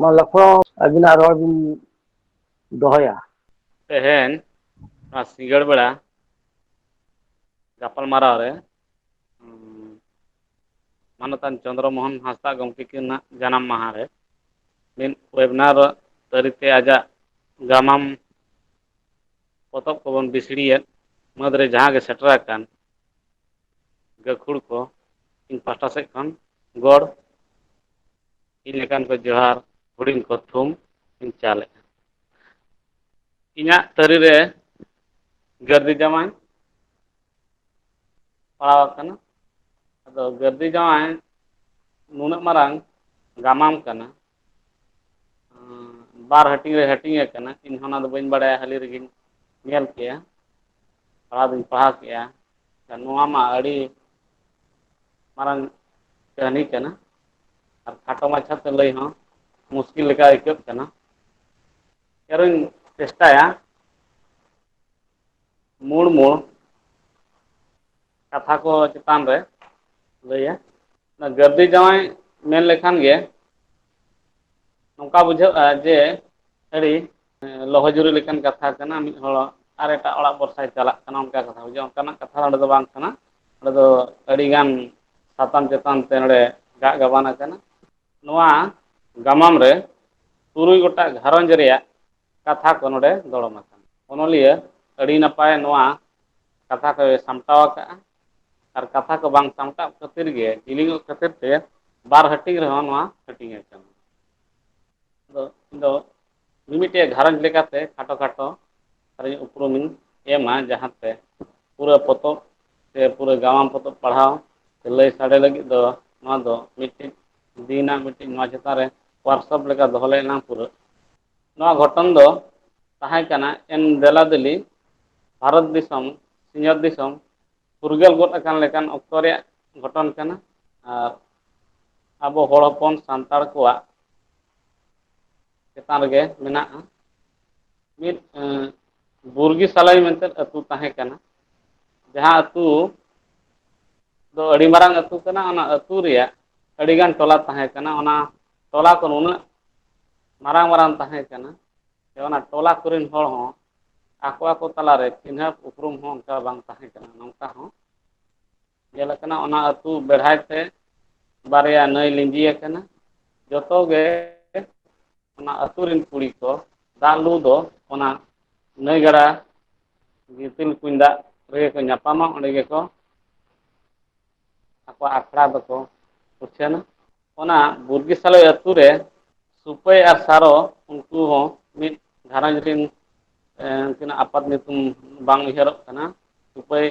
ᱢᱟ ᱞᱚᱠᱷᱚ ᱟᱹᱵᱤᱱᱟᱜ ᱨᱚᱲ ᱵᱤᱱ ᱫᱚᱦᱚᱭᱟ᱾ ᱛᱮᱦᱮᱧ ᱱᱚᱣᱟ ᱥᱤᱸᱜᱟᱹᱲ ᱵᱮᱲᱟ ᱜᱟᱯᱟᱞ ᱢᱟᱨᱟᱣ ᱨᱮ ᱢᱟᱱᱚᱛᱟᱱ ᱪᱚᱱᱫᱨᱚ ᱢᱳᱦᱚᱱ ᱦᱟᱸᱥᱫᱟᱜ ᱜᱚᱢᱠᱮ ᱛᱤᱠᱤᱱᱟᱜ ᱡᱟᱱᱟᱢ ᱢᱟᱦᱟ ᱨᱮ ᱢᱤᱫ ᱣᱮᱵᱽᱱᱟᱨ ᱛᱟᱹᱨᱤ ᱛᱮ ᱟᱡᱟᱜ ᱜᱟᱢᱟᱢ ᱯᱚᱛᱚᱵ ᱠᱚᱵᱚᱱ ᱵᱤᱥᱤᱲᱤᱭᱮᱫ ᱢᱟᱹᱫᱽ ᱨᱮ ᱡᱟᱦᱟᱸ ᱜᱮ ᱥᱮᱴᱮᱨ ᱟᱠᱟᱱ ᱜᱟᱹᱠᱷᱩᱲ ᱠᱚ ᱤᱧ ᱯᱟᱦᱴᱟ ᱥᱮᱫ ᱠᱷᱚᱱ ᱜᱚᱲ ᱤᱧ ᱞᱮᱠᱟᱱ ᱠᱚ ᱡᱚᱦᱟᱨ ᱦᱩᱰᱤᱧ ᱠᱚ ᱛᱷᱩᱢ ᱤᱧ ᱪᱟᱞᱮᱜᱼᱟ ᱤᱧᱟᱹᱜ ᱛᱟᱹᱨᱤ ᱨᱮ ᱜᱟᱹᱨᱫᱤ ᱡᱟᱢᱟᱭ ᱯᱟᱲᱟᱣ ᱟᱠᱟᱱᱟ ᱟᱫᱚ ᱜᱟᱹᱨᱫᱤ ᱡᱟᱶᱟᱭ ᱱᱩᱱᱟᱹᱜ ᱢᱟᱨᱟᱝ ᱜᱟᱢᱟᱢ ᱠᱟᱱᱟ ᱵᱟᱨ ᱦᱟᱹᱴᱤᱧ ᱨᱮ ᱦᱟᱹᱴᱤᱧ ᱟᱠᱟᱱᱟ ᱤᱧ ᱦᱚᱸ ᱚᱱᱟ ᱫᱚ ᱵᱟᱹᱧ ᱵᱟᱲᱟᱭᱟ ᱦᱟᱹᱞᱤ ᱨᱮᱜᱮᱧ ᱧᱮᱞ ᱠᱮᱜᱼᱟ ᱯᱟᱲᱦᱟᱣ ᱫᱚᱧ ᱯᱟᱲᱦᱟᱣ ᱠᱮᱜᱼᱟ ᱱᱚᱣᱟ ᱢᱟ ᱟᱹᱰᱤ ᱢᱟᱨᱟᱝ ᱠᱟᱹᱦᱱᱤ ᱠᱟᱱᱟ ᱟᱨ ᱠᱷᱟᱴᱚ ᱢᱟᱪᱷᱟ ᱛᱮ ᱞᱟᱹᱭ ᱦᱚᱸ ᱢᱩᱥᱠᱤᱞ ᱞᱮᱠᱟ ᱟᱹᱭᱠᱟᱹᱜ ᱠᱟᱱᱟ ᱟᱨᱚᱧ ᱪᱮᱥᱴᱟᱭᱟ ᱢᱩᱲ ᱢᱩᱲ ᱠᱟᱛᱷᱟ ᱠᱚ ᱪᱮᱛᱟᱱ ᱨᱮ ᱞᱟᱹᱭᱟ ᱚᱱᱟ ᱜᱟᱹᱨᱫᱷᱤ ᱡᱟᱶᱟᱭ ᱢᱮᱱ ᱞᱮᱠᱷᱟᱱ ᱜᱮ ᱱᱚᱝᱠᱟ ᱵᱩᱡᱷᱟᱹᱜᱼᱟ ᱡᱮ ᱥᱟᱹᱨᱤ ᱞᱚᱦᱚ ᱡᱩᱨᱤ ᱞᱮᱠᱟᱱ ᱠᱟᱛᱷᱟ ᱠᱟᱱᱟ ᱢᱤᱫ ᱦᱚᱲᱟᱜ ᱟᱨ ᱮᱴᱟᱜ ᱚᱲᱟᱜ ᱵᱷᱚᱨᱥᱟᱭ ᱪᱟᱞᱟᱜ ᱠᱟᱱᱟ ᱚᱱᱠᱟ ᱠᱟᱛᱷᱟ ᱵᱩᱡᱷᱟᱹ ᱚᱱᱠᱟᱱᱟᱜ ᱠᱟᱛᱷᱟ ᱚᱸᱰᱮ ᱫᱚ ᱵᱟᱝ ᱠᱟᱱᱟ ᱚᱸᱰᱮ ᱫᱚ ᱟᱹᱰᱤ ᱜᱟᱱ ᱥᱟᱛᱟᱢ ᱪᱮᱛᱟᱱ ᱛᱮ ᱱᱚᱰᱮ ᱜᱟᱜ ᱜᱟᱵᱟᱱ ᱟᱠᱟᱱᱟ ᱱᱚᱣᱟ ᱜᱟᱢᱟᱢ ᱨᱮ ᱛᱩᱨᱩᱭ ᱜᱚᱴᱟᱜ ᱜᱷᱟᱨᱚᱸᱡᱽ ᱨᱮᱭᱟᱜ ᱠᱟᱛᱷᱟ ᱠᱚ ᱱᱚᱰᱮ ᱫᱚᱲᱚᱢ ᱟᱠᱟᱱᱟ ᱚᱱᱚᱞᱤᱭᱟᱹ ᱟᱹᱰᱤ ᱱᱟᱯᱟᱭ ᱱᱚᱣᱟ ᱠᱟᱛᱷᱟ ᱠᱚᱭ ᱥᱟᱢᱴᱟᱣ ᱟᱠᱟᱫᱼᱟ ᱟᱨ ᱠᱟᱛᱷᱟ ᱠᱚ ᱵᱟᱝ ᱥᱟᱢᱴᱟᱜ ᱠᱷᱟᱹᱛᱤᱨ ᱜᱮ ᱡᱤᱞᱤᱧᱚᱜ ᱠᱷᱟᱹᱛᱤᱨ ᱛᱮ ᱵᱟᱨ ᱦᱟᱹᱴᱤᱧ ᱨᱮᱦᱚᱸ ᱱᱚᱣᱟ ᱦᱟᱹᱴᱤᱧ ᱟᱠᱟᱱᱟ ᱟᱫᱚ ᱤᱧ ᱫᱚ ᱢᱤᱢᱤᱫᱴᱮᱡ ᱜᱷᱟᱨᱚᱸᱡᱽ ᱞᱮᱠᱟᱛᱮ ᱠᱷᱟᱴᱚ ᱠᱷᱟᱴᱚ ᱟᱨ ᱩᱯᱨᱩᱢᱤᱧ ᱮᱢᱟ ᱡᱟᱦᱟᱸ ᱛᱮ ᱯᱩᱨᱟᱹ ᱯᱚᱛᱚᱵ ᱥᱮ ᱯᱩᱨᱟᱹ ᱜᱟᱢᱟᱢ ᱯᱚᱛᱚᱵ ᱯᱟᱲᱦᱟᱣ ᱞᱟᱹᱭ ᱥᱟᱰᱮ ᱞᱟᱹᱜᱤᱫ ᱫᱚ ᱱᱚᱣᱟ ᱫᱚ ᱢᱤᱫᱴᱤᱡ ᱫᱤᱱ ᱟᱜ ᱢᱤᱫᱴᱤᱡ ᱱᱚᱣᱟ ᱪᱮᱛᱟᱱ ᱨᱮ ᱣᱟᱨᱠᱥᱚᱯ ᱞᱮᱠᱟ ᱫᱚᱦᱚ ᱞᱮᱱ ᱱᱟ ᱯᱩᱨᱟᱹ ᱱᱚᱣᱟ ᱜᱷᱚᱴᱚᱱ ᱫᱚ ᱛᱟᱦᱮᱸ ᱠᱟᱱᱟ ᱮᱱ ᱫᱮᱞᱟ ᱫᱮᱞᱤ ᱵᱷᱟᱨᱚᱛ ᱫᱤᱥᱚᱢ ᱥᱤᱧᱚᱛ ᱫᱤᱥᱚᱢ ᱯᱷᱩᱨᱜᱟᱹᱞ ᱜᱚᱫ ᱟᱠᱟᱱ ᱞᱮᱠᱟᱱ ᱚᱠᱛᱚ ᱨᱮᱭᱟᱜ ᱜᱷᱚᱴᱚᱱ ᱠᱟᱱᱟ ᱟᱨ ᱟᱵᱚ ᱦᱚᱲ ᱦᱚᱯᱚᱱ ᱥᱟᱱᱛᱟᱲ ᱠᱚᱣᱟᱜ ᱪᱮᱛᱟᱱ ᱨᱮᱜᱮ ᱢᱮᱱᱟᱜᱼᱟ ᱢᱤᱫ ᱵᱩᱨᱜᱤ ᱥᱟᱞᱟᱭ ᱢᱮᱱᱛᱮ ᱟᱹᱛᱩ ᱛᱟᱦᱮᱸ ᱠᱟᱱᱟ ᱡᱟᱦᱟᱸ ᱟᱹᱛᱩ ᱫᱚ ᱟᱹᱰᱤ ᱢᱟᱨᱟᱝ ᱟᱹᱛᱩ ᱠᱟᱱᱟ ᱚᱱᱟ ᱟᱹᱛᱩ ᱨᱮᱭᱟᱜ ᱟᱹᱰᱤᱜᱟᱱ ᱴᱚᱞᱟ ᱛᱟᱦᱮᱸ ᱠᱟᱱᱟ ᱚᱱᱟ ᱴᱚᱞᱟ ᱠᱚ ᱱᱩᱱᱟᱹᱜ ᱢᱟᱨᱟᱝ ᱢᱟᱨᱟᱝ ᱛᱟᱦᱮᱸ ᱠᱟᱱᱟ ᱡᱮ ᱚᱱᱟ ᱴᱚᱞᱟ ᱠᱚᱨᱮᱱ ᱦᱚᱲ ᱦᱚᱸ ᱟᱠᱚ ᱟᱠᱚ ᱛᱟᱞᱟᱨᱮ ᱪᱤᱱᱦᱟᱹᱯ ᱩᱯᱨᱩᱢ ᱦᱚᱸ ᱚᱱᱠᱟ ᱵᱟᱝ ᱛᱟᱦᱮᱸ ᱠᱟᱱᱟ ᱱᱚᱝᱠᱟ ᱦᱚᱸ ᱧᱮᱞ ᱟᱠᱟᱱᱟ ᱚᱱᱟ ᱟᱹᱛᱩ ᱵᱮᱲᱦᱟᱭ ᱛᱮ ᱵᱟᱨᱭᱟ ᱱᱟᱹᱭ ᱞᱤᱸᱡᱤ ᱟᱠᱟᱱᱟ ᱡᱚᱛᱚ ᱜᱮ ᱚᱱᱟ ᱟᱹᱛᱩ ᱨᱮᱱ ᱠᱩᱲᱤ ᱠᱚ ᱫᱟᱜ ᱞᱩ ᱫᱚ ᱚᱱᱟ ᱱᱟᱹᱭ ᱜᱟᱰᱟ ᱜᱤᱛᱤᱞ ᱠᱩᱧ ᱫᱟᱜ ᱨᱮᱜᱮ ᱠᱚ ᱧᱟᱯᱟᱢᱟ ᱚᱸᱰᱮ ᱜᱮᱠᱚ ᱟᱠᱚᱣᱟᱜ ᱟᱠᱷᱲᱟ ᱫᱚᱠᱚ ᱩᱪᱷᱟᱹᱱᱟ ᱚᱱᱟ ᱵᱩᱨᱜᱮ ᱥᱟᱞᱚᱭ ᱟᱹᱛᱩ ᱨᱮ ᱥᱩᱯᱟᱹᱭ ᱟᱨ ᱥᱟᱨᱚ ᱩᱱᱠᱩ ᱦᱚᱸ ᱢᱤᱫ ᱜᱷᱟᱨᱚᱸᱡᱽ ᱨᱤᱱ ᱩᱱᱠᱤᱱᱟᱜ ᱟᱯᱟᱛ ᱧᱩᱛᱩᱢ ᱵᱟᱝ ᱩᱭᱦᱟᱹᱨᱚᱜ ᱠᱟᱱᱟ ᱥᱩᱯᱟᱹᱭ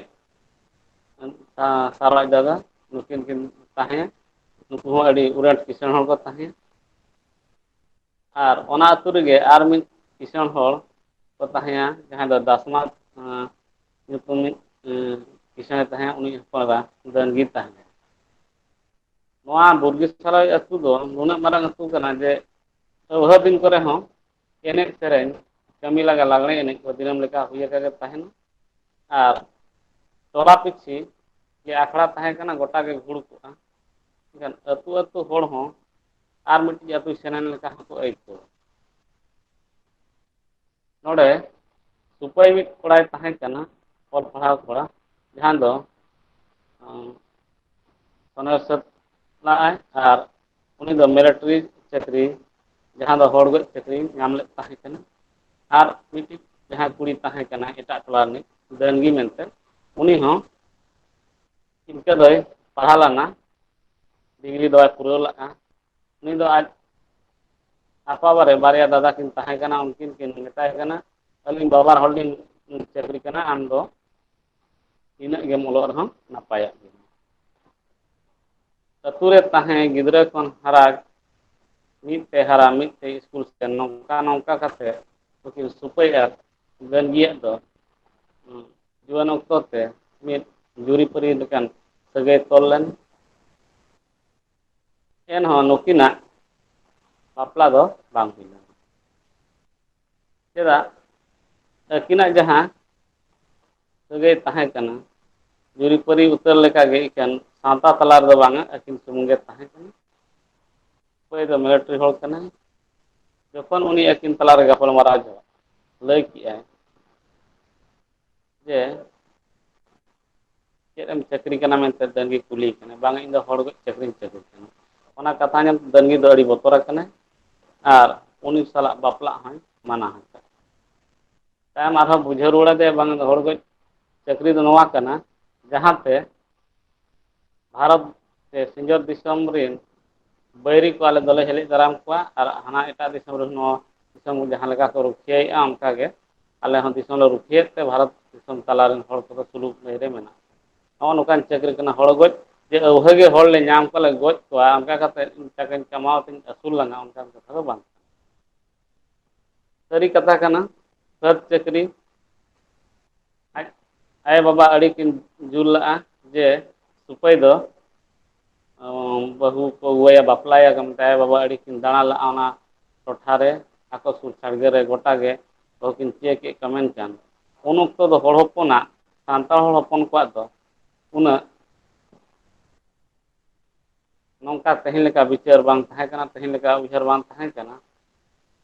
ᱥᱟᱨᱚ ᱟᱡ ᱫᱟᱫᱟ ᱱᱩᱠᱤᱱ ᱠᱤᱱ ᱛᱟᱦᱮᱸ ᱱᱩᱠᱩ ᱦᱚᱸ ᱟᱹᱰᱤ ᱩᱨᱟᱴ ᱠᱤᱥᱟᱹᱬ ᱦᱚᱲ ᱠᱚ ᱛᱟᱦᱮᱸᱫ ᱟᱨ ᱚᱱᱟ ᱟᱹᱛᱩ ᱨᱮᱜᱮ ᱟᱨ ᱢᱤᱫ ᱠᱤᱥᱟᱹᱬ ᱦᱚᱲ ᱠᱚ ᱛᱟᱦᱮᱸᱭᱟ ᱡᱟᱦᱟᱸᱭ ᱫᱚ ᱫᱟᱥᱢᱟ ᱧᱩᱛᱩᱢᱤᱡ ᱠᱤᱥᱟᱹᱬᱮ ᱛᱟᱦᱮᱸᱫ ᱩᱱᱤ ᱦᱚᱯᱚᱱ ᱮᱨᱟ ᱫᱟᱹᱱᱜᱤ ᱛᱟᱦᱮᱸᱱᱟ ᱱᱚᱣᱟ ᱵᱩᱨᱜᱮ ᱥᱟᱨᱟᱭ ᱟᱹᱛᱩ ᱫᱚ ᱱᱩᱱᱟᱹᱜ ᱢᱟᱨᱟᱝ ᱟᱹᱛᱩ ᱠᱟᱱᱟ ᱡᱮ ᱟᱹᱣᱦᱟᱹ ᱫᱤᱱ ᱠᱚᱨᱮ ᱦᱚᱸ ᱮᱱᱮᱡ ᱥᱮᱨᱮᱧ ᱠᱟᱹᱢᱤ ᱞᱟᱸᱜᱟ ᱞᱟᱜᱽᱬᱮ ᱮᱱᱮᱡ ᱠᱚ ᱫᱤᱱᱟᱹᱢ ᱞᱮᱠᱟ ᱦᱩᱭ ᱟᱠᱟ ᱜᱮ ᱛᱟᱦᱮᱱᱟ ᱟᱨ ᱛᱚᱞᱟ ᱯᱤᱪᱷᱤ ᱡᱮ ᱟᱠᱷᱲᱟ ᱛᱟᱦᱮᱸ ᱠᱟᱱᱟ ᱜᱚᱴᱟ ᱜᱮ ᱜᱩᱲ ᱠᱚᱜᱼᱟ ᱮᱠᱷᱟᱱ ᱟᱹᱛᱩ ᱟᱹᱛᱩ ᱦᱚᱲ ᱦᱚᱸ ᱟᱨ ᱢᱤᱫᱴᱤᱡ ᱟᱹᱛᱩ ᱥᱮᱱᱮᱱ ᱞᱮᱠᱟ ᱦᱚᱸᱠᱚ ᱟᱹᱭᱠᱟᱹᱣᱟ ᱱᱚᱰᱮ ᱥᱩᱠᱚᱭ ᱢᱤᱫ ᱠᱚᱲᱟᱭ ᱛᱟᱦᱮᱸ ᱠᱟᱱᱟ ᱚᱞ ᱯᱟᱲᱦᱟᱣ ᱠᱚᱲᱟ ᱡᱟᱦᱟᱸ ᱫᱚ ᱚᱱᱟ ᱦᱤᱥᱟᱹᱵᱽ ᱞᱟᱜᱼᱟᱭ ᱟᱨ ᱩᱱᱤ ᱫᱚ ᱢᱤᱞᱤᱴᱟᱨᱤ ᱪᱟᱹᱠᱨᱤ ᱡᱟᱦᱟᱸ ᱫᱚ ᱦᱚᱲ ᱜᱚᱡ ᱪᱟᱹᱠᱨᱤ ᱧᱟᱢ ᱞᱮᱫ ᱛᱟᱦᱮᱸ ᱠᱟᱱᱟ ᱟᱨ ᱢᱤᱫᱴᱤᱡ ᱡᱟᱦᱟᱸᱭ ᱠᱩᱲᱤ ᱛᱟᱦᱮᱸ ᱠᱟᱱᱟᱭ ᱮᱴᱟᱜ ᱴᱚᱞᱟ ᱨᱤᱱᱤᱡ ᱰᱟᱹᱝᱜᱤ ᱢᱮᱱᱛᱮ ᱩᱱᱤ ᱦᱚᱸ ᱤᱱᱠᱟᱹ ᱫᱚᱭ ᱯᱟᱲᱦᱟᱣ ᱞᱮᱱᱟ ᱰᱤᱜᱽᱨᱤ ᱫᱚᱭ ᱯᱩᱨᱟᱹᱣ ᱞᱟᱜᱼᱟ ᱩᱱᱤ ᱫᱚ ᱟᱡ ᱟᱯᱟᱵᱟᱨᱮ ᱵᱟᱨᱭᱟ ᱫᱟᱫᱟ ᱠᱤᱱ ᱛᱟᱦᱮᱸ ᱠᱟᱱᱟ ᱩᱱᱠᱤᱱ ᱠᱤᱱ ᱢᱮᱛᱟᱭ ᱠᱟᱱᱟ ᱟᱹᱞᱤᱧ ᱵᱟᱵᱟᱨ ᱦᱚᱲ ᱞᱤᱧ ᱪᱟᱹᱠᱨᱤ ᱠᱟᱱᱟ ᱟᱢ ᱫᱚ ᱛᱤᱱᱟᱹᱜ ᱜᱮᱢ ᱚᱞᱚᱜ ᱨᱮᱦᱚᱸ ᱱᱟᱯᱟᱭᱚᱜ ᱜᱮᱭᱟ ᱟᱹᱛᱩ ᱨᱮ ᱛᱟᱦᱮᱸ ᱜᱤᱫᱽᱨᱟᱹ ᱠᱷᱚᱱ ᱦᱟᱨᱟ ᱢᱤᱫ ᱛᱮ ᱦᱟᱨᱟ ᱢᱤᱫ ᱛᱮ ᱥᱠᱩᱞ ᱥᱮᱱ ᱱᱚᱝᱠᱟ ᱱᱚᱝᱠᱟ ᱠᱟᱛᱮ ᱱᱩᱠᱤᱱ ᱥᱩᱯᱟᱹᱭ ᱟᱨ ᱜᱟᱹᱱᱜᱤᱭᱟᱹᱜ ᱫᱚ ᱡᱩᱣᱟᱹᱱ ᱚᱠᱛᱚ ᱛᱮ ᱢᱤᱫ ᱡᱩᱨᱤᱯᱟᱹᱨᱤ ᱞᱮᱠᱟᱱ ᱥᱟᱹᱜᱟᱹᱭ ᱛᱚᱞ ᱞᱮᱱ ᱮᱱᱦᱚᱸ ᱱᱩᱠᱤᱱᱟᱜ ᱵᱟᱯᱞᱟ ᱫᱚ ᱵᱟᱝ ᱦᱩᱭ ᱞᱮᱱᱟ᱾ ᱪᱮᱫᱟᱜ ᱟᱹᱠᱤᱱᱟᱜ ᱡᱟᱦᱟᱸ ᱥᱟᱹᱜᱟᱹᱭ ᱛᱟᱦᱮᱸ ᱠᱟᱱᱟ ᱡᱩᱨᱤᱯᱟᱹᱨᱤ ᱩᱛᱟᱹᱨ ᱞᱮᱠᱟᱜᱮ ᱤᱠᱷᱟᱹᱱ ᱥᱟᱶᱛᱟ ᱛᱟᱞᱟ ᱨᱮᱫᱚ ᱵᱟᱝᱟ ᱟᱹᱠᱤᱱ ᱥᱩᱢᱩᱝ ᱜᱮ ᱛᱟᱦᱮᱸ ᱠᱟᱱᱟ᱾ ᱚᱠᱚᱭ ᱫᱚ ᱢᱮᱞᱮᱴᱨᱤ ᱦᱚᱲ ᱠᱟᱱᱟᱭ ᱡᱚᱠᱷᱚᱱ ᱩᱱᱤ ᱟᱹᱠᱤᱱ ᱛᱟᱞᱟᱨᱮ ᱜᱟᱯᱟᱞᱢᱟᱨᱟᱣ ᱞᱟᱹᱭ ᱠᱮᱜᱼᱟᱭ ᱡᱮ ᱪᱮᱫ ᱮᱢ ᱪᱟᱹᱠᱨᱤ ᱠᱟᱱᱟ ᱢᱮᱱᱛᱮ ᱰᱟᱹᱝᱜᱮ ᱠᱩᱞᱤ ᱠᱟᱱᱟ ᱵᱟᱝ ᱤᱧ ᱫᱚ ᱦᱚᱲ ᱜᱚᱡ ᱪᱟᱹᱠᱨᱤᱧ ᱪᱟᱹᱠᱨᱤ ᱠᱟᱱᱟ ᱚᱱᱟ ᱠᱟᱛᱷᱟ ᱟᱡᱚᱢ ᱛᱮ ᱰᱟᱹᱝᱜᱩᱭᱟᱹ ᱫᱚ ᱟᱹᱰᱤ ᱵᱚᱛᱚᱨ ᱟᱠᱟᱱᱟᱭ ᱟᱨ ᱩᱱᱤ ᱥᱟᱞᱟᱜ ᱵᱟᱯᱞᱟᱜ ᱦᱚᱸᱭ ᱢᱟᱱᱟ ᱟᱠᱟᱫ ᱛᱟᱭᱚᱢ ᱟᱨᱦᱚᱸ ᱵᱩᱡᱷᱟᱹᱣ ᱨᱩᱣᱟᱹᱲ ᱟᱫᱮᱭᱟ ᱵᱟᱝ ᱫᱚ ᱦᱚᱲ ᱜᱚᱡ ᱪᱟᱹᱠᱨᱤ ᱫᱚ ᱱᱚᱣᱟ ᱠᱟᱱᱟ ᱡᱟᱦᱟᱸᱛᱮ ᱵᱷᱟᱨᱚᱛ ᱥᱮ ᱥᱤᱧᱚᱛ ᱫᱤᱥᱚᱢ ᱨᱤᱱ ᱵᱟᱹᱭᱨᱤ ᱠᱚ ᱟᱞᱮ ᱫᱚᱞᱮ ᱦᱮᱞᱮᱡ ᱫᱟᱨᱟᱢ ᱠᱚᱣᱟ ᱟᱨ ᱦᱟᱱᱟ ᱮᱴᱟᱜ ᱫᱤᱥᱚᱢ ᱨᱮᱱ ᱦᱚᱸ ᱫᱤᱥᱚᱢ ᱡᱟᱦᱟᱸ ᱞᱮᱠᱟ ᱠᱚ ᱨᱩᱠᱷᱤᱭᱟᱹᱮᱫᱼᱟ ᱚᱱᱠᱟ ᱜᱮ ᱟᱞᱮ ᱦᱚᱸ ᱫᱤᱥᱚᱢ ᱞᱮ ᱨᱩᱠᱷᱤᱭᱟᱹᱮᱫ ᱛᱮ ᱵᱷᱟᱨᱚᱛ ᱫᱤᱥᱚᱢ ᱛᱟᱞᱟ ᱨᱮᱱ ᱦᱚᱲ ᱠᱚᱫᱚ ᱥᱩᱞᱩᱠ ᱞᱟᱹᱭ ᱨᱮ ᱢᱮᱱᱟᱜ ᱠᱚᱣᱟ ᱱᱚᱜᱼᱚ ᱱᱚᱝᱠᱟᱱ ᱪᱟᱹᱠᱨᱤ ᱠᱟᱱᱟ ᱦᱚᱲ ᱜᱚᱡ ᱡᱮ ᱟᱹᱣᱦᱟᱹ ᱜᱮ ᱦᱚᱲ ᱞᱮ ᱧᱟᱢ ᱠᱚᱣᱟ ᱞᱮ ᱜᱚᱡ ᱠᱚᱣᱟ ᱚᱱᱠᱟ ᱠᱟᱛᱮᱫ ᱤᱧ ᱴᱟᱠᱟᱧ ᱠᱟᱢᱟᱣ ᱛᱤᱧ ᱟᱹᱥᱩᱞ ᱞᱟᱸᱜᱟ ᱚᱱᱠᱟᱱ ᱠᱟᱛᱷᱟ ᱫᱚ ᱵᱟᱝ ᱥᱟᱹᱨᱤ ᱠᱟᱛᱷᱟ ᱠᱟᱱᱟ ᱥᱟᱹᱛ ᱪᱟᱹᱠᱨᱤ ᱟᱡ ᱟᱭᱳ ᱵᱟᱵᱟ ᱟᱹᱰᱤ ᱠᱤᱱ ᱡᱩᱞ ᱞᱟᱜᱼᱟ ᱡᱮ ᱥᱩᱠᱷᱟᱹᱭ ᱫᱚ ᱵᱟᱹᱦᱩ ᱠᱚ ᱟᱹᱜᱩᱣᱟᱭᱟ ᱵᱟᱯᱞᱟᱭᱟ ᱠᱚ ᱢᱮᱱᱛᱮ ᱟᱭᱳ ᱵᱟᱵᱟ ᱟᱹᱰᱤ ᱠᱤᱱ ᱫᱟᱬᱟ ᱞᱟᱜᱼᱟ ᱚᱱᱟ ᱴᱚᱴᱷᱟ ᱨᱮ ᱟᱠᱚ ᱥᱩᱨ ᱥᱟᱸᱜᱮ ᱨᱮ ᱜᱚᱴᱟ ᱜᱮ ᱵᱟᱹᱦᱩ ᱠᱤᱱ ᱪᱟᱹᱭ ᱠᱮᱫ ᱠᱚᱣᱟ ᱢᱮᱱᱠᱷᱟᱱ ᱩᱱ ᱚᱠᱛᱚ ᱫᱚ ᱦᱚᱲ ᱦᱚᱯᱚᱱᱟᱜ ᱥᱟᱱᱛᱟᱲ ᱦᱚᱲ ᱦᱚᱯᱚᱱ ᱠᱚᱣᱟᱜ ᱫᱚ ᱩᱱᱟᱹᱜ ᱱᱚᱝᱠᱟ ᱛᱮᱦᱮᱧ ᱞᱮᱠᱟ ᱵᱤᱪᱟᱹᱨ ᱵᱟᱝ ᱛᱟᱦᱮᱸ ᱠᱟᱱᱟ ᱛᱮᱦᱮᱧ ᱞᱮᱠᱟ ᱩᱭᱦᱟᱹᱨ ᱵᱟᱝ ᱛᱟᱦᱮᱸ ᱠᱟᱱᱟ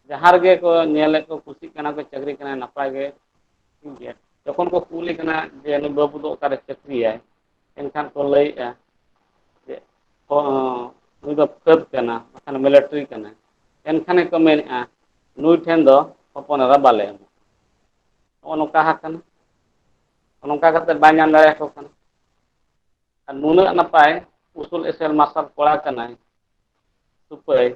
ᱡᱟᱦᱟᱸ ᱨᱮᱜᱮ ᱠᱚ ᱧᱮᱞᱮᱫ ᱠᱚ ᱠᱩᱥᱤᱜ ᱠᱟᱱᱟ ᱠᱚ ᱪᱟᱹᱠᱨᱤ ᱠᱟᱱᱟ ᱱᱟᱯᱟᱭ ᱜᱮ ᱴᱷᱤᱠ ᱜᱮᱭᱟ ᱡᱚᱠᱷᱚᱱ ᱠᱚ ᱠᱩᱞᱤ ᱠᱟᱱᱟ ᱡᱮ ᱱᱩᱭ ᱵᱟᱹᱵᱩ ᱫᱚ ᱚᱠᱟᱨᱮ ᱪᱟᱹᱠᱨᱤᱭᱟᱭ ᱮᱱᱠᱷᱟᱱ ᱠᱚ ᱞᱟᱹᱭᱮᱜᱼᱟ ᱡᱮ ᱚ ᱱᱩᱭ ᱫᱚ ᱯᱷᱟᱹᱫᱽ ᱠᱟᱱᱟ ᱵᱟᱠᱷᱟᱱ ᱢᱤᱞᱤᱴᱨᱤ ᱠᱟᱱᱟ ᱮᱱᱠᱷᱟᱱ ᱜᱮᱠᱚ ᱢᱮᱱᱮᱫᱼᱟ ᱱᱩᱭ ᱴᱷᱮᱱ ᱫᱚ ᱦᱚᱯᱚᱱ ᱮᱨᱟ ᱵᱟᱞᱮ ᱮᱢᱟ ᱱᱚᱜᱼᱚ ᱱᱚᱝᱠᱟ ᱦᱟᱠᱟᱱᱟ ᱱᱚᱝᱠᱟ ᱠᱟᱛᱮᱫ ᱵᱟᱭ ᱧᱟᱢ ᱫᱟᱲᱮᱭᱟᱠᱚ ᱠᱟᱱᱟ ᱟᱨ ᱱᱩᱱᱟᱹᱜ ᱱᱟᱯᱟᱭ ᱩᱥᱩᱞ ᱮᱥᱮᱞ ᱢᱟᱨᱥᱟᱞ ᱠᱚᱲᱟ ᱠᱟᱱᱟᱭ ᱥᱩᱯᱟᱹᱭ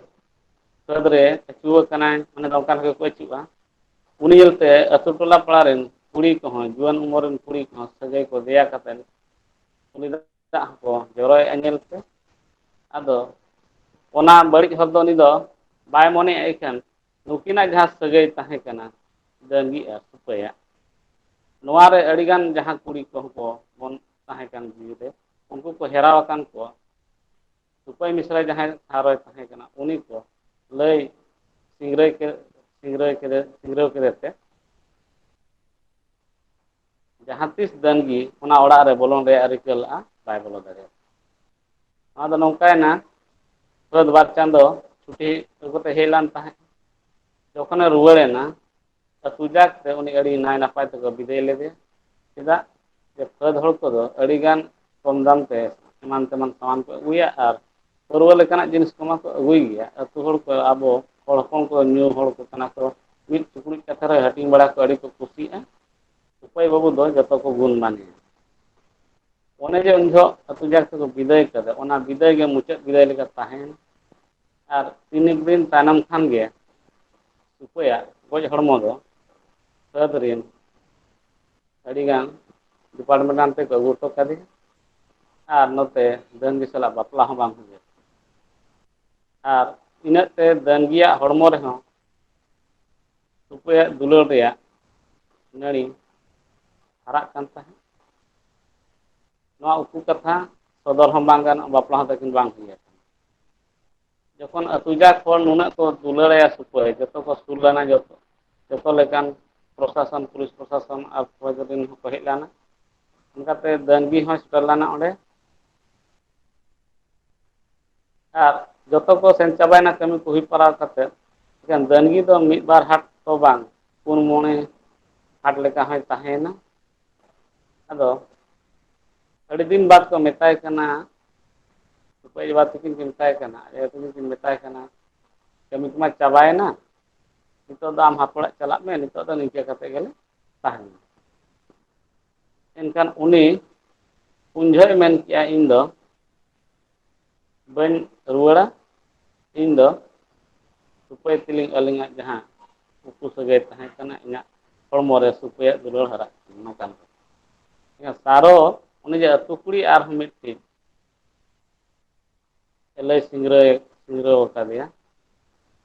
ᱠᱷᱟᱹᱫᱽ ᱨᱮ ᱟᱹᱪᱩᱣᱟᱹ ᱠᱟᱱᱟᱭ ᱢᱟᱱᱮ ᱫᱚ ᱚᱱᱠᱟ ᱞᱮᱠᱟ ᱠᱚ ᱟᱹᱪᱩᱜᱼᱟ ᱩᱱᱤ ᱧᱮᱞᱛᱮ ᱟᱹᱛᱩ ᱴᱚᱞᱟ ᱯᱟᱲᱟ ᱨᱮᱱ ᱠᱩᱲᱤ ᱠᱚᱦᱚᱸ ᱡᱩᱣᱟᱹᱱ ᱩᱢᱚᱨ ᱨᱮᱱ ᱠᱩᱲᱤ ᱠᱚᱦᱚᱸ ᱥᱟᱹᱜᱟᱹᱭ ᱠᱚ ᱫᱮᱭᱟ ᱠᱟᱛᱮᱫ ᱩᱱᱤ ᱫᱚ ᱫᱟᱜ ᱦᱚᱸᱠᱚ ᱡᱚᱨᱚᱭᱮᱫᱼᱟ ᱧᱮᱞ ᱛᱮ ᱟᱫᱚ ᱚᱱᱟ ᱵᱟᱹᱲᱤᱡ ᱦᱚᱨ ᱫᱚ ᱩᱱᱤ ᱫᱚ ᱵᱟᱭ ᱢᱚᱱᱮᱭᱮᱫ ᱤᱠᱷᱟᱹᱱ ᱱᱩᱠᱤᱱᱟᱜ ᱡᱟᱦᱟᱸ ᱥᱟᱹᱜᱟᱹᱭ ᱛᱟᱦᱮᱸ ᱠᱟᱱᱟ ᱰᱟᱹᱝᱜᱤ ᱟᱨ ᱥᱩᱯᱟᱹᱭᱟᱜ ᱱᱚᱣᱟ ᱨᱮ ᱟᱹᱰᱤᱜᱟᱱ ᱡᱟᱦᱟᱸ ᱠᱩᱲᱤ ᱠᱚᱦᱚᱸ ᱠᱚ ᱵᱚᱱ ᱛᱟᱦᱮᱸ ᱠᱟᱱ ᱡᱤᱣᱤ ᱨᱮ ᱩᱱᱠᱩ ᱠᱚ ᱦᱮᱨᱟ ᱟᱠᱟᱱ ᱠᱚᱣᱟ ᱥᱩᱠᱷᱚᱭ ᱢᱤᱥᱨᱟᱭ ᱡᱟᱦᱟᱸᱭ ᱴᱷᱟᱶ ᱨᱮᱭ ᱛᱟᱦᱮᱸ ᱠᱟᱱᱟ ᱩᱱᱤ ᱠᱚ ᱞᱟᱹᱭ ᱥᱤᱝᱨᱟᱹᱭ ᱠᱮᱫ ᱥᱤᱝᱨᱟᱹᱭ ᱠᱮᱫᱮ ᱥᱤᱝᱨᱟᱹᱣ ᱠᱮᱫᱮ ᱛᱮ ᱡᱟᱦᱟᱸ ᱛᱤᱥ ᱫᱟᱹᱱᱜᱤ ᱚᱱᱟ ᱚᱲᱟᱜ ᱨᱮ ᱵᱚᱞᱚᱱ ᱨᱮᱭᱟᱜ ᱨᱤᱠᱟᱹ ᱞᱟᱜᱼᱟ ᱵᱟᱭ ᱵᱚᱞᱚ ᱫᱟᱲᱮᱭᱟᱜᱼᱟ ᱟᱫᱚ ᱱᱚᱝᱠᱟᱭᱮᱱᱟ ᱥᱟᱹᱫ ᱵᱟᱨ ᱪᱟᱸᱫᱚ ᱪᱷᱩᱴᱤ ᱟᱹᱜᱩ ᱠᱟᱛᱮ ᱦᱮᱡ ᱞᱮᱱ ᱛᱟᱦᱮᱸᱫ ᱡᱚᱠᱷᱚᱱᱮ ᱨᱩᱣᱟᱹᱲᱮᱱᱟ ᱟᱹᱛᱩ ᱡᱟᱠ ᱛᱮ ᱩᱱᱤ ᱟᱹᱰᱤ ᱱᱟᱭ ᱱᱟᱯᱟᱭ ᱛᱮᱠᱚ ᱵᱤᱫᱟᱹᱭ ᱞᱮᱫᱮᱭᱟ ᱪᱮᱫᱟᱜ ᱡᱮ ᱯᱷᱟᱹᱫᱽ ᱦᱚᱲ ᱠᱚᱫᱚ ᱟᱹᱰᱤᱜᱟᱱ ᱠᱚᱢ ᱫᱟᱢ ᱛᱮ ᱮᱢᱟᱱ ᱛᱮᱢᱟᱱ ᱥᱟᱢᱟᱱ ᱠᱚ ᱟᱹᱜᱩᱭᱟ ᱟᱨ ᱯᱟᱹᱨᱣᱟᱹ ᱞᱮᱠᱟᱱᱟᱜ ᱡᱤᱱᱤᱥ ᱠᱚ ᱢᱟᱠᱚ ᱟᱹᱜᱩᱭ ᱜᱮᱭᱟ ᱟᱹᱛᱩ ᱦᱚᱲ ᱠᱚ ᱟᱵᱚ ᱦᱚᱲ ᱦᱚᱯᱚᱱ ᱠᱚ ᱧᱩ ᱦᱚᱲ ᱠᱚ ᱠᱟᱱᱟ ᱠᱚ ᱢᱤᱫ ᱪᱩᱯᱲᱩᱡ ᱠᱟᱛᱮ ᱨᱮᱦᱚᱸ ᱦᱟᱹᱴᱤᱧ ᱵᱟᱲᱟ ᱠᱚ ᱟᱹᱰᱤ ᱠᱚ ᱠᱩᱥᱤᱜᱼᱟ ᱚᱠᱚᱭ ᱵᱟᱹᱵᱩ ᱫᱚ ᱡᱚᱛᱚ ᱠᱚ ᱜᱩᱱ ᱢᱟᱱᱮᱭᱟ ᱚᱱᱮ ᱡᱮ ᱩᱱ ᱡᱚᱦᱚᱜ ᱟᱹᱛᱩ ᱡᱟᱠ ᱛᱮᱠᱚ ᱵᱤᱫᱟᱹᱭ ᱠᱟᱫᱮ ᱚᱱᱟ ᱵᱤᱫᱟᱹᱭ ᱜᱮ ᱢᱩᱪᱟᱹᱫ ᱵᱤᱫᱟᱹᱭ ᱞᱮᱠᱟ ᱛᱟᱦᱮᱸᱭᱮᱱᱟ ᱟᱨ ᱛᱤᱱᱮᱠ ᱫᱤᱱ ᱛᱟᱭᱱᱚᱢ ᱠᱷᱟᱱ ᱜᱮ ᱩᱯᱟᱹᱭᱟᱜ ᱜᱚᱡ ᱦᱚᱲᱢᱚ ᱫᱚ ᱥᱟᱹᱫ ᱨᱤᱱ ᱟᱹᱰᱤ ᱜᱟᱱ ᱰᱤᱯᱟᱨᱴᱢᱮᱱᱴ ᱦᱟᱱᱛᱮ ᱠᱚ ᱟᱹᱜᱩ ᱦᱚᱴᱚ ᱠᱟᱫᱮᱭᱟ ᱟᱨ ᱱᱚᱛᱮ ᱰᱟᱹᱱ ᱵᱤᱥᱟᱞᱟᱜ ᱵᱟᱯᱞᱟ ᱦᱚᱸ ᱵᱟᱝ ᱦᱩᱭᱩᱜᱼᱟ ᱟᱨ ᱤᱱᱟᱹᱜ ᱛᱮ ᱰᱟᱹᱝᱜᱤᱭᱟᱜ ᱦᱚᱲᱢᱚ ᱨᱮᱦᱚᱸ ᱩᱯᱟᱹᱭᱟᱜ ᱫᱩᱞᱟᱹᱲ ᱨᱮᱭᱟᱜ ᱱᱟᱹᱲᱤ ᱦᱟᱨᱟᱜ ᱠᱟᱱ ᱛᱟᱦᱮᱸᱫ ᱱᱚᱣᱟ ᱩᱠᱩ ᱠᱟᱛᱷᱟ ᱥᱚᱫᱚᱨ ᱦᱚᱸ ᱵᱟᱝ ᱜᱟᱱᱚᱜᱼᱟ ᱵᱟᱯᱞᱟ ᱦᱚᱸ ᱛᱟᱹᱠᱤᱱ ᱵᱟᱝ ᱦᱩᱭᱩᱜᱼᱟ ᱡᱚᱠᱷᱚᱱ ᱟᱹᱛᱩ ᱡᱟᱠ ᱦᱚᱲ ᱱᱩᱱᱟᱹᱜ ᱠᱚ ᱫᱩᱞᱟᱹᱲ ᱟᱭᱟ ᱥᱩᱠᱷᱟᱹᱭ ᱡᱚᱛᱚ ᱠᱚ ᱥᱩᱨ ᱞᱮᱱᱟ ᱡᱚᱛᱚ ᱡᱚᱛᱚ ᱞᱮᱠᱟᱱ ᱯᱨᱚᱥᱟᱥᱚᱱ ᱯᱩᱞᱤᱥ ᱯᱨᱚᱥᱟᱥᱚᱱ ᱟᱨ ᱯᱷᱳᱡᱽ ᱨᱮᱱ ᱦᱚᱸᱠᱚ ᱦᱮᱡ ᱞᱮᱱᱟ ᱚᱱᱠᱟᱛᱮ ᱫᱟᱹᱱᱜᱤ ᱦᱚᱸᱭ ᱥᱮᱴᱮᱨ ᱞᱮᱱᱟ ᱚᱸᱰᱮ ᱟᱨ ᱡᱚᱛᱚ ᱠᱚ ᱥᱮᱱ ᱪᱟᱵᱟᱭᱮᱱᱟ ᱠᱟᱹᱢᱤ ᱠᱚ ᱦᱩᱭ ᱯᱟᱨᱟᱣ ᱠᱟᱛᱮᱫ ᱮᱠᱷᱟᱱ ᱫᱟᱹᱱᱜᱤ ᱫᱚ ᱢᱤᱫ ᱵᱟᱨ ᱦᱟᱴ ᱛᱚ ᱵᱟᱝ ᱯᱩᱱ ᱢᱚᱬᱮ ᱦᱟᱴ ᱞᱮᱠᱟ ᱦᱚᱸᱭ ᱛᱟᱦᱮᱸᱭᱮᱱᱟ ᱟᱫᱚ ᱟᱹᱰᱤ ᱫᱤᱱ ᱵᱟᱫᱽ ᱠᱚ ᱢᱮᱛᱟᱭ ᱠᱟᱱᱟ ᱚᱠᱚᱭ ᱵᱟᱵᱟ ᱛᱟᱹᱠᱤᱱ ᱠᱤᱱ ᱢᱮᱛᱟᱭ ᱠᱟᱱᱟ ᱟᱭᱳ ᱛᱟᱹᱠᱤᱱ ᱠᱤᱱ ᱢᱮᱛᱟᱭ ᱠᱟᱱᱟ ᱠᱟᱹᱢᱤ ᱠᱚᱢᱟ ᱪᱟᱵᱟᱭᱮᱱᱟ ᱱᱤᱛᱚᱜ ᱫᱚ ᱟᱢ ᱦᱟᱯ ᱚᱲᱟᱜ ᱪᱟᱞᱟᱜ ᱢᱮ ᱱᱤᱛᱚᱜ ᱫᱚ ᱱᱤᱝᱠᱟᱹ ᱠᱟᱛᱮ ᱜᱮᱞᱮ ᱛᱟᱦᱮᱱᱟ ᱮᱱᱠᱷᱟᱱ ᱩᱱᱤ ᱩᱱ ᱡᱚᱦᱚᱜ ᱮ ᱢᱮᱱ ᱠᱮᱜᱼᱟ ᱤᱧ ᱫᱚ ᱵᱟᱹᱧ ᱨᱩᱣᱟᱹᱲᱟ ᱤᱧ ᱫᱚ ᱨᱩᱯᱟᱹᱭ ᱛᱮᱞᱤᱧ ᱟᱹᱞᱤᱧᱟᱜ ᱡᱟᱦᱟᱸ ᱩᱠᱩ ᱥᱟᱹᱜᱟᱹᱭ ᱛᱟᱦᱮᱸ ᱠᱟᱱᱟ ᱤᱧᱟᱹᱜ ᱦᱚᱲᱢᱚ ᱨᱮ ᱥᱩᱯᱟᱹᱭᱟᱜ ᱫᱩᱞᱟᱹᱲ ᱦᱟᱨᱟᱜ ᱠᱟᱱᱟ ᱱᱚᱝᱠᱟᱱ ᱠᱟᱛᱷᱟ ᱥᱟᱨᱚ ᱩᱱᱤ ᱡᱮ ᱟᱹᱛᱩ ᱠᱩᱲᱤ ᱟᱨᱦᱚᱸ ᱢᱤᱫᱴᱤᱱ ᱮᱞᱟᱭ ᱥᱤᱝᱨᱟᱹᱭ ᱥᱤᱝᱨᱟᱹᱣ ᱟᱠᱟᱫᱮᱭᱟ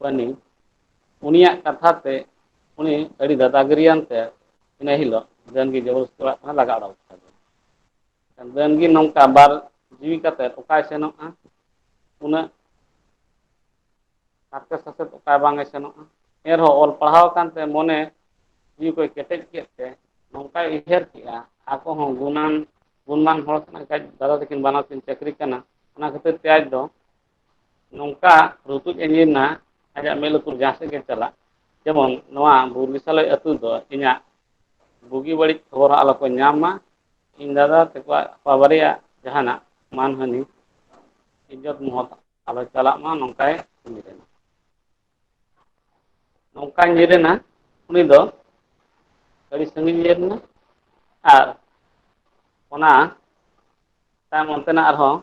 ᱯᱟᱱᱤ ᱩᱱᱤᱭᱟᱜ ᱠᱟᱛᱷᱟ ᱛᱮ ᱩᱱᱤ ᱟᱹᱰᱤ ᱫᱟᱫᱟ ᱜᱤᱨᱤᱭᱟᱱᱛᱮ ᱤᱱᱟᱹ ᱦᱤᱞᱳᱜ ᱰᱟᱹᱱ ᱜᱮ ᱡᱚᱵᱚᱥᱛᱤ ᱚᱲᱟᱜ ᱠᱷᱚᱱᱮ ᱞᱟᱜᱟ ᱩᱰᱩᱠ ᱠᱮᱫᱮᱭᱟ ᱟᱵᱮᱱ ᱜᱮ ᱱᱚᱝᱠᱟ ᱵᱟᱨ ᱡᱤᱣᱤ ᱠᱟᱛᱮᱫ ᱚᱠᱟᱭ ᱥᱮᱱᱚᱜᱼᱟ ᱩᱱᱟᱹᱜ ᱦᱟᱨᱠᱮᱛ ᱥᱟᱥᱮᱛ ᱚᱠᱟ ᱵᱟᱝ ᱮ ᱥᱮᱱᱚᱜᱼᱟ ᱮᱱᱨᱮᱦᱚᱸ ᱚᱞ ᱯᱟᱲᱦᱟᱣ ᱟᱠᱟᱱᱛᱮ ᱢᱚᱱᱮ ᱡᱤᱣᱤ ᱠᱚᱭ ᱠᱮᱴᱮᱡ ᱠᱮᱫ ᱛᱮ ᱱᱚᱝᱠᱟᱭ ᱩᱭᱦᱟᱹᱨ ᱠᱮᱫᱼᱟ ᱟᱠᱚ ᱦᱚᱸ ᱜᱩᱱᱟᱹᱱ ᱜᱩᱱᱢᱟᱱ ᱦᱚᱲ ᱠᱟᱱᱟ ᱠᱷᱟᱡ ᱫᱟᱫᱟ ᱛᱟᱹᱠᱤᱱ ᱵᱟᱱᱟᱨ ᱠᱤᱱ ᱪᱟᱹᱠᱨᱤ ᱠᱟᱱᱟ ᱚᱱᱟ ᱠᱷᱟᱹᱛᱤᱨ ᱛᱮ ᱟᱡ ᱫᱚ ᱱᱚᱝᱠᱟ ᱨᱩᱛᱩᱡ ᱮ ᱧᱤᱨ ᱮᱱᱟ ᱟᱡᱟᱜ ᱢᱮᱫ ᱞᱩᱛᱩᱨ ᱡᱟᱦᱟᱸ ᱥᱮᱫ ᱜᱮ ᱪᱟᱞᱟᱜ ᱡᱮᱢᱚᱱ ᱱᱚᱣᱟ ᱵᱩᱨᱜᱤᱥᱟᱞᱚᱭ ᱟᱹᱛᱩ ᱫᱚ ᱤᱧᱟᱹᱜ ᱵᱩᱜᱤ ᱵᱟᱹᱲᱤᱡ ᱠᱷᱚᱵᱚᱨ ᱦᱚᱸ ᱟᱞᱚ ᱠᱚ ᱧᱟᱢ ᱢᱟ ᱤᱧ ᱫᱟᱫᱟ ᱛᱟᱠᱚᱣᱟᱜ ᱵᱟᱵᱟᱨᱮᱭᱟ ᱡᱟᱦᱟᱱᱟᱜ ᱢᱟᱱᱦᱟᱹᱱᱤ ᱤᱡᱚᱛ ᱢᱚᱦᱚᱛ ᱟᱞᱚ ᱪᱟᱞᱟᱜ ᱢᱟ ᱱᱚᱝᱠᱟᱭ ᱠᱟᱹᱢᱤ ᱠᱟᱱᱟ ᱱᱚᱝᱠᱟ ᱧᱤᱨ ᱮᱱᱟ ᱩᱱᱤ ᱫᱚ ᱟᱹᱰᱤ ᱥᱟᱺᱜᱤᱧ ᱧᱤᱨ ᱮᱱᱟ ᱟᱨ ᱚᱱᱟ ᱛᱟᱭᱚᱢ ᱚᱱᱛᱮᱱᱟᱜ ᱟᱨᱦᱚᱸ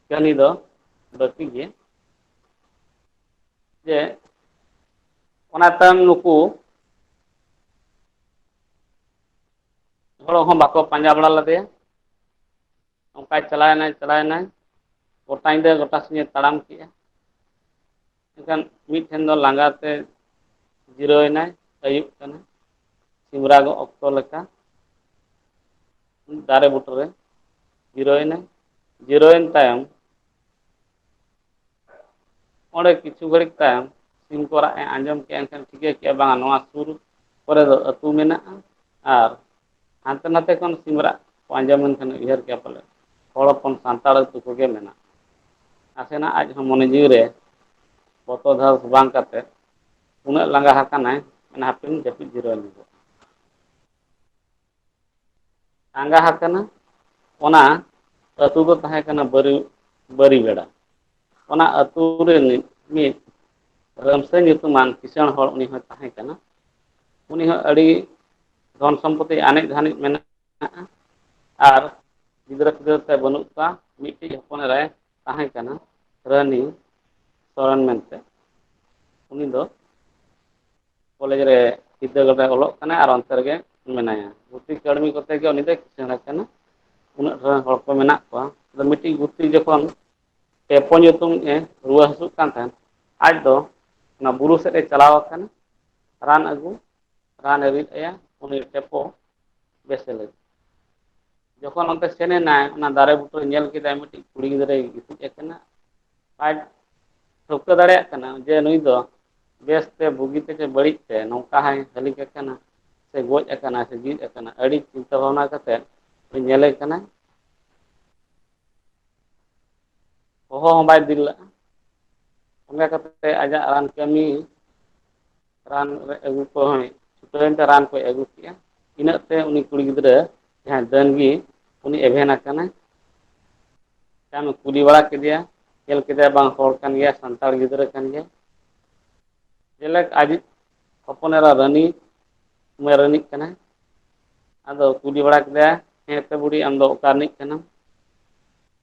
ᱠᱟᱹᱦᱱᱤ ᱫᱚ ᱵᱟᱹᱠᱤ ᱜᱮ ᱡᱮ ᱚᱱᱟ ᱛᱟᱭᱚᱢ ᱱᱩᱠᱩ ᱦᱚᱲ ᱦᱚᱸ ᱵᱟᱠᱚ ᱯᱟᱸᱡᱟ ᱵᱟᱲᱟ ᱞᱮᱫᱮᱭᱟ ᱚᱱᱠᱟᱭ ᱪᱟᱞᱟᱣᱮᱱᱟᱭ ᱪᱟᱞᱟᱣᱮᱱᱟᱭ ᱜᱚᱴᱟ ᱧᱤᱫᱟᱹ ᱜᱚᱴᱟ ᱥᱤᱧᱮ ᱛᱟᱲᱟᱢ ᱠᱮᱜᱼᱟ ᱮᱱᱠᱷᱟᱱ ᱢᱤᱫ ᱴᱷᱮᱱ ᱫᱚ ᱞᱟᱸᱜᱟ ᱛᱮ ᱡᱤᱨᱟᱹᱣ ᱮᱱᱟᱭ ᱟᱹᱭᱩᱵ ᱠᱟᱱᱟ ᱥᱤᱢ ᱨᱟᱜᱚᱜ ᱚᱠᱛᱚ ᱞᱮᱠᱟ ᱫᱟᱨᱮ ᱵᱩᱴᱟᱹᱨᱮ ᱡᱤᱨᱟᱹᱣᱮᱱᱟᱭ ᱡᱤᱨᱟᱹᱣᱮᱱ ᱛᱟᱭᱚᱢ ᱚᱸᱰᱮ ᱠᱤᱪᱷᱩ ᱜᱷᱟᱹᱲᱤᱡ ᱛᱟᱭᱚᱢ ᱥᱤᱢ ᱠᱚ ᱨᱟᱜ ᱮ ᱟᱸᱡᱚᱢ ᱠᱮᱫᱼᱟ ᱮᱱᱠᱷᱟᱱ ᱴᱷᱤᱠᱟᱹ ᱠᱮᱫᱼᱟ ᱵᱟᱝᱟ ᱱᱚᱣᱟ ᱥᱩᱨ ᱠᱚᱨᱮ ᱫᱚ ᱟᱹᱛᱩ ᱢᱮᱱᱟᱜᱼᱟ ᱟᱨ ᱦᱟᱱᱛᱮ ᱱᱟᱛᱮ ᱠᱷᱚᱱ ᱥᱤᱢ ᱨᱟᱜ ᱠᱚ ᱟᱸᱡᱚᱢ ᱮᱱ ᱠᱷᱟᱱ ᱩᱭᱦᱟᱹᱨ ᱠᱮᱫᱼᱟ ᱯᱟᱞᱮ ᱦᱚᱲ ᱦᱚᱯᱚᱱ ᱥᱟᱱᱛᱟᱲ ᱟᱹᱛᱩ ᱠᱚᱜᱮ ᱢᱮᱱᱟᱜᱼᱟ ᱱᱟᱥᱮᱱᱟᱜ ᱟᱡ ᱦᱚᱸ ᱢᱚᱱᱮ ᱡᱤᱣᱤ ᱨᱮ ᱵᱚᱛᱚᱨ ᱫᱷᱟᱨ ᱵᱟᱝ ᱠᱟᱛᱮᱫ ᱩᱱᱟᱹᱜ ᱞᱟᱸᱜᱟ ᱟᱠᱟᱱᱟᱭ ᱢᱮᱱᱟ ᱦᱟᱯᱮᱧ ᱡᱟᱹᱯᱤᱫ ᱡᱤᱨᱟᱹᱣ ᱞᱮᱱ ᱜᱮ ᱟᱸᱜᱟ ᱦᱟᱠᱟᱱᱟ ᱚᱱᱟ ᱟᱹᱛᱩ ᱫᱚ ᱛᱟᱦᱮᱸ ᱠᱟᱱᱟ ᱵᱟᱹᱨᱤ ᱵᱟᱹᱨᱤᱜᱟᱲᱟ ᱚᱱᱟ ᱟᱹᱛᱩ ᱨᱤᱱᱤᱡ ᱢᱤᱫ ᱨᱟᱢᱥᱟᱹ ᱧᱩᱛᱩᱢᱟᱱ ᱠᱤᱥᱟᱹᱬ ᱦᱚᱲ ᱩᱱᱤ ᱦᱚᱸᱭ ᱛᱟᱦᱮᱸ ᱠᱟᱱᱟ ᱩᱱᱤ ᱦᱚᱸ ᱟᱹᱰᱤ ᱫᱷᱚᱱ ᱥᱚᱢᱯᱚᱛᱤ ᱟᱱᱮᱡ ᱫᱷᱟᱱᱮᱡ ᱢᱮᱱᱟᱜ ᱟᱨ ᱜᱤᱫᱽᱨᱟᱹ ᱯᱤᱫᱽᱨᱟᱹ ᱛᱮ ᱵᱟᱹᱱᱩᱜ ᱠᱚᱣᱟ ᱢᱤᱫᱴᱤᱡ ᱦᱚᱯᱚᱱ ᱮᱨᱟᱭ ᱛᱟᱦᱮᱸ ᱠᱟᱱᱟ ᱨᱟᱱᱤ ᱥᱚᱨᱮᱱ ᱢᱮᱱᱛᱮ ᱩᱱᱤ ᱫᱚ ᱠᱚᱞᱮᱡᱽ ᱨᱮ ᱵᱤᱫᱽᱫᱟᱹᱜᱟᱲ ᱨᱮ ᱚᱞᱚᱜ ᱠᱟᱱᱟᱭ ᱟᱨ ᱚᱱᱛᱮ ᱨᱮᱜᱮ ᱢᱮᱱᱟᱭᱟ ᱜᱩᱛᱤ ᱠᱟᱹᱲᱢᱤ ᱠᱚᱛᱮ ᱜᱮ ᱩᱱᱤ ᱫᱚᱭ ᱠᱤᱥᱟᱹᱬ ᱟᱠᱟᱱᱟ ᱩᱱᱟᱹᱜ ᱰᱷᱮᱨ ᱨᱮᱱ ᱦᱚᱲ ᱠᱚ ᱢᱮᱱᱟᱜ ᱠᱚᱣᱟ ᱟᱫᱚ ᱢᱤᱫᱴᱤᱡ ᱜᱩᱛᱤ ᱡᱚᱠᱷᱚᱱ ᱴᱮᱯᱚ ᱧᱩᱛᱩᱢ ᱮ ᱨᱩᱣᱟᱹ ᱦᱟᱹᱥᱩᱜ ᱠᱟᱱ ᱛᱟᱦᱮᱱ ᱟᱡ ᱫᱚ ᱚᱱᱟ ᱵᱩᱨᱩ ᱥᱮᱫ ᱮ ᱪᱟᱞᱟᱣ ᱟᱠᱟᱱᱟ ᱨᱟᱱ ᱟᱹᱜᱩ ᱨᱟᱱᱮ ᱨᱤᱫ ᱟᱭᱟ ᱩᱱᱤ ᱴᱮᱯᱚ ᱵᱮᱥᱮ ᱞᱟᱹᱜᱤᱫ ᱡᱚᱠᱷᱚᱱ ᱚᱱᱛᱮ ᱥᱮᱱ ᱮᱱᱟᱭ ᱚᱱᱟ ᱫᱟᱨᱮ ᱵᱩᱴᱟᱹᱨᱮ ᱧᱮᱞ ᱠᱮᱫᱟᱭ ᱢᱤᱫᱴᱤᱡ ᱠᱩᱲᱤ ᱜᱤᱫᱽᱨᱟᱹᱭ ᱜᱤᱛᱤᱡ ᱟᱠᱟᱱᱟ ᱟᱡ ᱴᱷᱟᱹᱣᱠᱟᱹ ᱫᱟᱲᱮᱭᱟᱜ ᱠᱟᱱᱟ ᱡᱮ ᱱᱩᱭ ᱫᱚ ᱵᱮᱥ ᱛᱮ ᱵᱩᱜᱤ ᱛᱮ ᱥᱮ ᱵᱟᱹᱲᱤᱡ ᱛᱮ ᱱᱚᱝᱠᱟ ᱦᱟᱭ ᱦᱟᱹᱞᱤ ᱠᱟᱠᱟᱱᱟ ᱥᱮ ᱜᱚᱡ ᱟᱠᱟᱱᱟ ᱥᱮ ᱡᱤᱣᱤᱫ ᱟᱠᱟᱱᱟ ᱟᱹᱰᱤ ᱪᱤᱱᱛᱟᱹ ᱵᱷᱟᱵᱽᱱᱟ ᱠᱟᱛᱮᱫ ᱩᱱᱤ ᱧᱮᱞᱮ ᱠᱟᱱᱟ ᱦᱚᱦᱚ ᱦᱚᱸ ᱵᱟᱭ ᱵᱤᱨ ᱞᱟᱜᱼᱟ ᱚᱱᱟ ᱠᱷᱟᱹᱛᱤᱨ ᱛᱮ ᱟᱡᱟᱜ ᱨᱟᱱ ᱠᱟᱹᱢᱤ ᱨᱟᱱ ᱨᱮ ᱟᱹᱜᱩ ᱠᱚ ᱦᱚᱸᱭ ᱪᱷᱩᱴᱟᱹᱣᱮᱱᱛᱮ ᱨᱟᱱ ᱠᱚᱭ ᱟᱹᱜᱩ ᱠᱮᱫᱼᱟ ᱤᱱᱟᱹᱜ ᱛᱮ ᱩᱱᱤ ᱠᱩᱲᱤ ᱜᱤᱫᱽᱨᱟᱹ ᱡᱟᱦᱟᱸᱭ ᱫᱟᱹᱱᱜᱤ ᱩᱱᱤ ᱮᱵᱷᱮᱱ ᱟᱠᱟᱱᱟᱭ ᱛᱟᱭᱚᱢᱮ ᱠᱩᱞᱤ ᱵᱟᱲᱟ ᱠᱮᱫᱮᱭᱟ ᱧᱮᱞ ᱠᱮᱫᱮᱭᱟ ᱵᱟᱝ ᱦᱚᱲ ᱠᱟᱱ ᱜᱮᱭᱟ ᱥᱟᱱᱛᱟᱲ ᱜᱤᱫᱽᱨᱟᱹ ᱠᱟᱱ ᱜᱮᱭᱟ ᱡᱮᱞᱮᱠ ᱟᱡᱤᱡ ᱦᱚᱯᱚᱱ ᱮᱨᱟ ᱨᱟᱱᱤ ᱢᱟᱹᱭ ᱨᱟᱱᱤ ᱠᱟᱱᱟᱭ ᱟᱫᱚ ᱠᱩᱞᱤ ᱵᱟᱲᱟ ᱠᱮᱫᱮᱭᱟ ᱦᱮᱸᱛᱚ ᱵᱩᱰᱷᱤ ᱟᱢᱫᱚ ᱚᱠᱟ ᱨᱤᱱᱤᱡ ᱠᱟᱱᱟᱢ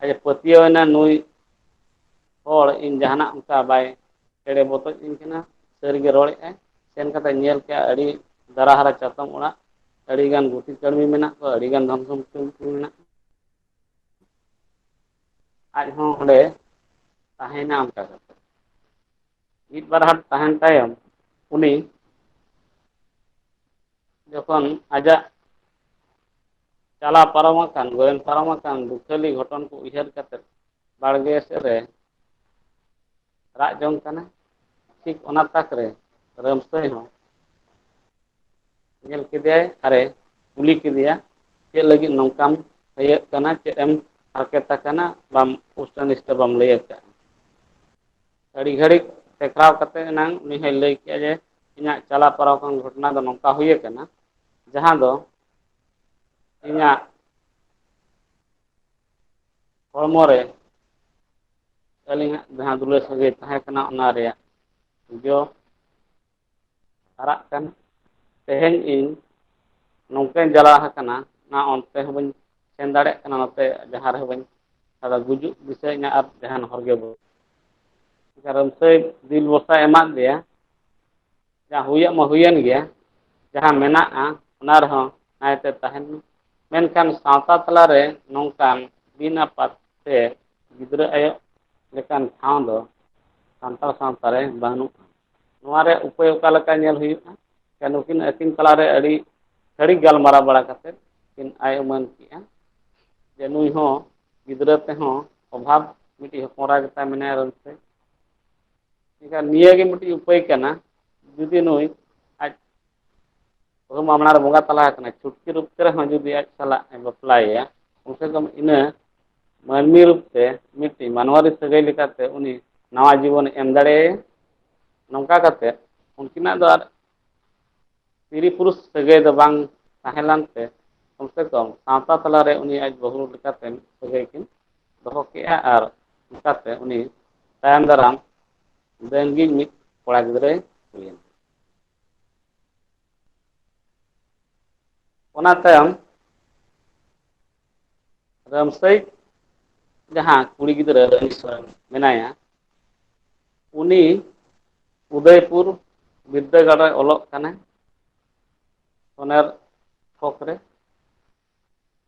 ᱟᱡ ᱮ ᱯᱟᱹᱛᱭᱟᱹᱣ ᱮᱱᱟ ᱱᱩᱭ ᱦᱚᱲ ᱤᱧ ᱡᱟᱦᱟᱱᱟᱜ ᱚᱱᱠᱟ ᱵᱟᱭ ᱮᱲᱮ ᱵᱚᱛᱚᱡ ᱤᱧ ᱠᱟᱱᱟ ᱥᱟᱹᱨᱤ ᱜᱮ ᱨᱚᱲᱮᱫ ᱟᱭ ᱥᱮᱱ ᱠᱟᱛᱮ ᱧᱮᱞ ᱠᱮᱫᱼᱟ ᱟᱹᱰᱤ ᱫᱟᱨᱟ ᱦᱟᱨᱟ ᱪᱟᱛᱚᱢ ᱚᱲᱟᱜ ᱟᱹᱰᱤ ᱜᱟᱱ ᱜᱩᱛᱤ ᱠᱟᱹᱲᱢᱤ ᱢᱮᱱᱟᱜ ᱠᱚᱣᱟ ᱟᱹᱰᱤ ᱜᱟᱱ ᱫᱷᱚᱱ ᱥᱚᱢᱯᱚᱛᱤ ᱩᱱᱠᱩ ᱢᱮᱱᱟᱜ ᱠᱚᱣᱟ ᱟᱡ ᱦᱚᱸ ᱚᱸᱰᱮ ᱛᱟᱦᱮᱱᱟ ᱚᱱᱠᱟ ᱠᱟᱛᱮ ᱢᱤᱫ ᱵᱟᱨ ᱦᱟᱴ ᱛᱟᱦᱮᱱ ᱛᱟᱭᱚᱢ ᱩᱱᱤ ᱡᱚᱠᱷᱚᱱ ᱟᱡᱟᱜ ᱪᱟᱞᱟᱣ ᱯᱟᱨᱚᱢ ᱟᱠᱟᱱ ᱜᱚᱭᱚᱱ ᱯᱟᱨᱚᱢ ᱟᱠᱟᱱ ᱫᱩᱠᱷᱟᱹᱞᱤ ᱜᱷᱚᱴᱚᱱ ᱠᱚ ᱩᱭᱦᱟᱹᱨ ᱠᱟᱛᱮᱫ ᱵᱟᱲᱜᱮ ᱥᱮᱫ ᱨᱮ ᱨᱟᱜ ᱡᱚᱝ ᱠᱟᱱᱟ ᱴᱷᱤᱠ ᱚᱱᱟ ᱛᱟᱠ ᱨᱮ ᱨᱟᱹᱢᱥᱟᱹᱭ ᱦᱚᱸ ᱧᱮᱞ ᱠᱮᱫᱮᱭᱟᱭ ᱟᱨᱮ ᱠᱩᱞᱤ ᱠᱮᱫᱮᱭᱟ ᱪᱮᱫ ᱞᱟᱹᱜᱤᱫ ᱱᱚᱝᱠᱟᱢ ᱛᱷᱟᱭᱟᱹᱜ ᱠᱟᱱᱟ ᱪᱮᱫ ᱮᱢ ᱦᱟᱨᱠᱮᱛ ᱟᱠᱟᱱᱟ ᱵᱟᱢ ᱯᱩᱥᱴᱟᱹ ᱱᱤᱥᱴᱟᱹ ᱵᱟᱢ ᱞᱟᱹᱭ ᱟᱠᱟᱫᱼᱟ ᱟᱹᱰᱤ ᱜᱷᱟᱹᱲᱤᱡ ᱴᱮᱠᱟᱣ ᱠᱟᱛᱮ ᱮᱱᱟᱝ ᱩᱱᱤ ᱦᱚᱭ ᱞᱟᱹᱭ ᱠᱮᱫᱼᱟ ᱡᱮ ᱤᱧᱟᱹᱜ ᱪᱟᱞᱟᱣ ᱯᱟᱨᱟᱣ ᱟᱠᱟᱱ ᱜᱷᱚᱴᱚᱱᱟ ᱫᱚ ᱱᱚᱝᱠᱟ ᱦᱩᱭ ᱟᱠᱟᱱᱟ ᱡᱟᱦᱟᱸ ᱫᱚ ᱤᱧᱟᱹᱜ ᱦᱚᱲᱢᱚ ᱨᱮ ᱟᱹᱞᱤᱧᱟᱜ ᱡᱟᱦᱟᱸ ᱫᱩᱞᱟᱹᱲ ᱥᱟᱹᱜᱟᱹᱭ ᱛᱟᱦᱮᱸ ᱠᱟᱱᱟ ᱚᱱᱟ ᱨᱮᱭᱟᱜ ᱡᱚ ᱟᱨᱟᱜ ᱠᱟᱱᱟ ᱛᱮᱦᱮᱧ ᱤᱧ ᱱᱚᱝᱠᱟᱧ ᱡᱟᱞᱟ ᱟᱠᱟᱱᱟ ᱚᱱᱟ ᱚᱱᱛᱮ ᱦᱚᱸ ᱵᱟᱹᱧ ᱥᱮᱱ ᱫᱟᱲᱮᱭᱟᱜ ᱠᱟᱱᱟ ᱱᱚᱛᱮ ᱡᱟᱦᱟᱸ ᱨᱮᱦᱚᱸ ᱵᱟᱹᱧ ᱟᱫᱚ ᱜᱩᱡᱩᱜ ᱫᱤᱥᱟᱹ ᱤᱧᱟᱹ ᱟᱨ ᱡᱟᱦᱟᱱ ᱦᱚᱨ ᱜᱮ ᱵᱟᱹᱱᱩᱜ ᱠᱟᱨᱚᱱ ᱥᱮᱭ ᱫᱤᱞ ᱵᱷᱚᱨᱥᱟᱭ ᱮᱢᱟᱫ ᱫᱮᱭᱟ ᱡᱟ ᱦᱩᱭᱮᱱ ᱢᱟ ᱦᱩᱭᱮᱱ ᱜᱮᱭᱟ ᱡᱟᱦᱟᱸ ᱢᱮᱱᱟᱜᱼᱟ ᱚᱱᱟ ᱨᱮᱦᱚᱸ ᱱᱟᱭᱛᱮ ᱛᱟᱦᱮᱱ ᱢᱮ ᱢᱮᱱᱠᱷᱟᱱ ᱥᱟᱶᱛᱟ ᱛᱟᱞᱟᱨᱮ ᱱᱚᱝᱠᱟᱱ ᱵᱤᱱ ᱟᱯᱟᱛ ᱛᱮ ᱜᱤᱫᱽᱨᱟᱹ ᱟᱭᱳ ᱞᱮᱠᱟᱱ ᱴᱷᱟᱶ ᱫᱚ ᱥᱟᱱᱛᱟᱲ ᱥᱟᱶᱛᱟ ᱨᱮ ᱵᱟᱹᱱᱩᱜᱼᱟ ᱱᱚᱣᱟ ᱨᱮ ᱩᱯᱟᱹᱭ ᱚᱠᱟ ᱞᱮᱠᱟ ᱧᱮᱞ ᱦᱩᱭᱩᱜᱼᱟ ᱥᱮ ᱱᱩᱠᱤᱱ ᱟᱹᱠᱤᱱ ᱛᱟᱞᱟ ᱨᱮ ᱟᱹᱰᱤ ᱜᱷᱟᱹᱲᱤᱡ ᱜᱟᱞᱢᱟᱨᱟᱣ ᱵᱟᱲᱟ ᱠᱟᱛᱮ ᱠᱤᱱ ᱟᱭ ᱩᱢᱟᱹᱱ ᱠᱮᱜᱼᱟ ᱡᱮ ᱱᱩᱭ ᱦᱚᱸ ᱜᱤᱫᱽᱨᱟᱹ ᱛᱮᱦᱚᱸ ᱚᱵᱷᱟᱵᱽ ᱢᱤᱫᱴᱤᱡ ᱦᱚᱯᱚᱱ ᱮᱨᱟ ᱜᱮᱛᱟᱭ ᱢᱮᱱᱟᱭᱟ ᱨᱟᱹᱥ ᱛᱮ ᱮᱱᱠᱷᱟᱱ ᱱᱤᱭᱟᱹ ᱜᱮ ᱢᱤᱫᱴᱤᱡ ᱩᱯᱟᱹᱭ ᱠᱟᱱᱟ ᱡᱩᱫᱤ ᱱᱩᱭ ᱟᱡ ᱵᱟᱹᱦᱩ ᱢᱟ ᱢᱟᱲᱟᱝ ᱨᱮ ᱵᱚᱸᱜᱟ ᱛᱟᱞᱟ ᱟᱠᱟᱱᱟᱭ ᱪᱷᱩᱴᱠᱤ ᱨᱩᱯ ᱛᱮ ᱨᱮᱦᱚᱸ ᱡᱩᱫᱤ ᱟᱡ ᱥᱟᱞᱟᱜ ᱮ ᱵᱟᱯᱞᱟᱭᱮᱭᱟ ᱠᱚᱢ ᱥᱮ ᱠᱚᱢ ᱤᱱᱟᱹ ᱢᱟᱹᱱᱢᱤ ᱨᱩᱯ ᱛᱮ ᱢᱤᱫᱴᱤᱡ ᱢᱟᱱᱣᱟᱨᱤ ᱥᱟᱹᱜᱟᱹᱭ ᱞᱮᱠᱟᱛᱮ ᱩᱱᱤ ᱱᱟᱣᱟ ᱡᱤᱵᱚᱱ ᱮᱢ ᱫᱟᱲᱮᱭᱟᱭᱟ ᱱᱚᱝᱠᱟ ᱠᱟᱛᱮ ᱩᱱᱠᱤᱱᱟᱜ ᱫᱚ ᱟᱨ ᱛᱤᱨᱤ ᱯᱩᱨᱩᱥ ᱥᱟᱹᱜᱟᱹᱭ ᱫᱚ ᱵᱟᱝ ᱛᱟᱦᱮᱸ ᱞᱮᱱ ᱛᱮ ᱠᱚᱢ ᱥᱮ ᱠᱚᱢ ᱥᱟᱶᱛᱟ ᱛᱟᱞᱟᱨᱮ ᱩᱱᱤ ᱟᱡ ᱵᱟᱹᱦᱩ ᱞᱮᱠᱟᱛᱮ ᱥᱟᱹᱜᱟᱹᱭ ᱠᱤᱱ ᱫᱚᱦᱚ ᱠᱮᱜᱼᱟ ᱟᱨ ᱚᱱᱠᱟᱛᱮ ᱩᱱᱤ ᱛᱟᱭᱚᱢ ᱫᱟᱨᱟᱢ ᱨᱮᱱᱜᱤᱡ ᱢᱤᱫ ᱠᱚᱲᱟ ᱜᱤᱫᱽᱨᱟᱹᱭ ᱦᱩᱭᱮᱱᱟ ᱚᱱᱟ ᱛᱟᱭᱚᱢ ᱨᱟᱢᱥᱟᱹᱭ ᱡᱟᱦᱟᱸ ᱠᱩᱲᱤ ᱜᱤᱫᱽᱨᱟᱹ ᱨᱟᱱᱤ ᱥᱚᱨᱮᱱ ᱢᱮᱱᱟᱭᱟ ᱩᱱᱤ ᱩᱫᱚᱭᱯᱩᱨ ᱵᱤᱫᱽᱫᱟᱹᱜᱟᱲ ᱨᱮ ᱚᱞᱚᱜ ᱠᱟᱱᱟᱭ ᱚᱱᱟᱨ ᱛᱷᱚᱠ ᱨᱮ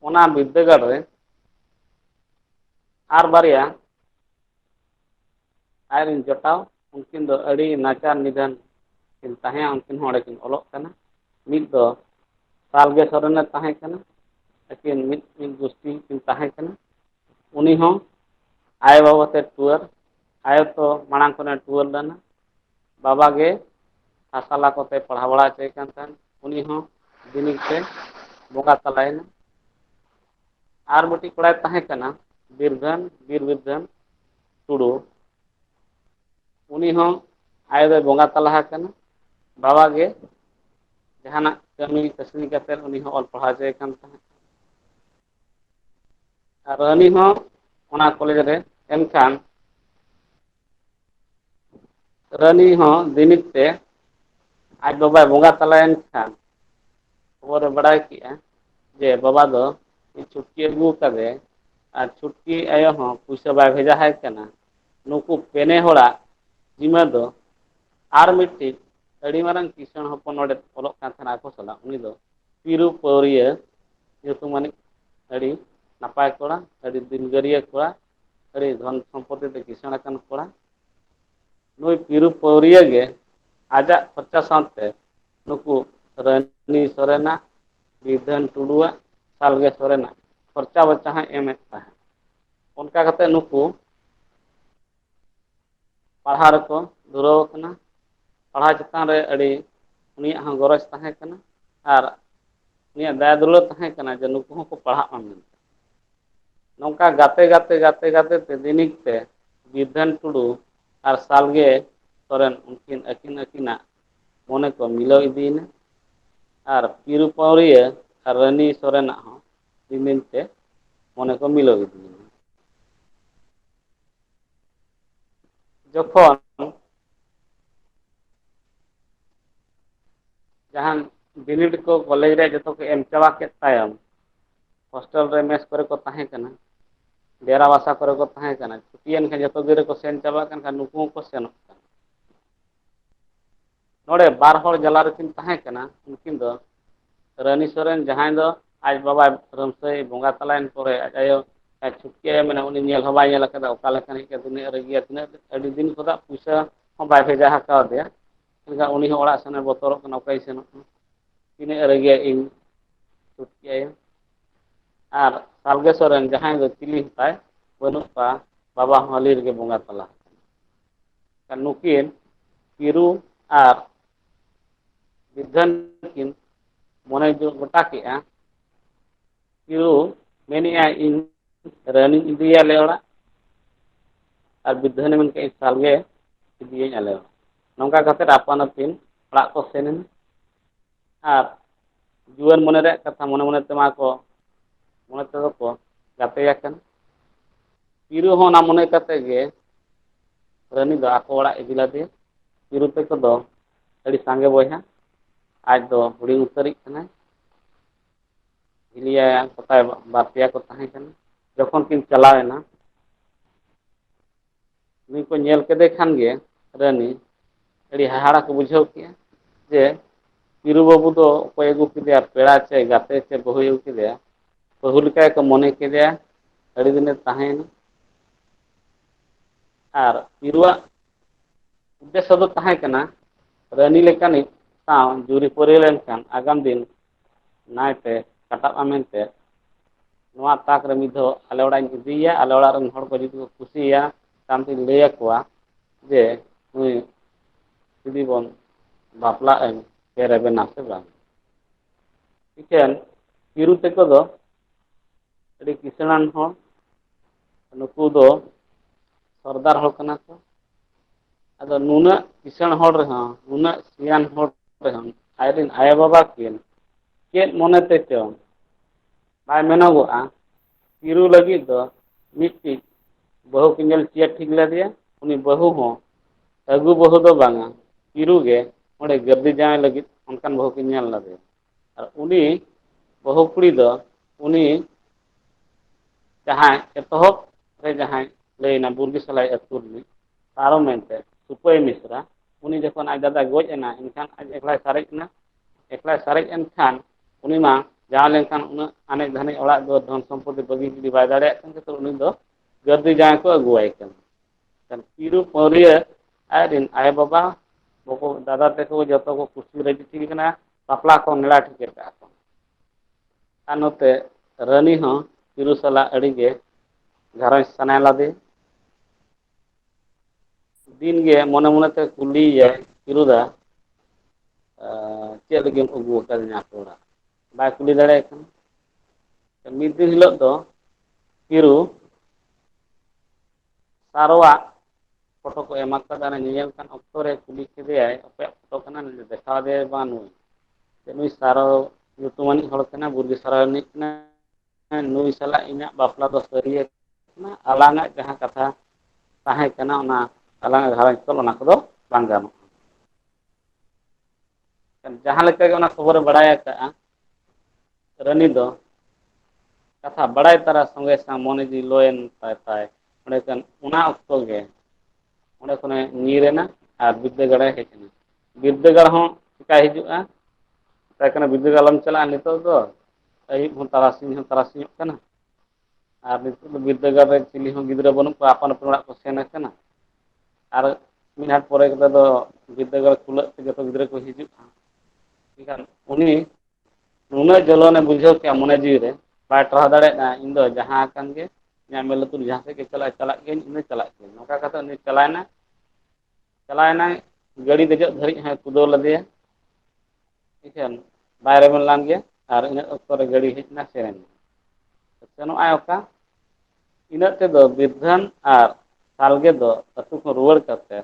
ᱚᱱᱟ ᱵᱤᱫᱽᱫᱟᱹᱜᱟᱲ ᱨᱮ ᱟᱨ ᱵᱟᱨᱭᱟ ᱟᱡ ᱨᱮᱱ ᱡᱚᱴᱟᱣ ᱩᱱᱠᱤᱱ ᱫᱚ ᱟᱹᱰᱤ ᱱᱟᱪᱟᱨ ᱱᱤᱫᱷᱟᱹᱱ ᱠᱤᱱ ᱛᱟᱦᱮᱸᱫᱼᱟ ᱩᱱᱠᱤᱱ ᱦᱚᱸ ᱚᱸᱰᱮ ᱠᱤᱱ ᱚᱞᱚᱜ ᱠᱟᱱᱟ ᱢᱤᱫ ᱫᱚ ᱥᱟᱞᱜᱮ ᱥᱚᱨᱮᱱᱮ ᱛᱟᱦᱮᱸ ᱠᱟᱱᱟ ᱟᱹᱠᱤᱱ ᱢᱤᱫ ᱢᱤᱫ ᱜᱩᱥᱴᱤ ᱠᱤᱱ ᱛᱟᱦᱮᱸ ᱠᱟᱱᱟ ᱩᱱᱤ ᱦᱚᱸ ᱟᱭᱳ ᱵᱟᱵᱟ ᱛᱮ ᱴᱩᱣᱟᱹᱨ ᱟᱭᱳ ᱛᱚ ᱢᱟᱲᱟᱝ ᱠᱷᱚᱱᱮ ᱴᱩᱣᱟᱹᱨ ᱞᱮᱱᱟ ᱵᱟᱵᱟ ᱜᱮ ᱦᱟᱥᱟᱞᱟ ᱠᱚᱛᱮ ᱯᱟᱲᱦᱟᱣ ᱵᱟᱲᱟ ᱦᱚᱪᱚᱭᱮ ᱠᱟᱱ ᱛᱟᱦᱮᱸᱫ ᱩᱱᱤ ᱦᱚᱸ ᱵᱤᱱᱤᱰ ᱛᱮ ᱵᱚᱸᱜᱟ ᱛᱟᱞᱟᱭᱮᱱᱟ ᱟᱨ ᱢᱤᱫᱴᱤᱡ ᱠᱚᱲᱟᱭ ᱛᱟᱦᱮᱸ ᱠᱟᱱᱟ ᱵᱤᱨᱫᱷᱟᱹᱱ ᱵᱤᱨ ᱵᱤᱨᱫᱷᱟᱹᱱ ᱴᱩᱰᱩ ᱩᱱᱤ ᱦᱚᱸ ᱟᱭᱳ ᱫᱚᱭ ᱵᱚᱸᱜᱟ ᱛᱟᱞᱟ ᱟᱠᱟᱱᱟ ᱵᱟᱵᱟ ᱜᱮ ᱡᱟᱦᱟᱱᱟᱜ ᱠᱟᱹᱢᱤ ᱠᱟᱹᱥᱱᱤ ᱠᱟᱛᱮᱫ ᱩᱱᱤ ᱦᱚᱸ ᱚᱞ ᱯᱟᱲᱦᱟᱣ ᱦᱚᱪᱚᱭᱮ ᱠᱟᱱ ᱛᱟᱦᱮᱸᱫ ᱟᱨ ᱨᱟᱱᱤ ᱦᱚᱸ ᱚᱱᱟ ᱠᱚᱞᱮᱡᱽ ᱨᱮ ᱮᱱᱠᱷᱟᱱ ᱨᱟᱹᱱᱤ ᱦᱚᱸ ᱫᱤᱱᱤᱛ ᱛᱮ ᱟᱡ ᱵᱟᱵᱟᱭ ᱵᱚᱸᱜᱟ ᱛᱟᱞᱟᱭᱮᱱ ᱠᱷᱟᱱ ᱠᱷᱚᱵᱚᱨ ᱮ ᱵᱟᱲᱟᱭ ᱠᱮᱜᱼᱟ ᱡᱮ ᱵᱟᱵᱟ ᱫᱚ ᱪᱷᱩᱴᱠᱤ ᱟᱹᱜᱩ ᱟᱠᱟᱫᱮ ᱟᱨ ᱪᱷᱩᱴᱠᱤ ᱟᱭᱳ ᱦᱚᱸ ᱯᱩᱭᱥᱟᱹ ᱵᱟᱭ ᱵᱷᱮᱡᱟ ᱟᱭ ᱠᱟᱱᱟ ᱱᱩᱠᱩ ᱯᱮᱱᱮ ᱦᱚᱲᱟᱜ ᱡᱤᱢᱟᱹ ᱫᱚ ᱟᱨ ᱢᱤᱫᱴᱤᱡ ᱟᱹᱰᱤ ᱢᱟᱨᱟᱝ ᱠᱤᱥᱟᱹᱬ ᱦᱚᱯᱚᱱ ᱱᱚᱰᱮ ᱚᱞᱚᱜ ᱠᱟᱱ ᱛᱟᱦᱮᱱᱟ ᱟᱠᱚ ᱥᱟᱞᱟᱜ ᱩᱱᱤ ᱫᱚ ᱯᱤᱨᱩ ᱯᱟᱹᱣᱨᱤᱭᱟᱹ ᱧᱩᱛᱩᱢ ᱟᱱᱤᱡ ᱟᱹᱰᱤ ᱱᱟᱯᱟᱭ ᱠᱚᱲᱟ ᱟᱹᱰᱤ ᱫᱤᱞᱜᱟᱹᱨᱤᱭᱟᱹ ᱠᱚᱲᱟ ᱟᱹᱰᱤ ᱫᱷᱚᱱ ᱥᱚᱢᱯᱚᱛᱤ ᱛᱮ ᱠᱤᱥᱟᱹᱬ ᱟᱠᱟᱱ ᱠᱚᱲᱟ ᱱᱩᱭ ᱯᱤᱨᱩ ᱯᱟᱹᱣᱨᱤᱭᱟᱹ ᱜᱮ ᱟᱡᱟᱜ ᱠᱷᱚᱨᱪᱟ ᱥᱟᱶᱛᱮ ᱱᱩᱠᱩ ᱨᱟᱱᱤ ᱥᱚᱨᱮᱱᱟᱜ ᱵᱤᱫᱷᱟᱹᱱ ᱴᱩᱰᱩᱣᱟᱜ ᱥᱟᱞᱜᱮ ᱥᱚᱨᱮᱱᱟᱜ ᱠᱷᱚᱨᱪᱟ ᱵᱚᱨᱪᱟ ᱦᱚᱸᱭ ᱮᱢᱮᱫ ᱛᱟᱦᱮᱸᱫ ᱚᱱᱠᱟ ᱠᱟᱛᱮᱫ ᱱᱩᱠᱩ ᱯᱟᱲᱦᱟᱣ ᱨᱮᱠᱚ ᱫᱷᱩᱨᱟᱹᱣ ᱟᱠᱟᱱᱟ ᱯᱟᱲᱦᱟᱣ ᱪᱮᱛᱟᱱ ᱨᱮ ᱟᱹᱰᱤ ᱩᱱᱤᱭᱟᱜ ᱦᱚᱸ ᱜᱚᱨᱚᱡᱽ ᱛᱟᱦᱮᱸ ᱠᱟᱱᱟ ᱟᱨ ᱩᱱᱤᱭᱟᱜ ᱫᱟᱭᱟ ᱫᱩᱞᱟᱹᱲ ᱛᱟᱦᱮᱸ ᱠᱟᱱᱟ ᱡᱮ ᱱᱩᱠᱩ ᱦᱚᱸᱠᱚ ᱯᱟᱲᱦᱟᱜ ᱢᱟ ᱢᱮᱱᱛᱮ ᱱᱚᱝᱠᱟ ᱜᱟᱛᱮ ᱜᱟᱛᱮ ᱜᱟᱛᱮ ᱜᱟᱛᱮ ᱛᱮ ᱫᱤᱱᱤᱠ ᱛᱮ ᱵᱤᱨᱫᱷᱟᱹᱱ ᱴᱩᱰᱩ ᱟᱨ ᱥᱟᱞᱜᱮ ᱥᱚᱨᱮᱱ ᱩᱱᱠᱤᱱ ᱟᱹᱠᱤᱱ ᱟᱹᱠᱤᱱᱟᱜ ᱢᱚᱱᱮ ᱠᱚ ᱢᱤᱞᱟᱹᱣ ᱤᱫᱤᱭᱮᱱᱟ ᱟᱨ ᱯᱤᱨᱩ ᱯᱟᱹᱣᱨᱤᱭᱟᱹ ᱟᱨ ᱨᱟᱹᱱᱤ ᱥᱚᱨᱮᱱᱟᱜ ᱦᱚᱸ ᱨᱤᱢᱤᱞ ᱛᱮ ᱢᱚᱱᱮ ᱠᱚ ᱢᱤᱞᱟᱹᱣ ᱤᱫᱤᱭᱮᱱᱟ ᱡᱚᱠᱷᱚᱱ ᱡᱟᱦᱟᱱ ᱵᱤᱱᱤᱰ ᱠᱚ ᱠᱚᱞᱮᱡᱽ ᱨᱮ ᱡᱚᱛᱚ ᱠᱚ ᱮᱢ ᱪᱟᱵᱟ ᱠᱮᱫ ᱛᱟᱭᱚᱢ ᱦᱳᱥᱴᱮᱞ ᱨᱮ ᱢᱮᱥ ᱠᱚᱨᱮ ᱠᱚ ᱛᱟᱦᱮᱸ ᱠᱟᱱᱟ ᱰᱮᱨᱟ ᱵᱟᱥᱟ ᱠᱚᱨᱮ ᱠᱚ ᱛᱟᱦᱮᱸ ᱠᱟᱱᱟ ᱪᱷᱩᱴᱤᱭᱮᱱ ᱠᱷᱟᱱ ᱡᱚᱛᱚ ᱜᱤᱫᱽᱨᱟᱹ ᱠᱚ ᱥᱮᱱ ᱪᱟᱵᱟᱜ ᱠᱟᱱ ᱠᱷᱟᱱ ᱱᱩᱠᱩ ᱦᱚᱸᱠᱚ ᱥᱮᱱᱚᱜ ᱠᱟᱱᱟ ᱱᱚᱰᱮ ᱵᱟᱨ ᱦᱚᱲ ᱡᱟᱞᱟ ᱨᱮᱠᱤᱱ ᱛᱟᱦᱮᱸ ᱠᱟᱱᱟ ᱩᱱᱠᱤᱱ ᱫᱚ ᱨᱟᱱᱤ ᱥᱚᱨᱮᱱ ᱡᱟᱦᱟᱸᱭ ᱫᱚ ᱟᱡ ᱵᱟᱵᱟ ᱨᱟᱹᱢᱥᱟᱹᱭ ᱵᱚᱸᱜᱟ ᱛᱟᱞᱟᱭᱮᱱ ᱯᱚᱨᱮ ᱟᱡ ᱟᱭᱳ ᱟᱨ ᱪᱷᱩᱴᱠᱤ ᱟᱭᱳ ᱢᱮᱱᱟᱭ ᱩᱱᱤ ᱧᱮᱞ ᱦᱚᱸ ᱵᱟᱭ ᱧᱮᱞ ᱟᱠᱟᱫᱟ ᱚᱠᱟ ᱞᱮᱠᱟᱱᱤᱡ ᱠᱟᱱ ᱛᱤᱱᱟᱹᱜ ᱨᱟᱹᱜᱤᱭᱟ ᱛᱤᱱᱟᱹᱜ ᱟᱹᱰᱤ ᱫᱤᱱ ᱠᱷᱚᱱᱟᱜ ᱯᱩᱭᱥᱟ ᱦᱚᱸ ᱵᱟᱭ ᱵᱷᱮᱡᱟ ᱟᱠᱟᱣᱟᱫᱮᱭᱟ ᱢᱮᱱᱠᱷᱟᱱ ᱩᱱᱤ ᱦᱚᱸ ᱚᱲᱟᱜ ᱥᱮᱱᱮ ᱵᱚᱛᱚᱨᱚᱜ ᱠᱟᱱᱟ ᱚᱠᱚᱭ ᱥᱮᱱᱚᱜ ᱠᱟᱱᱟ ᱛᱤᱱᱟᱹᱜ ᱨᱟᱹᱜᱤᱭᱟ ᱤᱧ ᱪᱷᱩᱴᱠᱤ ᱟᱭᱳ ᱟᱨ ᱥᱟᱞᱜᱮ ᱥᱚᱨᱮᱱ ᱡᱟᱦᱟᱸᱭ ᱫᱚ ᱪᱤᱞᱤ ᱦᱮᱛᱟᱭ ᱵᱟᱹᱱᱩᱜ ᱠᱚᱣᱟ ᱵᱟᱵᱟ ᱦᱚᱸ ᱦᱟᱹᱞᱤ ᱨᱮᱜᱮ ᱵᱚᱸᱜᱟ ᱛᱟᱞᱟ ᱱᱩᱠᱤᱱ ᱠᱤᱨᱩ ᱟᱨ ᱵᱤᱫᱷᱟᱹᱱ ᱠᱤᱱ ᱢᱚᱱᱮ ᱡᱳᱜ ᱜᱚᱴᱟ ᱠᱮᱫᱼᱟ ᱠᱤᱨᱩ ᱢᱮᱱᱮᱫᱼᱟᱭ ᱤᱧ ᱨᱟᱹᱱᱤᱧ ᱤᱫᱤᱭᱟ ᱟᱞᱮ ᱚᱲᱟᱜ ᱟᱨ ᱵᱤᱫᱷᱟᱹᱱᱮ ᱢᱮᱱ ᱠᱮᱫᱼᱟ ᱥᱟᱞᱜᱮ ᱤᱫᱤᱭᱟᱹᱧ ᱟᱞᱮ ᱚᱲᱟᱜ ᱱᱚᱝᱠᱟ ᱠᱟᱛᱮᱫ ᱟᱯᱟᱱ ᱟᱹᱯᱤᱱ ᱚᱲᱟᱜ ᱠᱚ ᱥᱮᱱ ᱮᱱᱟ ᱟᱨ ᱡᱩᱣᱟᱹᱱ ᱢᱚᱱᱮ ᱨᱮᱭᱟᱜ ᱠᱟᱛᱷᱟ ᱢᱚᱱᱮ ᱢᱚᱱᱮ ᱛᱮ ᱢᱟ ᱠᱚ ᱢᱚᱱᱮ ᱛᱮᱫᱚ ᱠᱚ ᱜᱟᱛᱮ ᱟᱠᱟᱱ ᱯᱤᱨᱩ ᱦᱚᱸ ᱚᱱᱟ ᱢᱚᱱᱮ ᱠᱟᱛᱮ ᱜᱮ ᱨᱟᱹᱱᱤ ᱫᱚ ᱟᱠᱚ ᱚᱲᱟᱜ ᱤᱫᱤ ᱞᱮᱫᱮᱭᱟ ᱯᱤᱨᱩ ᱛᱟᱠᱚ ᱫᱚ ᱟᱹᱰᱤ ᱥᱟᱸᱜᱮ ᱵᱚᱭᱦᱟ ᱟᱡ ᱫᱚ ᱦᱩᱰᱤᱧ ᱩᱛᱟᱹᱨᱤᱡ ᱠᱟᱱᱟᱭ ᱦᱤᱞᱤ ᱟᱭᱟ ᱠᱚ ᱛᱟᱭ ᱵᱟᱨ ᱯᱮᱭᱟ ᱠᱚ ᱛᱟᱦᱮᱸ ᱠᱟᱱᱟ ᱡᱚᱠᱷᱚᱱ ᱠᱤᱱ ᱪᱟᱞᱟᱣ ᱮᱱᱟ ᱩᱱᱤ ᱠᱚ ᱧᱮᱞ ᱠᱮᱫᱮ ᱠᱷᱟᱱ ᱜᱮ ᱨᱟᱹᱱᱤ ᱟᱹᱰᱤ ᱦᱟᱦᱟᱲᱟ ᱠᱚ ᱵᱩᱡᱷᱟᱹᱣ ᱠᱮᱜᱼᱟ ᱡᱮ ᱯᱤᱨᱩ ᱵᱟᱹᱵᱩ ᱫᱚ ᱚᱠᱚᱭ ᱟᱹᱜᱩ ᱠᱮᱫᱮᱭᱟ ᱯᱮᱲᱟ ᱪᱮ ᱜᱟᱛᱮ ᱪᱮ ᱵᱟᱹᱦᱩᱭ ᱟᱹᱜᱩ ᱠᱮᱫᱮᱭᱟ ᱵᱟᱹᱦᱩ ᱞᱮᱠᱟ ᱜᱮᱠᱚ ᱢᱚᱱᱮ ᱠᱮᱫᱮᱭᱟ ᱟᱹᱰᱤ ᱫᱤᱱᱮ ᱛᱟᱦᱮᱸᱭᱮᱱᱟ ᱟᱨ ᱯᱤᱨᱩᱣᱟᱜ ᱩᱫᱽᱫᱮᱥᱥᱚ ᱫᱚ ᱛᱟᱦᱮᱸ ᱠᱟᱱᱟ ᱨᱟᱹᱱᱤ ᱞᱮᱠᱟᱱᱤᱡ ᱥᱟᱶ ᱡᱩᱨᱤᱯᱟᱹᱨᱤ ᱞᱮᱱᱠᱷᱟᱱ ᱟᱜᱟᱢ ᱫᱤᱱ ᱱᱟᱭᱛᱮ ᱠᱟᱴᱟᱜ ᱢᱟ ᱢᱮᱱᱛᱮ ᱱᱚᱣᱟ ᱛᱟᱠ ᱨᱮ ᱢᱤᱫ ᱫᱷᱟᱣ ᱟᱞᱮ ᱚᱲᱟᱜ ᱤᱧ ᱤᱫᱤᱭᱮᱭᱟ ᱟᱞᱮ ᱚᱲᱟᱜ ᱨᱮᱱ ᱦᱚᱲ ᱠᱚ ᱡᱩᱫᱤ ᱠᱚ ᱠᱩᱥᱤᱭᱟ ᱛᱟᱭᱚᱢ ᱛᱤᱧ ᱞᱟᱹᱭ ᱟᱠᱚᱣᱟ ᱡᱮ ᱱᱩᱭ ᱡᱩᱫᱤ ᱵᱚᱱ ᱵᱟᱯᱞᱟᱜ ᱟᱹᱧ ᱥᱮ ᱨᱮᱵᱮᱱᱟ ᱥᱮ ᱵᱟᱝ ᱤᱠᱷᱟᱹᱱ ᱦᱤᱨᱩ ᱛᱟᱠᱚ ᱫᱚ ᱟᱹᱰᱤ ᱠᱤᱥᱟᱹᱬᱟᱱ ᱦᱚᱲ ᱱᱩᱠᱩ ᱫᱚ ᱥᱚᱨᱫᱟᱨ ᱦᱚᱲ ᱠᱟᱱᱟ ᱠᱚ ᱟᱫᱚ ᱱᱩᱱᱟᱹᱜ ᱠᱤᱥᱟᱹᱬ ᱦᱚᱲ ᱨᱮᱦᱚᱸ ᱱᱩᱱᱟᱹᱜ ᱥᱤᱭᱟᱱ ᱦᱚᱲ ᱨᱮᱦᱚᱸ ᱟᱡᱨᱮᱱ ᱟᱭᱳ ᱵᱟᱵᱟ ᱠᱤᱱ ᱪᱮᱫ ᱢᱚᱱᱮ ᱛᱮ ᱪᱚᱝ ᱵᱟᱭ ᱢᱮᱱᱚᱜᱚᱜᱼᱟ ᱛᱤᱨᱩ ᱞᱟᱹᱜᱤᱫ ᱫᱚ ᱢᱤᱫᱴᱤᱡ ᱵᱟᱹᱦᱩ ᱠᱤᱱ ᱧᱮᱞ ᱪᱮᱫ ᱴᱷᱤᱠ ᱞᱮᱫᱮᱭᱟ ᱩᱱᱤ ᱵᱟᱹᱦᱩ ᱦᱚᱸ ᱟᱹᱜᱩ ᱵᱟᱹᱦᱩ ᱫᱚ ᱵᱟᱝᱟ ᱛᱤᱨᱩ ᱜᱮ ᱚᱸᱰᱮ ᱜᱟᱹᱨᱫᱤ ᱡᱟᱶᱟᱭ ᱞᱟᱹᱜᱤᱫ ᱚᱱᱠᱟᱱ ᱵᱟᱹᱦᱩ ᱠᱤᱱ ᱧᱮᱞ ᱞᱮᱫᱮᱭᱟ ᱟᱨ ᱩᱱᱤ ᱵᱟᱹᱦᱩ ᱠᱩᱲᱤ ᱫᱚ ᱩᱱᱤ ᱡᱟᱦᱟᱸᱭ ᱮᱛᱚᱦᱚᱵ ᱨᱮ ᱡᱟᱦᱟᱸᱭ ᱞᱟᱹᱭᱱᱟ ᱵᱩᱨᱜᱤ ᱥᱟᱞᱟᱭ ᱟᱹᱛᱩ ᱨᱤᱱᱤᱡ ᱛᱟᱨᱚ ᱢᱮᱱᱛᱮ ᱥᱩᱯᱟᱹᱭ ᱢᱤᱥᱨᱟ ᱩᱱᱤ ᱡᱚᱠᱷᱚᱱ ᱟᱡ ᱫᱟᱫᱟᱭ ᱜᱚᱡ ᱮᱱᱟ ᱮᱱᱠᱷᱟᱱ ᱟᱡ ᱮᱠᱞᱟᱭ ᱥᱟᱨᱮᱡ ᱮᱱᱟ ᱮᱠᱞᱟᱭ ᱥᱟᱨᱮᱡ ᱮᱱ ᱠᱷᱟᱱ ᱩᱱᱤ ᱢᱟ ᱡᱟᱶᱟᱭ ᱞᱮᱱᱠᱷᱟᱱ ᱩᱱᱟᱹᱜ ᱟᱱᱮᱡ ᱫᱷᱟᱱᱮᱡ ᱚᱲᱟᱜ ᱫᱩᱣᱟᱹᱨ ᱫᱷᱚᱱ ᱥᱚᱢᱯᱚᱛᱤ ᱵᱟᱹᱜᱤ ᱡᱩᱫᱤ ᱵᱟᱭ ᱫᱟᱲᱮᱭᱟᱜ ᱠᱟᱱ ᱠᱷᱟᱡ ᱛᱚ ᱩᱱᱤ ᱫᱚ ᱜᱟᱹᱨᱫᱷᱤ ᱡᱟᱶᱟᱭ ᱠᱚ ᱟᱹᱜᱩᱣᱟᱭ ᱠᱟᱱᱟ ᱯᱤᱲᱩ ᱯᱟᱹᱣᱨᱤᱭᱟᱹ ᱟᱡ ᱨᱮᱱ ᱟᱭᱳ ᱵᱟᱵᱟ ᱵᱟᱠᱚ ᱫᱟᱫᱟ ᱛᱮᱠᱚ ᱡᱚᱛᱚ ᱠᱚ ᱠᱩᱥᱤ ᱨᱟᱹᱡᱤ ᱴᱷᱤᱠ ᱠᱟᱱᱟ ᱵᱟᱯᱞᱟ ᱠᱚ ᱱᱮᱲᱟ ᱴᱷᱤᱠ ᱠᱟᱜᱼᱟ ᱠᱚ ᱟᱨ ᱱᱚᱛᱮ ᱨᱟᱹᱱᱤ ᱦᱚᱸ ᱯᱤᱨᱩ ᱥᱟᱞᱟᱜ ᱟᱹᱰᱤ ᱜᱮ ᱜᱷᱟᱨᱚᱸᱡᱽ ᱥᱟᱱᱟᱭ ᱞᱟᱫᱮ ᱫᱤᱱ ᱜᱮ ᱢᱚᱱᱮ ᱢᱚᱱᱮ ᱛᱮ ᱠᱩᱞᱤᱭᱮᱭᱟᱭ ᱯᱤᱨᱩ ᱫᱟ ᱪᱮᱫ ᱞᱟᱹᱜᱤᱫ ᱮᱢ ᱟᱹᱜᱩ ᱟᱠᱟᱫᱤᱧᱟ ᱟᱛᱳ ᱚᱲᱟᱜ ᱵᱟᱭ ᱠᱩᱞᱤ ᱫᱟᱲᱮᱭᱟᱭ ᱠᱟᱱᱟ ᱢᱤᱫ ᱫᱤᱱ ᱦᱤᱞᱳᱜ ᱫᱚ ᱯᱤᱨᱩ ᱥᱟᱨᱚᱣᱟ ᱯᱷᱳᱴᱳ ᱠᱚ ᱮᱢᱟ ᱠᱟᱫᱟ ᱚᱱᱟ ᱧᱮᱧᱮᱞ ᱠᱟᱱ ᱚᱠᱛᱚ ᱨᱮ ᱠᱩᱞᱤ ᱠᱮᱫᱮᱭᱟᱭ ᱚᱠᱚᱭᱟᱜ ᱯᱷᱳᱴᱳ ᱠᱟᱱᱟ ᱱᱩᱭ ᱫᱚ ᱫᱮᱠᱷᱟᱣ ᱟᱫᱮᱭᱟᱭ ᱵᱟᱝ ᱱᱩᱭ ᱱᱩᱭ ᱥᱟᱨᱚ ᱧᱩᱛᱩᱢᱟᱱᱤᱡ ᱦᱚᱲ ᱠᱟᱱᱟᱭ ᱵᱩᱨᱜᱮ ᱥᱟᱨᱚ ᱨᱤᱱᱤᱡ ᱠᱟᱱᱟᱭ ᱦᱮᱸ ᱱᱩᱭ ᱥᱟᱞᱟᱜ ᱤᱧᱟᱹᱜ ᱵᱟᱯᱞᱟ ᱫᱚ ᱥᱟᱹᱨᱭᱟᱹᱛ ᱠᱟᱱᱟ ᱟᱞᱟᱝ ᱟᱜ ᱡᱟᱦᱟᱸ ᱠᱟᱛᱷᱟ ᱛᱟᱦᱮᱸ ᱠᱟᱱᱟ ᱚᱱᱟ ᱟᱞᱟᱝ ᱟᱜ ᱜᱷᱟᱨᱚᱸᱡᱽ ᱛᱚᱞ ᱚᱱᱟ ᱠᱚᱫᱚ ᱵᱟᱝ ᱜᱟᱱᱚᱜᱼᱟ ᱡᱟᱦᱟᱸ ᱞᱮᱠᱟ ᱜᱮ ᱚᱱᱟ ᱠᱷᱚᱵᱚᱨᱮ ᱵᱟᱲᱟᱭ ᱟᱠᱟᱜᱼᱟ ᱨᱟᱹᱱᱤ ᱫᱚ ᱠᱟᱛᱷᱟ ᱵᱟᱲᱟᱭ ᱛᱟᱨᱟ ᱥᱚᱸᱜᱮ ᱥᱟᱶ ᱢᱚᱱᱮ ᱡᱤᱣᱤ ᱞᱚᱭᱮᱱ ᱛᱟᱭ ᱛᱟᱭ ᱚᱸᱰᱮ ᱠᱷᱟᱱ ᱚᱱᱟ ᱚᱠᱛᱚ ᱜᱮ ᱚᱸᱰᱮ ᱠᱷᱚᱱᱮ ᱧᱤᱨ ᱮᱱᱟ ᱟᱨ ᱵᱤᱫᱽᱫᱟᱹᱜᱟᱲᱮ ᱦᱮᱡ ᱮᱱᱟ ᱵᱤᱨᱫᱟᱹᱜᱟᱲ ᱦᱚᱸ ᱪᱮᱠᱟᱭ ᱦᱤᱡᱩᱜᱼᱟ ᱢᱮᱛᱟᱭ ᱠᱟᱱᱟ ᱵᱤᱫᱟᱹᱜᱟᱲ ᱟᱞᱚᱢ ᱪᱟᱞᱟᱜᱼᱟ ᱱᱤᱛᱚᱜ ᱫᱚ ᱟᱹᱭᱩᱵ ᱦᱚᱸ ᱛᱟᱨᱟᱥᱤᱧ ᱦᱚᱸ ᱛᱟᱨᱟᱥᱤᱧᱚᱜ ᱠᱟᱱᱟ ᱟᱨ ᱱᱤᱛᱚᱜ ᱫᱚ ᱵᱤᱨᱫᱟᱹᱜᱟᱲ ᱨᱮ ᱪᱤᱞᱤ ᱦᱚᱸ ᱜᱤᱫᱽᱨᱟᱹ ᱵᱟᱹᱱᱩᱜ ᱠᱚᱣᱟ ᱟᱯᱟᱱ ᱟᱹᱯᱤᱱ ᱚᱲᱟᱜ ᱠᱚ ᱥᱮᱱ ᱟᱠᱟᱱᱟ ᱟᱨ ᱢᱤᱫ ᱜᱷᱟᱴ ᱯᱚᱨᱮ ᱠᱟᱛᱮ ᱫᱚ ᱵᱤᱨᱫᱟᱹᱜᱟᱲ ᱠᱷᱩᱞᱟᱹᱜ ᱛᱮ ᱡᱚᱛᱚ ᱜᱤᱫᱽᱨᱟᱹ ᱠᱚ ᱦᱤᱡᱩᱜᱼᱟ ᱮᱠᱷᱟᱱ ᱩᱱᱤ ᱱᱩᱱᱟᱹᱜ ᱡᱚᱞᱚᱱᱮ ᱵᱩᱡᱷᱟᱹᱣ ᱠᱮᱜᱼᱟ ᱢᱚᱱᱮ ᱡᱤᱣᱤ ᱨᱮ ᱵᱟᱭ ᱴᱟᱨᱦᱟᱣ ᱫᱟᱲᱮᱭᱟᱜᱼᱟ ᱤᱧ ᱫᱚ ᱡᱟᱦᱟᱸ ᱟᱠᱟᱱ ᱜᱮ ᱤᱧᱟᱹᱜ ᱢᱮᱫ ᱞᱩᱛᱩᱨ ᱡᱟᱦᱟᱸ ᱥᱮᱫ ᱜᱮ ᱪᱟᱞᱟᱜᱼᱟ ᱪᱟᱞᱟᱜ ᱜᱤᱭᱟᱹᱧ ᱤᱧ ᱫᱚ ᱪᱟᱞᱟᱜ ᱜᱤᱭᱟᱹᱧ ᱱᱚᱝᱠᱟ ᱠᱟᱛᱮ ᱩᱱᱤ ᱪᱟᱞᱟᱣᱮᱱᱟ ᱪᱟᱞᱟᱣᱮᱱᱟᱭ ᱜᱟᱹᱲᱤ ᱫᱮᱡᱚᱜ ᱫᱷᱟᱹᱨᱤᱡ ᱦᱚᱸᱭ ᱠᱩᱫᱟᱹᱣ ᱞᱮᱫᱮᱭᱟ ᱴᱷᱤᱠᱟᱹᱱ ᱵᱟᱭ ᱨᱮᱵᱮᱱ ᱞᱟᱝ ᱜᱮᱭᱟ ᱟᱨ ᱤᱱᱟᱹᱜ ᱚᱠᱛᱚ ᱨᱮ ᱜᱟᱹᱲᱤ ᱦᱮᱡ ᱮᱱᱟ ᱥᱮᱱ ᱥᱮᱱᱚᱜ ᱟᱭ ᱚᱠᱟ ᱤᱱᱟᱹᱜ ᱛᱮᱫᱚ ᱵᱤᱨᱫᱷᱟᱹᱱ ᱟᱨ ᱥᱟᱞᱜᱮ ᱫᱚ ᱟᱹᱛᱩ ᱠᱷᱚᱱ ᱨᱩᱣᱟᱹᱲ ᱠᱟᱛᱮ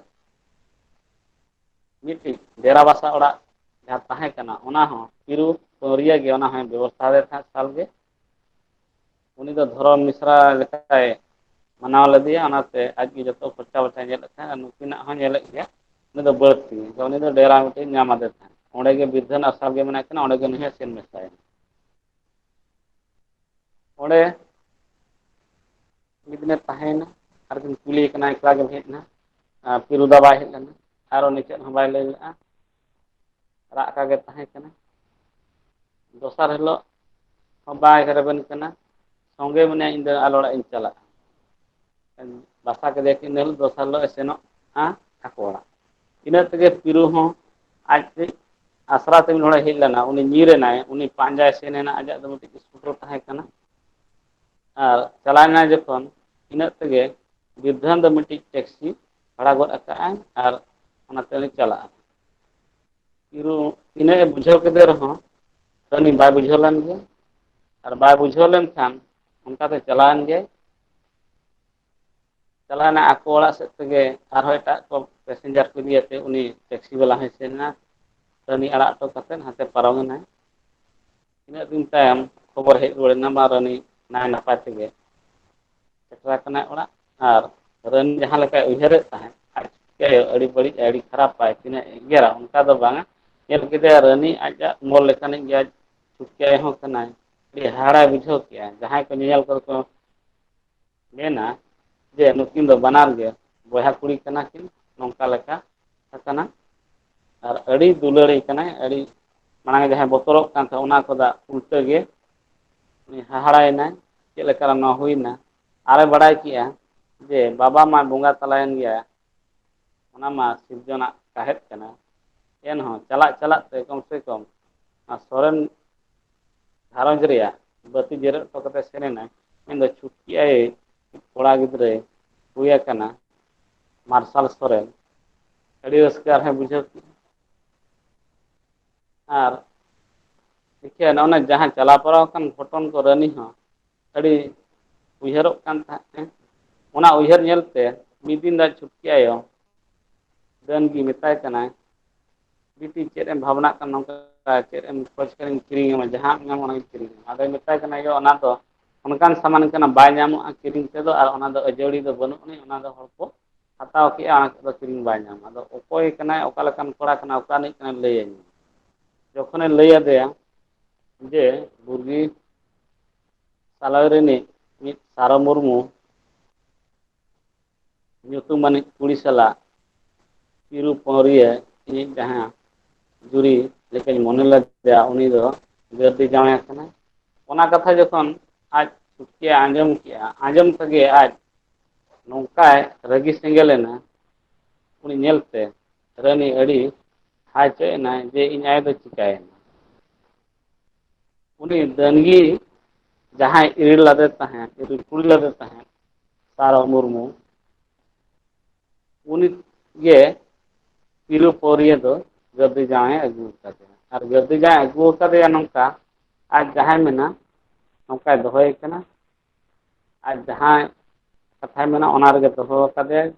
ᱢᱤᱫᱴᱤᱡ ᱰᱮᱨᱟ ᱵᱟᱥᱟ ᱚᱲᱟᱜ ᱡᱟᱦᱟᱸ ᱛᱟᱦᱮᱸ ᱠᱟᱱᱟ ᱚᱱᱟ ᱦᱚᱸ ᱪᱤᱨᱩ ᱯᱟᱹᱣᱨᱤᱭᱟᱹ ᱜᱮ ᱚᱱᱟ ᱦᱚᱸᱭ ᱵᱮᱵᱚᱥᱛᱷᱟ ᱟᱫᱮ ᱛᱟᱦᱮᱸᱫ ᱥᱟᱞ ᱜᱮ ᱩᱱᱤ ᱫᱚ ᱫᱷᱚᱨᱚᱢ ᱢᱤᱥᱨᱟ ᱞᱮᱠᱟᱭ ᱢᱟᱱᱟᱣ ᱞᱮᱫᱮᱭᱟ ᱚᱱᱟᱛᱮ ᱟᱡᱜᱮ ᱡᱚᱛᱚ ᱠᱷᱚᱨᱪᱟ ᱵᱟᱲᱟ ᱧᱮᱞᱮᱫ ᱛᱟᱦᱮᱸᱱᱟ ᱟᱨ ᱱᱩᱠᱤᱱᱟᱜ ᱦᱚᱸ ᱧᱮᱞᱮᱫ ᱜᱮᱭᱟ ᱩᱱᱤ ᱫᱚ ᱵᱟᱹᱲᱛᱤ ᱩᱱᱤ ᱫᱚ ᱰᱮᱨᱟ ᱢᱤᱫᱴᱮᱱ ᱧᱟᱢ ᱟᱫᱮ ᱛᱟᱦᱮᱸᱱ ᱚᱸᱰᱮ ᱜᱮ ᱵᱤᱨᱫᱷᱟᱹ ᱟᱥᱨᱚᱢ ᱜᱮ ᱢᱮᱱᱟᱜ ᱠᱤᱱᱟ ᱚᱸᱰᱮ ᱜᱮ ᱱᱩᱭ ᱦᱚᱸ ᱥᱮᱱ ᱢᱮᱥᱟᱭᱟ ᱚᱸᱰᱮ ᱢᱤᱫ ᱫᱤᱱᱮ ᱛᱟᱦᱮᱸᱭᱮᱱᱟ ᱟᱨ ᱠᱤᱱ ᱠᱩᱞᱤᱭᱮ ᱠᱟᱱᱟ ᱮᱠᱞᱟ ᱜᱮᱢ ᱦᱮᱡ ᱮᱱᱟ ᱯᱷᱤᱨᱩᱫᱟ ᱵᱟᱭ ᱦᱮᱡ ᱞᱮᱱᱟ ᱟᱨᱚ ᱩᱱᱤ ᱪᱮᱫ ᱦᱚᱸ ᱵᱟᱭ ᱞᱟᱹᱭ ᱞᱮᱫᱼᱟ ᱨᱟᱜ ᱟᱠᱟ ᱜᱮ ᱛᱟᱦᱮᱸ ᱠᱟᱱᱟ ᱫᱚᱥᱟᱨ ᱦᱤᱞᱳᱜ ᱦᱚᱸ ᱵᱟᱭ ᱨᱮᱵᱮᱱ ᱠᱟᱱᱟ ᱥᱚᱸᱜᱮ ᱢᱮᱱᱟᱭᱟ ᱤᱧ ᱫᱚ ᱟᱞᱚ ᱚᱲᱟᱜ ᱤᱧ ᱪᱟᱞᱟᱜᱼᱟ ᱵᱟᱥᱟ ᱠᱮᱫᱮᱭᱟ ᱠᱤᱱ ᱤᱱᱟᱹ ᱦᱤᱞᱳᱜ ᱫᱚᱥᱟᱨ ᱦᱤᱞᱳᱜ ᱮ ᱥᱮᱱᱚᱜᱼᱟ ᱟᱠᱚ ᱚᱲᱟᱜ ᱤᱱᱟᱹ ᱛᱮᱜᱮ ᱯᱤᱨᱩ ᱦᱚᱸ ᱟᱡ ᱛᱮᱡ ᱟᱥᱨᱟ ᱛᱮ ᱢᱤᱫ ᱦᱚᱲᱮ ᱦᱮᱡ ᱞᱮᱱᱟ ᱩᱱᱤ ᱧᱤᱨ ᱮᱱᱟᱭ ᱩᱱᱤ ᱯᱟᱸᱡᱟᱭ ᱥᱮᱱ ᱮᱱᱟ ᱟᱡᱟᱜ ᱫᱚ ᱢᱤᱫᱴᱤᱡ ᱤᱥᱠᱩᱴᱚᱨ ᱛᱟᱦᱮᱸ ᱠᱟᱱᱟ ᱟᱨ ᱪᱟᱞᱟᱣ ᱮᱱᱟᱭ ᱡᱚᱠᱷᱚᱱ ᱤᱱᱟᱹᱜ ᱛᱮᱜᱮ ᱵᱤᱨᱫᱷᱟᱹᱱ ᱫᱚ ᱢᱤᱫᱴᱤᱡ ᱴᱮᱠᱥᱤ ᱵᱷᱟᱲᱟ ᱜᱚᱫ ᱟᱠᱟᱫ ᱟᱭ ᱟᱨ ᱚᱱᱟ ᱛᱮ ᱩᱱᱤ ᱪᱟᱞᱟᱜᱼᱟ ᱤᱨᱩ ᱤᱱᱟᱹᱜ ᱮ ᱵᱩᱡᱷᱟᱹᱣ ᱠᱮᱫᱮ ᱨᱮᱦᱚᱸ ᱩᱱᱤ ᱵᱟᱭ ᱵᱩᱡᱷᱟᱹᱣ ᱞᱮᱱ ᱜᱮᱭᱟ ᱟᱨ ᱵᱟᱭ ᱵᱩᱡᱷᱟᱹᱣ ᱞᱮᱱᱠᱷᱟᱱ ᱚᱱᱠᱟ ᱛᱮ ᱪᱟᱞᱟᱣᱮᱱ ᱜᱮ ᱪᱟᱞᱟᱣᱱᱟ ᱟᱠᱚ ᱚᱲᱟᱜ ᱥᱮᱫ ᱛᱮᱜᱮ ᱟᱨᱦᱚᱸ ᱮᱴᱟᱜ ᱠᱚ ᱯᱮᱥᱮᱧᱡᱟᱨ ᱠᱚ ᱤᱫᱤᱭᱟᱛᱮ ᱩᱱᱤ ᱴᱮᱠᱥᱤ ᱵᱟᱞᱟ ᱦᱚᱸᱭ ᱥᱮᱱ ᱮᱱᱟ ᱨᱟᱹᱱᱤ ᱟᱲᱟᱜ ᱦᱚᱴᱚ ᱠᱟᱛᱮᱫ ᱦᱟᱱᱛᱮ ᱯᱟᱨᱚᱢᱮᱱᱟᱭ ᱛᱤᱱᱟᱹᱜ ᱫᱤᱱ ᱛᱟᱭᱚᱢ ᱠᱷᱚᱵᱚᱨ ᱦᱮᱡ ᱨᱩᱣᱟᱹᱲ ᱮᱱᱟ ᱵᱟᱝ ᱨᱟᱱᱤ ᱱᱟᱭ ᱱᱟᱯᱟᱭ ᱛᱮᱜᱮ ᱥᱮᱴᱮᱨ ᱟᱠᱟᱱᱟᱭ ᱚᱲᱟᱜ ᱟᱨ ᱨᱟᱹᱱ ᱡᱟᱦᱟᱸ ᱞᱮᱠᱟᱭ ᱩᱭᱦᱟᱹᱨᱮᱫ ᱛᱟᱦᱮᱸᱫ ᱟᱡ ᱪᱤᱠᱟᱹᱭᱟ ᱟᱹᱰᱤ ᱵᱟᱹᱲᱤᱡ ᱟᱭ ᱟᱹᱰᱤ ᱠᱷᱟᱨᱟᱯ ᱟᱭ ᱛᱤᱱᱟᱹᱜ ᱮᱜᱮᱨᱟ ᱚᱱᱠᱟ ᱫᱚ ᱵᱟᱝᱟ ᱧᱮᱞ ᱠᱮᱫᱮᱭᱟ ᱨᱟᱹᱱᱤ ᱟᱡᱟᱜ ᱢᱚᱞ ᱞᱮᱠᱟᱱᱤᱡ ᱜᱮ ᱟᱡ ᱪᱷᱩᱴᱠᱟᱹᱭ ᱦᱚᱸ ᱠᱟᱱᱟᱭ ᱟᱹᱰᱤ ᱦᱟᱦᱟᱲᱟᱭ ᱵᱩᱡᱷᱟᱹᱣ ᱠᱮᱫᱼᱟ ᱡᱟᱦᱟᱸᱭ ᱠᱚ ᱧᱮᱧᱮᱞ ᱠᱚ ᱠᱚ ᱢᱮᱱᱟ ᱡᱮ ᱱᱩᱠᱤᱱ ᱫᱚ ᱵᱟᱱᱟᱨ ᱜᱮ ᱵᱚᱭᱦᱟ ᱠᱩᱲᱤ ᱠᱟᱱᱟ ᱠᱤᱱ ᱱᱚᱝᱠᱟ ᱞᱮᱠᱟ ᱟᱠᱟᱱᱟ ᱟᱨ ᱟᱹᱰᱤ ᱫᱩᱞᱟᱹᱲᱮ ᱠᱟᱱᱟᱭ ᱟᱹᱰᱤ ᱢᱟᱲᱟᱝ ᱡᱟᱦᱟᱸᱭ ᱵᱚᱛᱚᱨᱚᱜ ᱠᱟᱱ ᱛᱟᱦᱮᱸᱫ ᱚᱱᱟ ᱠᱷᱚᱫᱟ ᱩᱞᱴᱟᱹ ᱜᱮ ᱩᱱᱤ ᱦᱟᱦᱟᱲᱟᱭᱮᱱᱟᱭ ᱪᱮᱫ ᱞᱮᱠᱟᱨᱮ ᱱᱚᱣᱟ ᱦᱩᱭᱱᱟ ᱟᱨᱮ ᱵᱟᱲᱟᱭ ᱠᱮᱜᱼᱟ ᱡᱮ ᱵᱟᱵᱟ ᱢᱟ ᱵᱚᱸᱜᱟ ᱛᱟᱞᱟᱭᱮᱱ ᱜᱮᱭᱟ ᱚᱱᱟ ᱢᱟ ᱥᱤᱨᱡᱚᱱᱟᱜ ᱥᱟᱦᱮᱫ ᱠᱟᱱᱟ ᱮᱱᱦᱚᱸ ᱪᱟᱞᱟᱜ ᱪᱟᱞᱟᱜ ᱛᱮ ᱠᱚᱢ ᱥᱮ ᱠᱚᱢ ᱟᱨ ᱥᱚᱨᱮᱱ ᱜᱷᱟᱨᱚᱸᱡᱽ ᱨᱮᱭᱟᱜ ᱵᱟᱹᱛᱤ ᱡᱮᱨᱮᱫ ᱦᱚᱴᱚ ᱠᱟᱛᱮ ᱥᱮᱱ ᱮᱱᱟᱭ ᱢᱮᱱᱫᱚ ᱪᱷᱩᱴᱠᱤ ᱟᱭᱮ ᱠᱚᱲᱟ ᱜᱤᱫᱽᱨᱟᱹᱭ ᱦᱩᱭ ᱟᱠᱟᱱᱟ ᱢᱟᱨᱥᱟᱞ ᱥᱚᱨᱮᱱ ᱟᱹᱰᱤ ᱨᱟᱹᱥᱠᱟᱹ ᱟᱨᱦᱚᱸᱭ ᱵᱩᱡᱷᱟᱹᱣ ᱠᱮᱫᱼᱟ ᱟᱨ ᱤᱠᱷᱟᱹᱱ ᱚᱱᱮ ᱡᱟᱦᱟᱸ ᱪᱟᱞᱟᱣ ᱯᱟᱲᱟᱣ ᱟᱠᱟᱱ ᱜᱷᱚᱴᱚᱱ ᱠᱚ ᱨᱟᱹᱱᱤ ᱦᱚᱸ ᱟᱹᱰᱤ ᱩᱭᱦᱟᱹᱨᱚᱜ ᱠᱟᱱ ᱛᱟᱦᱮᱸᱫ ᱮ ᱚᱱᱟ ᱩᱭᱦᱟᱹᱨ ᱧᱮᱞᱛᱮ ᱢᱤᱫ ᱫᱤᱱ ᱟᱡ ᱪᱷᱩᱴᱠᱤ ᱟᱭᱳ ᱰᱟᱹᱱ ᱜᱮ ᱢᱮᱛᱟᱭ ᱠᱟᱱᱟᱭ ᱵᱤᱴᱤ ᱪᱮᱫ ᱮᱢ ᱵᱷᱟᱵᱽᱱᱟᱜ ᱠᱟᱱᱟ ᱱᱚᱝᱠᱟ ᱪᱮᱫ ᱮᱢ ᱠᱷᱚᱡᱽ ᱠᱟᱱᱟᱧ ᱠᱤᱨᱤᱧ ᱟᱢᱟ ᱡᱟᱦᱟᱸᱢ ᱧᱟᱢᱟ ᱚᱱᱟᱧ ᱠᱤᱨᱤᱧ ᱟᱢᱟ ᱟᱫᱚᱭ ᱢᱮᱛᱟᱭ ᱠᱟᱱᱟ ᱭᱳ ᱚᱱᱟ ᱫᱚ ᱚᱱᱠᱟᱱ ᱥᱟᱢᱟᱱ ᱠᱟᱱᱟ ᱵᱟᱭ ᱧᱟᱢᱚᱜᱼᱟ ᱠᱤᱨᱤᱧ ᱛᱮᱫᱚ ᱟᱨ ᱚᱱᱟ ᱫᱚ ᱟᱹᱡᱟᱹᱲᱤ ᱫᱚ ᱵᱟᱹᱱᱩᱜ ᱟᱹᱱᱤᱡ ᱚᱱᱟ ᱫᱚ ᱦᱚᱲ ᱠᱚ ᱦᱟᱛᱟᱣ ᱠᱮᱫᱼᱟ ᱚᱱᱟ ᱛᱮᱫᱚ ᱠᱤᱨᱤᱧ ᱵᱟᱭ ᱧᱟᱢᱟ ᱟᱫᱚ ᱚᱠᱚᱭ ᱠᱟᱱᱟᱭ ᱚᱠᱟ ᱞᱮᱠᱟᱱ ᱠᱚᱲᱟ ᱠᱟᱱᱟᱭ ᱚᱠᱟ ᱨᱤᱱᱤᱡ ᱠᱟᱱᱟᱭ ᱞᱟᱹᱭᱟᱹᱧ ᱢᱮ ᱡᱚᱠᱷᱚᱱᱮ ᱞᱟᱹᱭ ᱟᱫᱮᱭᱟ ᱡᱮ ᱵᱩᱨᱜᱤ ᱥᱟᱞᱟᱭ ᱨᱤᱱᱤᱡ ᱢᱤᱫ ᱥᱟᱨᱚ ᱢᱩᱨᱢᱩ ᱧᱩᱛᱩᱢᱟᱱᱤᱡ ᱠᱩᱲᱤ ᱥᱟᱞᱟᱜ ᱪᱤᱨᱩ ᱯᱟᱹᱣᱨᱤᱭᱟᱹ ᱤᱧᱤᱡ ᱡᱟᱦᱟᱸ ᱡᱩᱨᱤ ᱞᱮᱠᱟᱧ ᱢᱚᱱᱮ ᱞᱮᱫᱮᱭᱟ ᱩᱱᱤ ᱫᱚ ᱜᱟᱹᱨᱫᱤ ᱡᱟᱶᱟᱭ ᱟᱠᱟᱱᱟᱭ ᱚᱱᱟ ᱠᱟᱛᱷᱟ ᱡᱚᱠᱷᱚᱱ ᱟᱡ ᱥᱩᱠᱮᱭ ᱟᱸᱡᱚᱢ ᱠᱮᱜᱼᱟ ᱟᱸᱡᱚᱢ ᱛᱮᱜᱮ ᱟᱡ ᱱᱚᱝᱠᱟᱭ ᱨᱟᱹᱜᱤ ᱥᱮᱸᱜᱮᱞ ᱮᱱᱟ ᱩᱱᱤ ᱧᱮᱞᱛᱮ ᱨᱟᱹᱱᱤ ᱟᱹᱰᱤ ᱦᱟᱭ ᱪᱚᱭ ᱮᱱᱟᱭ ᱡᱮ ᱤᱧ ᱟᱭᱳ ᱫᱚ ᱪᱤᱠᱟᱹᱭᱮᱱᱟ ᱩᱱᱤ ᱰᱟᱹᱱᱜᱤ ᱡᱟᱦᱟᱸᱭ ᱤᱨᱤᱞ ᱞᱟᱫᱮ ᱛᱟᱦᱮᱸᱫ ᱤᱨᱤᱞ ᱠᱩᱲᱤ ᱞᱟᱫᱮ ᱛᱟᱦᱮᱸᱫ ᱥᱟᱨᱚ ᱢᱩᱨᱢᱩ ᱩᱱᱤ ᱜᱮ ᱯᱤᱞᱩ ᱯᱟᱹᱣᱨᱤᱭᱟᱹ ᱫᱚ ᱜᱟᱹᱫᱤ ᱡᱟᱶᱟᱭᱮ ᱟᱹᱜᱩ ᱟᱠᱟᱫᱮᱭᱟ ᱟᱨ ᱜᱟᱹᱫᱤ ᱡᱟᱶᱟᱭ ᱟᱹᱜᱩ ᱟᱠᱟᱫᱮᱭᱟ ᱱᱚᱝᱠᱟ ᱟᱡ ᱡᱟᱦᱟᱸᱭ ᱢᱮᱱᱟ ᱱᱚᱝᱠᱟᱭ ᱫᱚᱦᱚᱭᱮ ᱠᱟᱱᱟ ᱟᱡ ᱡᱟᱦᱟᱸᱭ ᱠᱟᱛᱷᱟᱭ ᱢᱮᱱᱟ ᱚᱱᱟ ᱨᱮᱜᱮ ᱫᱚᱦᱚ ᱟᱠᱟᱫᱮᱭᱟᱭ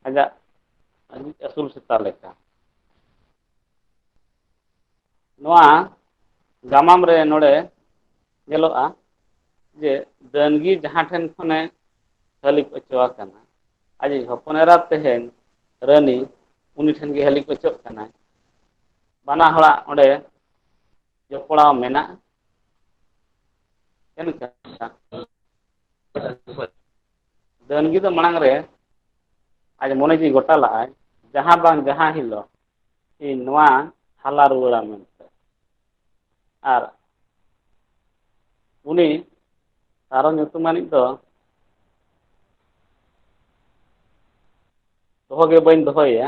ᱟᱡᱟᱜ ᱟᱹᱥᱩᱞ ᱥᱮᱛᱟ ᱞᱮᱠᱟ ᱱᱚᱣᱟ ᱜᱟᱢᱟᱢ ᱨᱮ ᱱᱚᱰᱮ ᱧᱮᱞᱚᱜᱼᱟ ᱡᱮ ᱰᱟᱹᱱᱜᱤ ᱡᱟᱦᱟᱸ ᱴᱷᱮᱱ ᱠᱷᱚᱱᱮ ᱦᱟᱹᱞᱤᱯ ᱦᱚᱪᱚ ᱟᱠᱟᱱᱟ ᱟᱡᱤᱡ ᱦᱚᱯᱚᱱ ᱮᱨᱟ ᱛᱮᱦᱮᱧ ᱨᱟᱹᱱᱤ ᱩᱱᱤ ᱴᱷᱮᱱ ᱜᱮ ᱦᱟᱹᱞᱤ ᱚᱪᱚᱜ ᱠᱟᱱᱟᱭ ᱵᱟᱱᱟ ᱦᱚᱲᱟᱜ ᱚᱸᱰᱮ ᱡᱚᱯᱲᱟᱣ ᱢᱮᱱᱟᱜᱼᱟ ᱪᱮᱫ ᱞᱮᱠᱟ ᱰᱟᱹᱱᱜᱤ ᱫᱚ ᱢᱟᱲᱟᱝ ᱨᱮ ᱟᱡ ᱢᱚᱱᱮ ᱡᱤᱣᱤ ᱜᱚᱴᱟ ᱞᱟᱜᱼᱟᱭ ᱡᱟᱦᱟᱸ ᱵᱟᱝ ᱡᱟᱦᱟᱸ ᱦᱤᱞᱳᱜ ᱤᱧ ᱱᱚᱣᱟ ᱦᱟᱞᱟ ᱨᱩᱣᱟᱹᱲᱟ ᱢᱮᱱᱛᱮ ᱟᱨ ᱩᱱᱤ ᱥᱟᱨᱚ ᱧᱩᱛᱩᱢᱟᱱᱤᱡ ᱫᱚ ᱫᱚᱦᱚ ᱜᱮ ᱵᱟᱹᱧ ᱫᱚᱦᱚᱭᱮᱭᱟ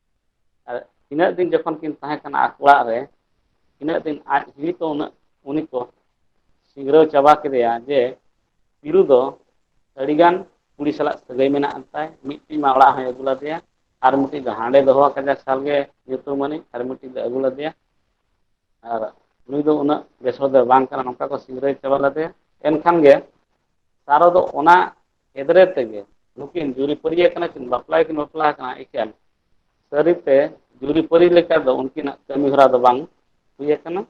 ᱟᱨ ᱤᱱᱟᱹᱜ ᱫᱤᱱ ᱡᱚᱠᱷᱚᱱ ᱠᱤᱱ ᱛᱟᱦᱮᱸ ᱠᱟᱱᱟ ᱟᱠᱚ ᱚᱲᱟᱜ ᱨᱮ ᱤᱱᱟᱹᱜ ᱫᱤᱱ ᱟᱡ ᱦᱤᱞᱤ ᱛᱚ ᱩᱱᱟᱹᱜ ᱩᱱᱤ ᱠᱚ ᱥᱤᱝᱨᱟᱹᱣ ᱪᱟᱵᱟ ᱠᱮᱫᱮᱭᱟ ᱡᱮ ᱯᱤᱞᱩ ᱫᱚ ᱟᱹᱰᱤᱜᱟᱱ ᱠᱩᱲᱤ ᱥᱟᱞᱟᱜ ᱥᱟᱹᱜᱟᱹᱭ ᱢᱮᱱᱟᱜ ᱟᱱ ᱛᱟᱭ ᱢᱤᱫᱴᱤᱡ ᱢᱟ ᱚᱲᱟᱜ ᱦᱚᱸᱭ ᱟᱹᱜᱩ ᱞᱟᱫᱮᱭᱟ ᱟᱨ ᱢᱤᱫᱴᱤᱡ ᱫᱚ ᱦᱟᱸᱰᱮ ᱫᱚᱦᱚ ᱟᱠᱟᱫᱮᱭᱟ ᱥᱟᱞᱜᱮ ᱧᱩᱛᱩᱢᱟᱹᱱᱤᱡ ᱟᱨ ᱢᱤᱫᱴᱤᱡ ᱫᱚ ᱟᱹᱜᱩ ᱞᱟᱫᱮᱭᱟ ᱟᱨ ᱱᱩᱭ ᱫᱚ ᱩᱱᱟᱹᱜ ᱵᱮᱥ ᱦᱚᱲ ᱫᱚ ᱵᱟᱝ ᱠᱟᱱᱟ ᱱᱚᱝᱠᱟ ᱠᱚ ᱥᱤᱝᱨᱟᱹᱭ ᱪᱟᱵᱟ ᱞᱮᱫᱮᱭᱟ ᱮᱱᱠᱷᱟᱱ ᱜᱮ ᱥᱟᱨᱚ ᱫᱚ ᱚᱱᱟ ᱮᱫᱽᱨᱮ ᱛᱮᱜᱮ ᱱᱩᱠᱤᱱ ᱡᱩᱨᱤ ᱯᱟᱹᱨᱤᱭᱟᱹ ᱠᱟᱱᱟ ᱠᱤᱱ ᱵᱟᱯᱞᱟ ᱜᱮ ᱠᱤᱱ ᱵᱟᱯᱞᱟ ᱟᱠᱟᱱᱟ ᱮᱠᱟᱞ ᱥᱟᱹᱨᱤ ᱛᱮ ᱡᱩᱨᱤ ᱯᱟᱹᱨᱤ ᱞᱮᱠᱟ ᱫᱚ ᱩᱱᱠᱤᱱᱟᱜ ᱠᱟᱹᱢᱤ ᱦᱚᱨᱟ ᱫᱚ ᱵᱟᱝ ᱦᱩᱭ ᱟᱠᱟᱱᱟ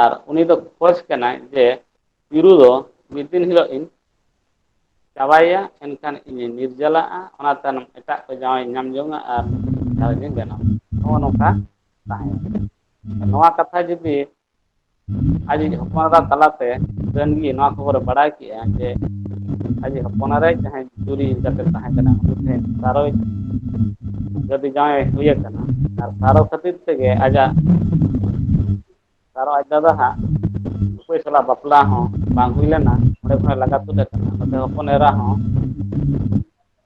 ᱟᱨ ᱩᱱᱤ ᱫᱚ ᱠᱷᱡᱽ ᱠᱟᱱᱟᱭ ᱡᱮ ᱤᱨᱩ ᱫᱚ ᱢᱤᱫ ᱫᱤᱱ ᱦᱤᱞᱳᱜ ᱤᱧ ᱪᱟᱵᱟᱭᱮᱭᱟ ᱮᱱᱠᱷᱟᱱ ᱤᱧᱤᱧ ᱱᱤᱨᱡᱟᱞᱟᱜᱼᱟ ᱚᱱᱟ ᱛᱟᱭᱱᱚᱢ ᱮᱴᱟᱜ ᱠᱚ ᱡᱟᱶᱟᱭ ᱤᱧ ᱧᱟᱢ ᱡᱚᱝᱼᱟ ᱟᱨ ᱜᱷᱟᱨᱚᱸᱡᱽ ᱤᱧ ᱵᱮᱱᱟᱣᱟ ᱱᱚᱜᱼᱚ ᱱᱚᱝᱠᱟ ᱛᱟᱦᱮᱸᱭᱮᱱᱟ ᱱᱚᱣᱟ ᱠᱟᱛᱷᱟ ᱡᱩᱫᱤ ᱟᱡ ᱤᱡ ᱦᱚᱯᱚᱱ ᱮᱨᱟ ᱛᱟᱞᱟᱛᱮ ᱩᱰᱟᱹᱱ ᱜᱮ ᱱᱚᱣᱟ ᱠᱷᱚᱵᱚᱨᱮ ᱵᱟᱲᱟᱭ ᱠᱮᱜᱼᱟ ᱡᱮ ᱟᱡ ᱤᱡ ᱦᱚᱯᱚᱱ ᱮᱨᱟᱭ ᱡᱟᱦᱟᱸᱭ ᱪᱩᱨᱤ ᱠᱟᱛᱮ ᱛᱟᱦᱮᱸ ᱠᱟᱱᱟ ᱩᱱᱤ ᱴᱷᱮᱱ ᱥᱟᱨᱚᱡᱽ ᱜᱟᱹᱫᱤ ᱡᱟᱶᱟᱭ ᱮ ᱦᱩᱭ ᱟᱠᱟᱱᱟ ᱟᱨ ᱥᱟᱨᱚ ᱠᱷᱟᱹᱛᱤᱨ ᱛᱮᱜᱮ ᱟᱡᱟᱜ ᱥᱟᱨᱚ ᱟᱡ ᱫᱟᱫᱟ ᱦᱟᱜ ᱚᱠᱚᱭ ᱥᱟᱞᱟᱜ ᱵᱟᱯᱞᱟ ᱦᱚᱸ ᱵᱟᱝ ᱦᱩᱭ ᱞᱮᱱᱟ ᱚᱸᱰᱮ ᱠᱷᱚᱱ ᱮ ᱞᱟᱜᱟ ᱛᱩᱫ ᱟᱠᱟᱱᱟ ᱱᱚᱛᱮ ᱦᱚᱯᱚᱱ ᱮᱨᱟ ᱦᱚᱸ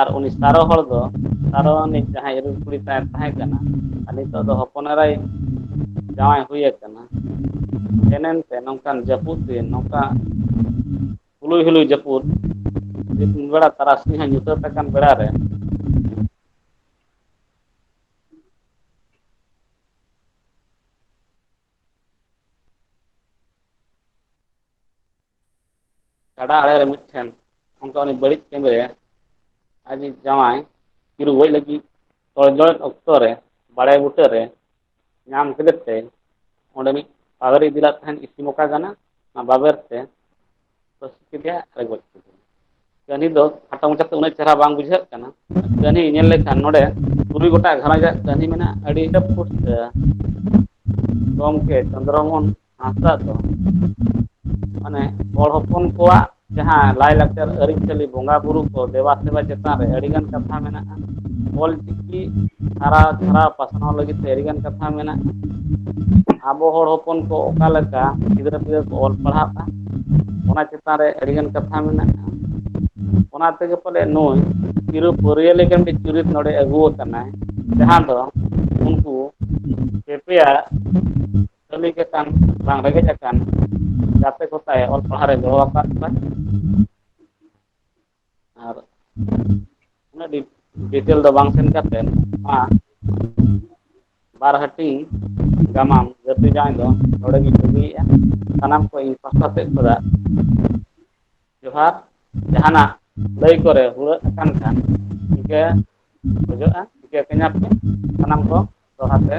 ᱟᱨ ᱩᱱᱤ ᱥᱟᱨᱚ ᱦᱚᱲ ᱫᱚ ᱥᱟᱨᱚ ᱨᱤᱱᱤᱡ ᱡᱟᱦᱟᱸᱭ ᱤᱨᱤᱞ ᱠᱩᱲᱤ ᱛᱟᱭ ᱛᱟᱦᱮᱸ ᱠᱟᱱᱟ ᱟᱨ ᱱᱤᱛᱚᱜ ᱫᱚ ᱦᱚᱯᱚᱱ ᱮᱨᱟᱭ ᱡᱟᱶᱟᱭ ᱦᱩᱭ ᱟᱠᱟᱱᱟ ᱥᱮᱱ ᱮᱱ ᱛᱮ ᱱᱚᱝᱠᱟᱱ ᱡᱟᱹᱯᱩᱫ ᱫᱤᱱ ᱱᱚᱝᱠᱟ ᱦᱩᱞᱩᱭ ᱦᱩᱞᱩᱭ ᱡᱟᱹᱯᱩᱫ ᱢᱤᱫ ᱵᱮᱲᱟ ᱛᱟᱨᱟᱥᱤᱧ ᱦᱚᱸ ᱧᱩᱛᱟᱹᱛ ᱟᱠᱟᱱ ᱵᱮᱲᱟ ᱨᱮ ᱜᱟᱰᱟ ᱟᱲᱮ ᱨᱮ ᱢᱤᱫᱴᱷᱮᱱ ᱚᱱᱠᱟ ᱩᱱᱤ ᱵᱟᱹᱲᱤᱡ ᱠᱟᱹᱢᱤ ᱨᱮ ᱟᱡᱤᱡ ᱡᱟᱶᱟᱭ ᱛᱤ ᱨᱩᱣᱟᱹᱲ ᱞᱟᱹᱜᱤᱫ ᱛᱚᱲᱡᱚᱲᱚᱡ ᱚᱠᱛᱚ ᱨᱮ ᱵᱟᱲᱮ ᱵᱩᱴᱟᱹ ᱨᱮ ᱧᱟᱢ ᱠᱮᱫᱮ ᱛᱮ ᱚᱸᱰᱮᱱᱤᱡ ᱯᱟᱫᱽᱨᱤ ᱤᱫᱤ ᱞᱟᱫ ᱛᱟᱦᱮᱸᱱ ᱤᱥᱤ ᱢᱚᱠᱟ ᱜᱟᱱᱟ ᱚᱱᱟ ᱵᱟᱵᱮᱨ ᱛᱮ ᱯᱟᱹᱥᱤ ᱠᱮᱫᱮᱭᱟ ᱟᱨᱮ ᱜᱚᱡ ᱠᱮᱫᱮᱭᱟ ᱠᱟᱹᱦᱱᱤ ᱫᱚ ᱠᱷᱟᱴᱚ ᱢᱟᱪᱷᱟ ᱛᱮ ᱩᱱᱟᱹᱜ ᱪᱮᱦᱨᱟ ᱵᱟᱝ ᱵᱩᱡᱷᱟᱹᱜ ᱠᱟᱱᱟ ᱠᱟᱹᱦᱱᱤ ᱧᱮᱞ ᱞᱮᱠᱷᱟᱱ ᱱᱚᱰᱮ ᱛᱩᱨᱩᱭ ᱜᱚᱴᱟᱜ ᱜᱷᱟᱨᱚᱸᱡᱽ ᱟᱜ ᱠᱟᱹᱦᱱᱤ ᱢᱮᱱᱟᱜᱼᱟ ᱟᱹᱰᱤ ᱯᱩᱥᱴᱟᱹ ᱜᱚᱢᱠᱮ ᱪᱚᱱᱫᱨᱚ ᱢᱳᱦᱚᱱ ᱦᱟᱸᱥᱫᱟ ᱫᱚ ᱢᱟᱱᱮ ᱦᱚᱲ ᱦᱚᱯᱚᱱ ᱠᱚᱣᱟᱜ ᱡᱟᱦᱟᱸ ᱞᱟᱭᱼᱞᱟᱠᱪᱟᱨ ᱟᱹᱨᱤᱪᱟᱹᱞᱤ ᱵᱚᱸᱜᱟ ᱵᱩᱨᱩ ᱠᱚ ᱫᱮᱵᱟ ᱥᱮᱵᱟ ᱪᱮᱛᱟᱱ ᱨᱮ ᱟᱹᱰᱤ ᱜᱟᱱ ᱠᱟᱛᱷᱟ ᱢᱮᱱᱟᱜᱼᱟ ᱚᱞ ᱪᱤᱠᱤ ᱦᱟᱨᱟ ᱯᱷᱟᱨᱟᱣ ᱯᱟᱥᱱᱟᱣ ᱞᱟᱹᱜᱤᱫ ᱛᱮ ᱟᱹᱰᱤ ᱜᱟᱱ ᱠᱟᱛᱷᱟ ᱢᱮᱱᱟᱜᱼᱟ ᱟᱵᱚ ᱦᱚᱲ ᱦᱚᱯᱚᱱ ᱠᱚ ᱚᱠᱟ ᱞᱮᱠᱟ ᱜᱤᱫᱽᱨᱟᱹ ᱯᱤᱫᱽᱨᱟᱹ ᱠᱚ ᱚᱞ ᱯᱟᱲᱦᱟᱜᱼᱟ ᱚᱱᱟ ᱪᱮᱛᱟᱱ ᱨᱮ ᱟᱹᱰᱤ ᱜᱟᱱ ᱠᱟᱛᱷᱟ ᱢᱮᱱᱟᱜᱼᱟ ᱚᱱᱟ ᱛᱮᱜᱮ ᱯᱟᱞᱮ ᱱᱩᱭ ᱪᱤᱨᱩ ᱯᱟᱹᱨᱭᱟᱹ ᱞᱮᱠᱟ ᱢᱤᱫ ᱪᱩᱨᱤᱛ ᱱᱚᱰᱮ ᱟᱹᱜᱩ ᱟᱠᱟᱱᱟᱭ ᱡᱟᱦᱟᱸ ᱫᱚ ᱩᱱᱠᱩ ᱯᱮᱯᱮᱭᱟ ᱠᱟᱹᱢᱤ ᱜᱮ ᱠᱟᱱ ᱵᱟᱝ ᱨᱮᱸᱜᱮᱡ ᱟᱠᱟᱱ ᱜᱟᱛᱮ ᱠᱚ ᱥᱟᱶ ᱚᱞ ᱯᱟᱲᱦᱟᱣ ᱨᱮ ᱜᱚᱲᱚ ᱟᱠᱟᱫ ᱠᱚᱣᱟᱭ ᱟᱨ ᱩᱱᱟᱹᱜ ᱰᱤᱴᱮᱞ ᱫᱚ ᱵᱟᱝ ᱥᱮᱱ ᱠᱟᱛᱮᱫ ᱱᱚᱣᱟ ᱵᱟᱨ ᱦᱟᱹᱴᱤᱧ ᱜᱟᱢᱟᱢ ᱜᱟᱹᱫᱷᱤ ᱡᱟᱶᱟᱭ ᱫᱚ ᱱᱚᱰᱮ ᱜᱤᱧ ᱵᱟᱹᱜᱤᱭᱮᱫᱼᱟ ᱥᱟᱱᱟᱢ ᱠᱚ ᱤᱧ ᱯᱟᱥᱴᱟ ᱥᱮᱫ ᱠᱷᱚᱱᱟᱜ ᱡᱚᱦᱟᱨ ᱡᱟᱦᱟᱱᱟᱜ ᱞᱟᱹᱭ ᱠᱚᱨᱮ ᱦᱩᱲᱟᱹᱜ ᱟᱠᱟᱱ ᱠᱷᱟᱱ ᱤᱠᱟᱹ ᱠᱷᱚᱡᱚᱜᱼᱟ ᱤᱠᱟᱹ ᱠᱟᱹᱧᱟᱯᱮ ᱥᱟᱱᱟᱢ ᱠᱚ ᱫᱚᱲᱦᱟ ᱛᱮ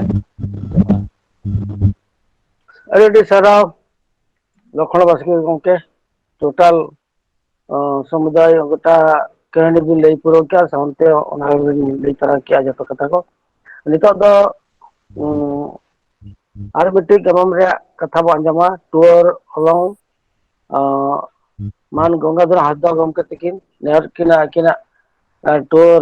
ᱡᱚᱦᱟᱨ ᱟᱹᱰᱤ ᱟᱹᱰᱤ ᱥᱟᱨᱦᱟᱣ ᱞᱚᱠᱷᱚᱱ ᱵᱟᱥᱠᱮ ᱜᱚᱢᱠᱮ ᱴᱳᱴᱟᱞ ᱚ ᱥᱚᱢᱩᱫᱟᱭ ᱜᱚᱴᱟ ᱠᱟᱹᱦᱱᱤ ᱵᱤᱱ ᱞᱟᱹᱭ ᱯᱩᱨᱟᱹᱣ ᱠᱮᱜᱼᱟ ᱥᱟᱶᱛᱮ ᱚᱱᱟ ᱦᱚᱸᱵᱤᱱ ᱞᱟᱹᱭ ᱛᱚᱨᱟ ᱠᱮᱜᱼᱟ ᱡᱚᱛᱚ ᱠᱟᱛᱷᱟ ᱠᱚ ᱱᱤᱛᱚᱜ ᱫᱚ ᱟᱨ ᱢᱤᱫᱴᱤᱡ ᱜᱟᱢᱟᱢ ᱨᱮᱭᱟᱜ ᱠᱟᱛᱷᱟ ᱵᱚᱱ ᱟᱸᱡᱚᱢᱟ ᱴᱩᱣᱟᱹᱨ ᱦᱚᱞᱚᱝ ᱢᱟᱱ ᱜᱚᱝᱜᱟᱫᱷᱚᱨ ᱦᱟᱸᱥᱫᱟ ᱜᱚᱢᱠᱮ ᱛᱤᱠᱤᱱ ᱱᱮᱦᱚᱨ ᱠᱤᱱ ᱟᱹᱠᱤᱱᱟᱜ ᱴᱩᱣᱟᱹᱨ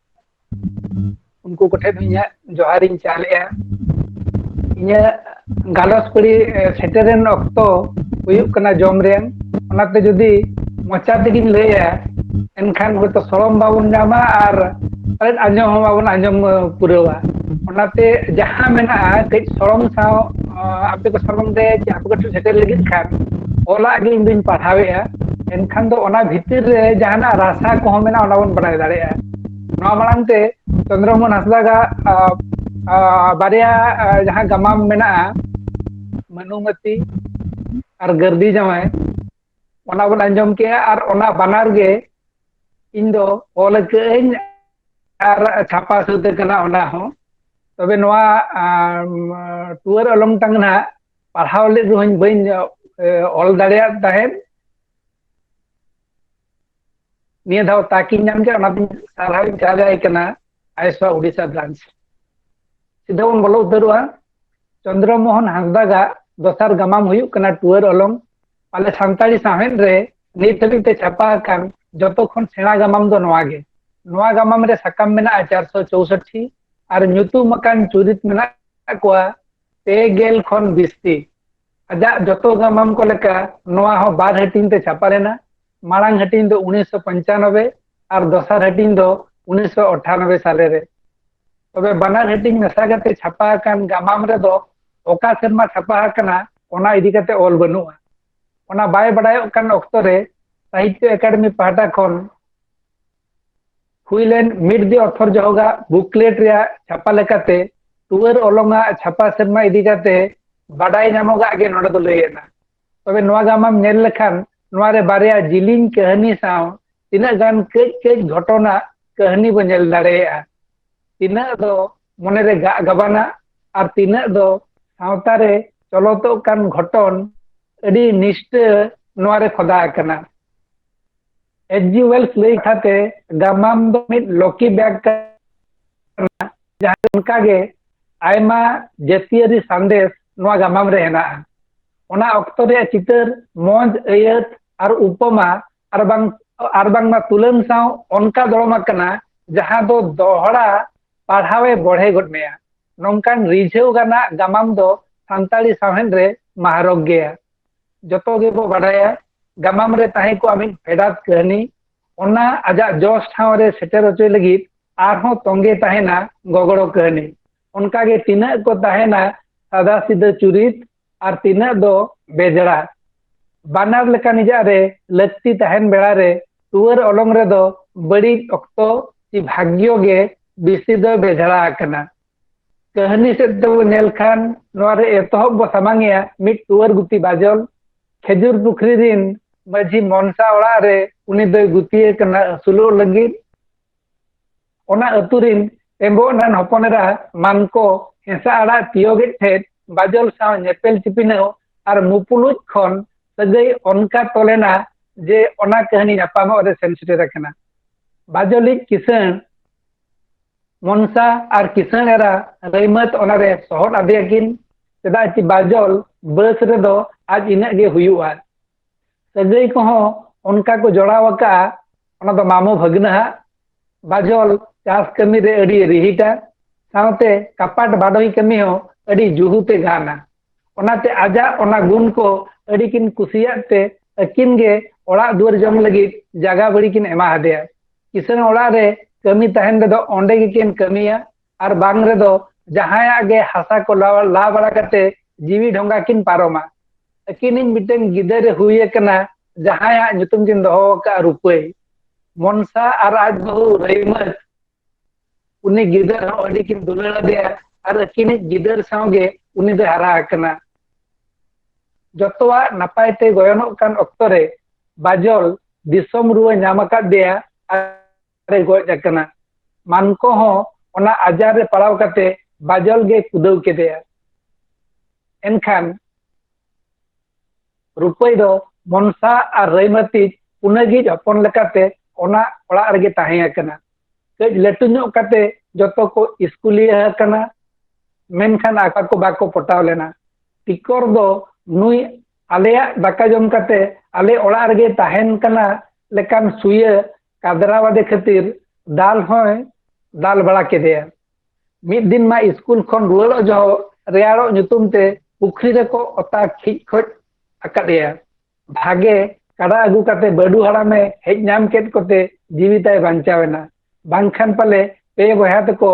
ᱩᱱᱠᱩ ᱠᱚᱴᱷᱮᱱ ᱦᱚᱸ ᱤᱧᱟᱹᱜ ᱡᱚᱦᱟᱨ ᱤᱧ ᱪᱟᱞ ᱮᱼᱟ ᱤᱧᱟᱹᱜ ᱜᱟᱞᱚᱪ ᱠᱩᱲᱤ ᱥᱮᱴᱮᱨᱮᱱ ᱚᱠᱛᱚ ᱦᱩᱭᱩᱜ ᱠᱟᱱᱟ ᱡᱚᱢ ᱨᱮᱱ ᱚᱱᱟᱛᱮ ᱡᱩᱫᱤ ᱢᱚᱪᱟ ᱛᱮᱜᱮᱧ ᱞᱟᱹᱭᱟ ᱮᱱᱠᱷᱟᱱ ᱦᱚᱭᱛᱚ ᱥᱚᱲᱚᱢ ᱵᱟᱵᱚᱱ ᱧᱟᱢᱟ ᱟᱨ ᱯᱟᱞᱮᱫ ᱟᱸᱡᱚᱢ ᱦᱚᱸ ᱵᱟᱵᱚᱱ ᱟᱸᱡᱚᱢ ᱯᱩᱨᱟᱹᱣᱟ ᱚᱱᱟᱛᱮ ᱡᱟᱦᱟᱸ ᱢᱮᱱᱟᱜᱼᱟ ᱠᱟᱹᱡ ᱥᱚᱲᱚᱢ ᱥᱟᱶ ᱟᱯᱮ ᱠᱚ ᱥᱚᱢᱟᱱ ᱛᱮ ᱟᱯᱮ ᱠᱚᱴᱷᱮᱱ ᱥᱮᱴᱮᱨ ᱞᱟᱹᱜᱤᱫ ᱠᱷᱟᱱ ᱚᱞᱟᱜ ᱜᱮ ᱤᱧ ᱫᱩᱧ ᱯᱟᱲᱦᱟᱣᱮᱫᱼᱟ ᱮᱱᱠᱷᱟᱱ ᱫᱚ ᱚᱱᱟ ᱵᱷᱤᱛᱤᱨ ᱨᱮ ᱡᱟᱦᱟᱱᱟᱜ ᱨᱟᱥᱟ ᱠᱚᱦᱚᱸ ᱢᱮᱱᱟᱜᱼᱟ ᱚᱱᱟ ᱵᱚᱱ ᱵᱟᱲᱟᱭ ᱫᱟᱲᱮᱭᱟᱜᱼᱟ ᱱᱚᱣᱟ ᱢᱟᱲᱟᱝ ᱛᱮ ᱪᱚᱱᱫᱨᱚ ᱢᱳᱦᱚᱱ ᱦᱟᱸᱥᱫᱟ ᱜᱟᱜ ᱵᱟᱨᱭᱟ ᱡᱟᱦᱟᱸ ᱜᱟᱢᱟᱢ ᱢᱮᱱᱟᱜᱼᱟ ᱵᱷᱟᱱᱩᱢᱚᱛᱤ ᱟᱨ ᱜᱟᱹᱨᱫᱤ ᱡᱟᱶᱟᱭ ᱚᱱᱟ ᱵᱚᱱ ᱟᱸᱡᱚᱢ ᱠᱮᱜᱼᱟ ᱟᱨ ᱚᱱᱟ ᱵᱟᱱᱟᱨ ᱜᱮ ᱤᱧ ᱫᱚ ᱚᱞ ᱟᱹᱠᱟᱹᱜᱼᱟᱹᱧ ᱟᱨ ᱪᱷᱟᱯᱟ ᱥᱟᱹᱛ ᱟᱠᱟᱱᱟ ᱚᱱᱟ ᱦᱚᱸ ᱛᱚᱵᱮ ᱱᱚᱣᱟ ᱴᱩᱣᱟᱹᱨ ᱚᱞᱚᱝ ᱴᱟᱝ ᱱᱟᱦᱟᱜ ᱯᱟᱲᱦᱟᱣ ᱞᱮᱫ ᱨᱮᱦᱚᱸᱧ ᱵᱟᱹᱧ ᱚᱞ ᱫᱟᱲᱮᱭᱟᱜ ᱛᱟᱦᱮᱸᱫ ᱱᱤᱭᱟᱹ ᱫᱷᱟᱣ ᱛᱟᱠᱤᱧ ᱧᱟᱢ ᱠᱮᱫᱟ ᱚᱱᱟᱛᱮᱧ ᱥᱟᱨᱦᱟᱣᱤᱧ ᱪᱟᱞ ᱟᱭ ᱠᱟᱱᱟ ᱟᱭᱥᱟ ᱩᱰᱤᱥᱟ ᱵᱨᱟᱱᱪ ᱥᱤᱫᱷᱟᱹ ᱵᱚᱱ ᱵᱚᱞᱚ ᱩᱛᱟᱹᱨᱚᱜᱼᱟ ᱪᱚᱱᱫᱨᱚ ᱢᱳᱦᱚᱱ ᱦᱟᱸᱥᱫᱟᱜᱟᱜ ᱫᱚᱥᱟᱨ ᱜᱟᱢᱟᱢ ᱦᱩᱭᱩᱜ ᱠᱟᱱᱟ ᱴᱩᱣᱟᱹᱨ ᱚᱞᱚᱝ ᱟᱞᱮ ᱥᱟᱱᱛᱟᱲᱤ ᱥᱟᱶᱦᱮᱫ ᱨᱮ ᱱᱤᱛ ᱦᱟᱹᱵᱤᱡ ᱛᱮ ᱪᱷᱟᱯᱟ ᱟᱠᱟᱱ ᱡᱚᱛᱚ ᱠᱷᱚᱱ ᱥᱮᱬᱟ ᱜᱟᱢᱟᱢ ᱫᱚ ᱱᱚᱣᱟ ᱜᱮ ᱱᱚᱣᱟ ᱜᱟᱢᱟᱢ ᱨᱮ ᱥᱟᱠᱟᱢ ᱢᱮᱱᱟᱜᱼᱟ ᱪᱟᱨᱥᱚ ᱪᱳᱣᱥᱚᱴᱴᱤ ᱟᱨ ᱧᱩᱛᱩᱢ ᱟᱠᱟᱱ ᱪᱩᱨᱤᱛ ᱢᱮᱱᱟᱜ ᱠᱚᱣᱟ ᱯᱮ ᱜᱮᱞ ᱠᱷᱚᱱ ᱵᱤᱥᱛᱤ ᱟᱡᱟᱜ ᱡᱚᱛᱚ ᱜᱟᱢᱟᱢ ᱠᱚ ᱞᱮᱠᱟ ᱱᱚᱣᱟ ᱦᱚᱸ ᱵᱟᱨ ᱦᱟᱹᱴᱤᱧ ᱛᱮ ᱪᱷᱟᱯᱟ ᱞᱮᱱᱟ ᱢᱟᱲᱟᱝ ᱦᱟᱹᱴᱤᱧ ᱫᱚ ᱩᱱᱤᱥᱥᱚ ᱯᱚᱧᱪᱟᱱᱚᱵᱮ ᱟᱨ ᱫᱚᱥᱟᱨ ᱦᱟᱹᱴᱤᱧ ᱫᱚ ᱩᱱᱤᱥᱥᱚ ᱟᱴᱷᱟᱱᱚᱵᱮ ᱥᱟᱞᱮ ᱨᱮ ᱛᱚᱵᱮ ᱵᱟᱱᱟᱨ ᱦᱟᱹᱴᱤᱧ ᱢᱮᱥᱟ ᱠᱟᱛᱮ ᱪᱷᱟᱯᱟ ᱟᱠᱟᱱ ᱜᱟᱢᱟᱢ ᱨᱮᱫᱚ ᱚᱠᱟ ᱥᱮᱨᱢᱟ ᱪᱷᱟᱯᱟ ᱟᱠᱟᱱᱟ ᱚᱱᱟ ᱤᱫᱤ ᱠᱟᱛᱮ ᱚᱞ ᱵᱟᱹᱱᱩᱜᱼᱟ ᱚᱱᱟ ᱵᱟᱭ ᱵᱟᱰᱟᱭᱚᱜ ᱠᱟᱱ ᱚᱠᱛᱚ ᱨᱮ ᱥᱟᱦᱤᱛᱭᱚ ᱮᱠᱟᱰᱮᱢᱤ ᱯᱟᱦᱴᱟ ᱠᱷᱚᱱ ᱦᱩᱭ ᱞᱮᱱ ᱢᱤᱰ ᱫᱤ ᱚᱛᱷᱚᱨ ᱡᱚᱦᱚᱜᱟ ᱵᱩᱠᱞᱮᱴ ᱨᱮᱭᱟᱜ ᱪᱷᱟᱯᱟ ᱞᱮᱠᱟᱛᱮ ᱴᱩᱣᱟᱹᱨ ᱚᱞᱚᱝᱟ ᱪᱷᱟᱯᱟ ᱥᱮᱨᱢᱟ ᱤᱫᱤ ᱠᱟᱛᱮ ᱵᱟᱰᱟᱭ ᱧᱟᱢᱚᱜᱟᱜ ᱜᱮ ᱱᱚᱰᱮ ᱫᱚ ᱞᱟᱹᱭ ᱮᱱᱟ ᱛᱚᱵᱮ ᱱᱚᱣᱟ ᱜᱟᱢᱟᱢ ᱧᱮᱞ ᱞᱮᱠᱷᱟᱱ ᱱᱚᱣᱟ ᱨᱮ ᱵᱟᱨᱭᱟ ᱡᱤᱞᱤᱧ ᱠᱟᱹᱦᱱᱤ ᱥᱟᱶ ᱛᱤᱱᱟᱹᱜ ᱜᱟᱱ ᱠᱟᱹᱡ ᱠᱟᱹᱡ ᱜᱷᱚᱴᱚᱱᱟ ᱠᱟᱹᱦᱱᱤ ᱵᱚ ᱧᱮᱞ ᱫᱟᱲᱮᱭᱟᱜᱼᱟ ᱛᱤᱱᱟᱹᱜ ᱫᱚ ᱢᱚᱱᱮ ᱨᱮ ᱜᱟᱜ ᱜᱟᱵᱟᱱᱟ ᱟᱨ ᱛᱤᱱᱟᱹᱜ ᱫᱚ ᱥᱟᱶᱛᱟ ᱨᱮ ᱪᱚᱞᱚᱛᱚᱜ ᱠᱟᱱ ᱜᱷᱚᱴᱚᱱ ᱟᱹᱰᱤ ᱱᱤᱥᱴᱟᱹ ᱱᱚᱣᱟ ᱨᱮ ᱠᱷᱚᱫᱟ ᱟᱠᱟᱱᱟ ᱮᱪᱡᱤ ᱣᱮᱞᱥ ᱞᱟᱹᱭ ᱠᱟᱛᱮ ᱜᱟᱢᱟᱢ ᱫᱚ ᱢᱤᱫ ᱞᱚᱠᱤ ᱵᱮᱜᱽ ᱠᱟᱱᱟ ᱡᱟᱦᱟᱸ ᱚᱱᱠᱟᱜᱮ ᱟᱭᱢᱟ ᱡᱟᱹᱛᱤᱭᱟᱹᱨᱤ ᱥᱟᱸᱫᱮᱥ ᱱᱚᱣᱟ ᱜᱟᱢᱟᱢ ᱨᱮ ᱦᱮᱱᱟᱜᱼᱟ ᱚᱱᱟ ᱚᱠᱛᱚ ᱨᱮᱭᱟᱜ ᱪᱤᱛᱟᱹᱨ ᱢᱚᱸᱡᱽ ᱟᱹᱭᱟᱹᱛ ᱟᱨ ᱩᱯᱚᱢᱟ ᱟᱨ ᱵᱟᱝ ᱟᱨ ᱵᱟᱝᱢᱟ ᱛᱩᱞᱟᱹᱢ ᱥᱟᱶ ᱚᱱᱠᱟ ᱫᱚᱲᱚᱢ ᱟᱠᱟᱱᱟ ᱡᱟᱦᱟᱸ ᱫᱚ ᱫᱚᱦᱲᱟ ᱯᱟᱲᱦᱟᱣᱮ ᱵᱚᱲᱦᱮ ᱜᱚᱫ ᱢᱮᱭᱟ ᱱᱚᱝᱠᱟᱱ ᱨᱤᱡᱷᱟᱹᱣ ᱜᱟᱱᱟᱜ ᱜᱟᱢᱟᱢ ᱫᱚ ᱥᱟᱱᱛᱟᱲᱤ ᱥᱟᱶᱦᱮᱫ ᱨᱮ ᱢᱟᱦᱟᱨᱚᱜᱽ ᱜᱮᱭᱟ ᱡᱚᱛᱚ ᱜᱮᱵᱚ ᱵᱟᱰᱟᱭᱟ ᱜᱟᱢᱟᱢ ᱨᱮ ᱛᱟᱦᱮᱸ ᱠᱚᱜᱼᱟ ᱢᱤᱫ ᱯᱷᱮᱰᱟᱛ ᱠᱟᱹᱦᱱᱤ ᱚᱱᱟ ᱟᱡᱟᱜ ᱡᱚᱥ ᱴᱷᱟᱶ ᱨᱮ ᱥᱮᱴᱮᱨ ᱦᱚᱪᱚᱭ ᱞᱟᱹᱜᱤᱫ ᱟᱨᱦᱚᱸ ᱛᱚᱸᱜᱮ ᱛᱟᱦᱮᱱᱟ ᱜᱚᱜᱚᱲᱚ ᱠᱟᱹᱦᱱᱤ ᱚᱱᱠᱟᱜᱮ ᱛᱤᱱᱟᱹᱜ ᱠᱚ ᱛᱟᱦᱮᱱᱟ ᱥᱟᱫᱟ ᱥᱤᱫᱟᱹ ᱪᱩᱨᱤᱛ ᱟᱨ ᱛᱤᱱᱟᱹᱜ ᱫᱚ ᱵᱮᱡᱲᱟ ᱵᱟᱱᱟᱨ ᱞᱮᱠᱟ ᱱᱤᱡᱟᱜ ᱨᱮ ᱞᱟᱹᱠᱛᱤ ᱛᱟᱦᱮᱱ ᱵᱮᱲᱟ ᱨᱮ ᱴᱩᱣᱟᱹᱨ ᱚᱞᱚᱝ ᱨᱮᱫᱚ ᱵᱟᱹᱲᱤᱡ ᱚᱠᱛᱚ ᱪᱮ ᱵᱷᱟᱜᱽᱭᱚ ᱜᱮ ᱵᱮᱥᱤ ᱫᱚ ᱵᱮᱡᱲᱟ ᱟᱠᱟᱱᱟ ᱠᱟᱹᱦᱱᱤ ᱥᱮᱫ ᱛᱮᱵᱚ ᱧᱮᱞ ᱠᱷᱟᱱ ᱱᱚᱣᱟ ᱨᱮ ᱮᱛᱚᱦᱚᱵ ᱵᱚ ᱥᱟᱢᱟᱝᱮᱭᱟ ᱢᱤᱫ ᱴᱩᱣᱟᱹᱨ ᱜᱩᱛᱤ ᱵᱟᱡᱚᱞ ᱠᱷᱮᱡᱩᱨ ᱯᱩᱠᱷᱨᱤ ᱨᱤᱱ ᱢᱟᱹᱡᱷᱤ ᱢᱚᱱᱥᱟ ᱚᱲᱟᱜ ᱨᱮ ᱩᱱᱤ ᱫᱚᱭ ᱜᱩᱛᱤᱭᱮ ᱠᱟᱱᱟ ᱟᱹᱥᱩᱞᱚᱜ ᱞᱟᱹᱜᱤᱫ ᱚᱱᱟ ᱟᱹᱛᱩ ᱨᱤᱱ ᱮᱢᱵᱚᱜ ᱨᱮᱱ ᱦᱚᱯᱚᱱ ᱮᱨᱟ ᱢᱟᱱᱠᱚ ᱦᱮᱸᱥᱟ ᱟᱲᱟᱜ ᱛᱤᱭᱳᱜᱮᱫ ᱴᱷᱮᱡ ᱵᱟᱡᱚᱞ ᱥᱟᱶ ᱧᱮᱯᱮᱞ ᱪᱤᱯᱤᱱᱟᱹᱣ ᱟᱨ ᱢᱩᱯᱩᱞᱩᱡ ᱠᱷᱚᱱ ᱥᱟᱹᱜᱟᱹᱭ ᱚᱱᱠᱟ ᱛᱚᱞᱮᱱᱟ ᱡᱮ ᱚᱱᱟ ᱠᱟᱹᱦᱱᱤ ᱧᱟᱯᱟᱢᱚᱜ ᱨᱮ ᱥᱮᱱ ᱥᱮᱴᱮᱨ ᱟᱠᱟᱱᱟ ᱵᱟᱡᱚᱞᱤᱡ ᱠᱤᱥᱟᱹᱬ ᱢᱚᱱᱥᱟ ᱟᱨ ᱠᱤᱥᱟᱹᱬ ᱮᱨᱟ ᱨᱟᱹᱭᱢᱟᱹᱛ ᱚᱱᱟᱨᱮ ᱥᱚᱦᱚᱫ ᱟᱫᱮᱭᱟᱠᱤᱱ ᱪᱮᱫᱟᱜ ᱪᱮ ᱵᱟᱡᱚᱞ ᱵᱟᱹᱥ ᱨᱮᱫᱚ ᱟᱡ ᱤᱱᱟᱹᱜ ᱜᱮ ᱦᱩᱭᱩᱜᱼᱟ ᱥᱟᱹᱜᱟᱹᱭ ᱠᱚᱦᱚᱸ ᱚᱱᱠᱟ ᱠᱚ ᱡᱚᱲᱟᱣ ᱟᱠᱟᱜᱼᱟ ᱚᱱᱟ ᱫᱚ ᱢᱟᱢᱚ ᱵᱷᱟᱹᱜᱽᱱᱟᱹᱦᱟᱜ ᱵᱟᱡᱚᱞ ᱪᱟᱥ ᱠᱟᱹᱢᱤ ᱨᱮ ᱟᱹᱰᱤ ᱨᱤᱦᱤᱴᱟ ᱥᱟᱶᱛᱮ ᱠᱟᱯᱟᱴ ᱵᱟᱰᱚᱭ ᱠᱟᱹᱢᱤ ᱦᱚᱸ ᱟᱹᱰᱤ ᱡᱩᱦᱩᱛᱮ ᱜᱟᱱᱟ ᱚᱱᱟᱛᱮ ᱟᱡᱟᱜ ᱚᱱᱟ ᱜᱩᱱ ᱠᱚ ᱟᱹᱰᱤ ᱠᱤᱱ ᱠᱩᱥᱤᱭᱟᱜ ᱛᱮ ᱟᱹᱠᱤᱱ ᱜᱮ ᱚᱲᱟᱜ ᱫᱩᱣᱟᱹᱨ ᱡᱚᱢ ᱞᱟᱹᱜᱤᱫ ᱡᱟᱜᱟ ᱵᱟᱹᱲᱤ ᱠᱤᱱ ᱮᱢᱟ ᱦᱟᱫᱮᱭᱟ ᱠᱤᱥᱟᱹᱬ ᱚᱲᱟᱜ ᱨᱮ ᱠᱟᱹᱢᱤ ᱛᱟᱦᱮᱱ ᱨᱮᱫᱚ ᱚᱸᱰᱮ ᱜᱮᱠᱤᱱ ᱠᱟᱹᱢᱤᱭᱟ ᱟᱨ ᱵᱟᱝ ᱨᱮᱫᱚ ᱡᱟᱦᱟᱸᱭᱟᱜ ᱜᱮ ᱦᱟᱥᱟ ᱠᱚ ᱞᱟ ᱵᱟᱲᱟ ᱠᱟᱛᱮ ᱡᱤᱣᱤ ᱰᱷᱚᱸᱜᱟ ᱠᱤᱱ ᱯᱟᱨᱚᱢᱟ ᱟᱹᱠᱤᱱᱤᱧ ᱢᱤᱫᱴᱟᱝ ᱜᱤᱫᱟᱹᱨ ᱮ ᱦᱩᱭ ᱟᱠᱟᱱᱟ ᱡᱟᱦᱟᱸᱭᱟᱜ ᱧᱩᱛᱩᱢ ᱠᱤᱱ ᱫᱚᱦᱚ ᱟᱠᱟᱫᱼᱟ ᱨᱩᱯᱟᱹᱭ ᱢᱚᱱᱥᱟ ᱟᱨ ᱟᱡ ᱵᱟᱹᱦᱩ ᱨᱟᱹᱭᱢᱟᱹᱛ ᱩᱱᱤ ᱜᱤᱫᱟᱹᱨ ᱦᱚᱸ ᱟᱹᱰᱤ ᱠᱤᱱ ᱫᱩᱞᱟᱹᱲ ᱟᱫᱮᱭᱟ ᱟᱨ ᱟᱹᱠᱤᱱᱤᱡ ᱜᱤᱫᱟᱹᱨ ᱥᱟᱶᱜᱮ ᱩᱱᱤ ᱫᱚᱭ ᱦᱟᱨᱟ ᱟᱠᱟᱱᱟ ᱡᱚᱛᱚᱣᱟᱜ ᱱᱟᱯᱟᱭ ᱛᱮ ᱜᱚᱭᱚᱱᱚᱜ ᱠᱟᱱ ᱚᱠᱛᱚ ᱨᱮ ᱵᱟᱡᱚᱞ ᱫᱤᱥᱚᱢ ᱨᱩᱣᱟᱹ ᱧᱟᱢ ᱟᱠᱟᱫᱮᱭᱟ ᱟᱨ ᱜᱚᱡ ᱟᱠᱟᱱᱟ ᱢᱟᱱᱠᱚ ᱦᱚᱸ ᱚᱱᱟ ᱟᱡᱟᱨ ᱨᱮ ᱯᱟᱲᱟᱣ ᱠᱟᱛᱮ ᱵᱟᱡᱚᱞ ᱜᱮ ᱠᱩᱫᱟᱹᱣ ᱠᱮᱫᱮᱭᱟ ᱮᱱᱠᱷᱟᱱ ᱨᱩᱯᱟᱹᱭ ᱫᱚ ᱢᱚᱱᱥᱟ ᱟᱨ ᱨᱟᱹᱭᱢᱟᱹᱛᱤᱡ ᱯᱩᱱᱟᱹᱜᱤᱡ ᱦᱚᱯᱚᱱ ᱞᱮᱠᱟᱛᱮ ᱚᱱᱟ ᱚᱲᱟᱜ ᱨᱮᱜᱮ ᱛᱟᱦᱮᱸ ᱟᱠᱟᱱᱟ ᱠᱟᱹᱡ ᱞᱟᱹᱴᱩ ᱧᱚᱜ ᱠᱟᱛᱮ ᱡᱚᱛᱚ ᱠᱚ ᱤᱥᱠᱩᱞᱤᱭᱟᱹ ᱟᱠᱟᱱᱟ ᱢᱮᱱᱠᱷᱟᱱ ᱟᱠᱚ ᱠᱚ ᱵᱟᱠᱚ ᱯᱚᱴᱟᱣ ᱞᱮᱱᱟ ᱴᱤᱠᱚᱨ ᱫᱚ ᱱᱩᱭ ᱟᱞᱮᱭᱟᱜ ᱫᱟᱠᱟ ᱡᱚᱢ ᱠᱟᱛᱮ ᱟᱞᱮ ᱚᱲᱟᱜ ᱨᱮᱜᱮ ᱛᱟᱦᱮᱱ ᱠᱟᱱᱟ ᱞᱮᱠᱟᱱ ᱥᱩᱭᱟᱹ ᱠᱟᱫᱽᱨᱟᱣᱟᱫᱮ ᱠᱷᱟᱹᱛᱤᱨ ᱫᱟᱞ ᱦᱚᱸᱭ ᱫᱟᱞ ᱵᱟᱲᱟ ᱠᱮᱫᱮᱭᱟ ᱢᱤᱫ ᱫᱤᱱ ᱢᱟ ᱥᱠᱩᱞ ᱠᱷᱚᱱ ᱨᱩᱣᱟᱹᱲᱚᱜ ᱡᱚᱦᱚᱜ ᱨᱮᱭᱟᱲᱚᱜ ᱧᱩᱛᱩᱢ ᱛᱮ ᱯᱩᱠᱷᱨᱤ ᱨᱮᱠᱚ ᱚᱛᱟ ᱠᱷᱤᱡ ᱠᱷᱚᱡ ᱟᱠᱟᱫᱮᱭᱟ ᱵᱷᱟᱜᱮ ᱠᱟᱰᱟ ᱟᱹᱜᱩ ᱠᱟᱛᱮ ᱵᱟᱹᱰᱩ ᱦᱟᱲᱟᱢᱮ ᱦᱮᱡ ᱧᱟᱢ ᱠᱮᱫ ᱠᱚᱛᱮ ᱡᱤᱣᱤ ᱛᱟᱭ ᱵᱟᱧᱪᱟᱣᱮᱱᱟ ᱵᱟᱝᱠᱷᱟᱱ ᱯᱟᱞᱮ ᱯᱮ ᱵᱚᱭᱦᱟ ᱛᱮᱠᱚ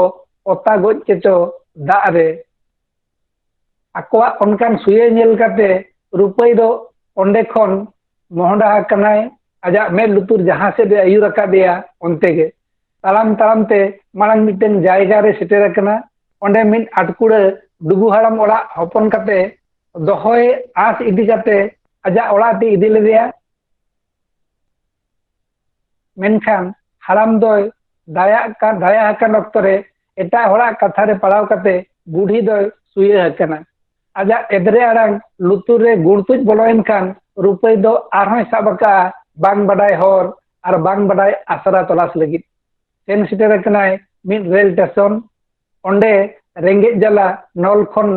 ᱚᱛᱟ ᱜᱚᱡ ᱠᱮᱪᱚ ᱫᱟᱜ ᱨᱮ ᱟᱠᱚᱣᱟᱜ ᱚᱱᱠᱟᱱ ᱥᱩᱭᱟᱹ ᱧᱮᱞ ᱠᱟᱛᱮ ᱨᱩᱯᱟᱹᱭ ᱫᱚ ᱚᱸᱰᱮ ᱠᱷᱚᱱ ᱢᱚᱦᱰᱟ ᱟᱠᱟᱱᱟᱭ ᱟᱡᱟᱜ ᱢᱮᱫ ᱞᱩᱛᱩᱨ ᱡᱟᱦᱟᱸ ᱥᱮᱫ ᱮ ᱟᱹᱭᱩᱨ ᱟᱠᱟᱫᱮᱭᱟ ᱚᱱᱛᱮ ᱜᱮ ᱛᱟᱲᱟᱢ ᱛᱟᱲᱟᱢ ᱛᱮ ᱢᱟᱲᱟᱝ ᱢᱤᱫᱴᱮᱱ ᱡᱟᱭᱜᱟ ᱨᱮ ᱥᱮᱴᱮᱨ ᱟᱠᱟᱱᱟ ᱚᱸᱰᱮ ᱢᱤᱫ ᱟᱴᱠᱩᱲᱟᱹ ᱰᱩᱜᱩ ᱦᱟᱲᱟᱢ ᱚᱲᱟᱜ ᱦᱚᱯᱚᱱ ᱠᱟᱛᱮ ᱫᱚᱦᱚᱭ ᱟᱸᱥ ᱤᱫᱤ ᱠᱟᱛᱮ ᱟᱡᱟᱜ ᱚᱲᱟᱜ ᱛᱮ ᱤᱫᱤ ᱞᱮᱫᱮᱭᱟ ᱢᱮᱱᱠᱷᱟᱱ ᱦᱟᱲᱟᱢ ᱫᱚᱭ ᱫᱟᱭᱟᱜ ᱠᱟᱱ ᱫᱟᱭᱟ ᱟᱠᱟᱱ ᱚᱠᱛᱚ ᱨᱮ ᱮᱴᱟᱜ ᱦᱚᱲᱟᱜ ᱠᱟᱛᱷᱟ ᱨᱮ ᱯᱟᱲᱟᱣ ᱠᱟᱛᱮ ᱵᱩᱰᱷᱤ ᱫᱚᱭ ᱥᱩᱭᱟᱹ ᱟᱠᱟᱱᱟ ᱟᱡᱟᱜ ᱮᱫᱽᱨᱮ ᱟᱲᱟᱝ ᱞᱩᱛᱩᱨ ᱨᱮ ᱜᱩᱲᱛᱩᱡ ᱵᱚᱞᱚᱭᱮᱱ ᱠᱷᱟᱱ ᱨᱩᱯᱟᱹᱭ ᱫᱚ ᱟᱨᱦᱚᱸᱭ ᱥᱟᱵ ᱟᱠᱟᱜᱼᱟ ᱵᱟᱝ ᱵᱟᱰᱟᱭ ᱦᱚᱨ ᱟᱨ ᱵᱟᱝ ᱵᱟᱰᱟᱭ ᱟᱥᱨᱟ ᱛᱚᱞᱟᱥ ᱞᱟᱹᱜᱤᱫ ᱥᱮᱱ ᱥᱮᱴᱮᱨ ᱟᱠᱟᱱᱟᱭ ᱢᱤᱫ ᱨᱮᱞ ᱥᱴᱮᱥᱚᱱ ᱚᱸᱰᱮ ᱨᱮᱸᱜᱮᱡ ᱡᱟᱞᱟ ᱱᱚᱞ ᱠᱷᱚᱱ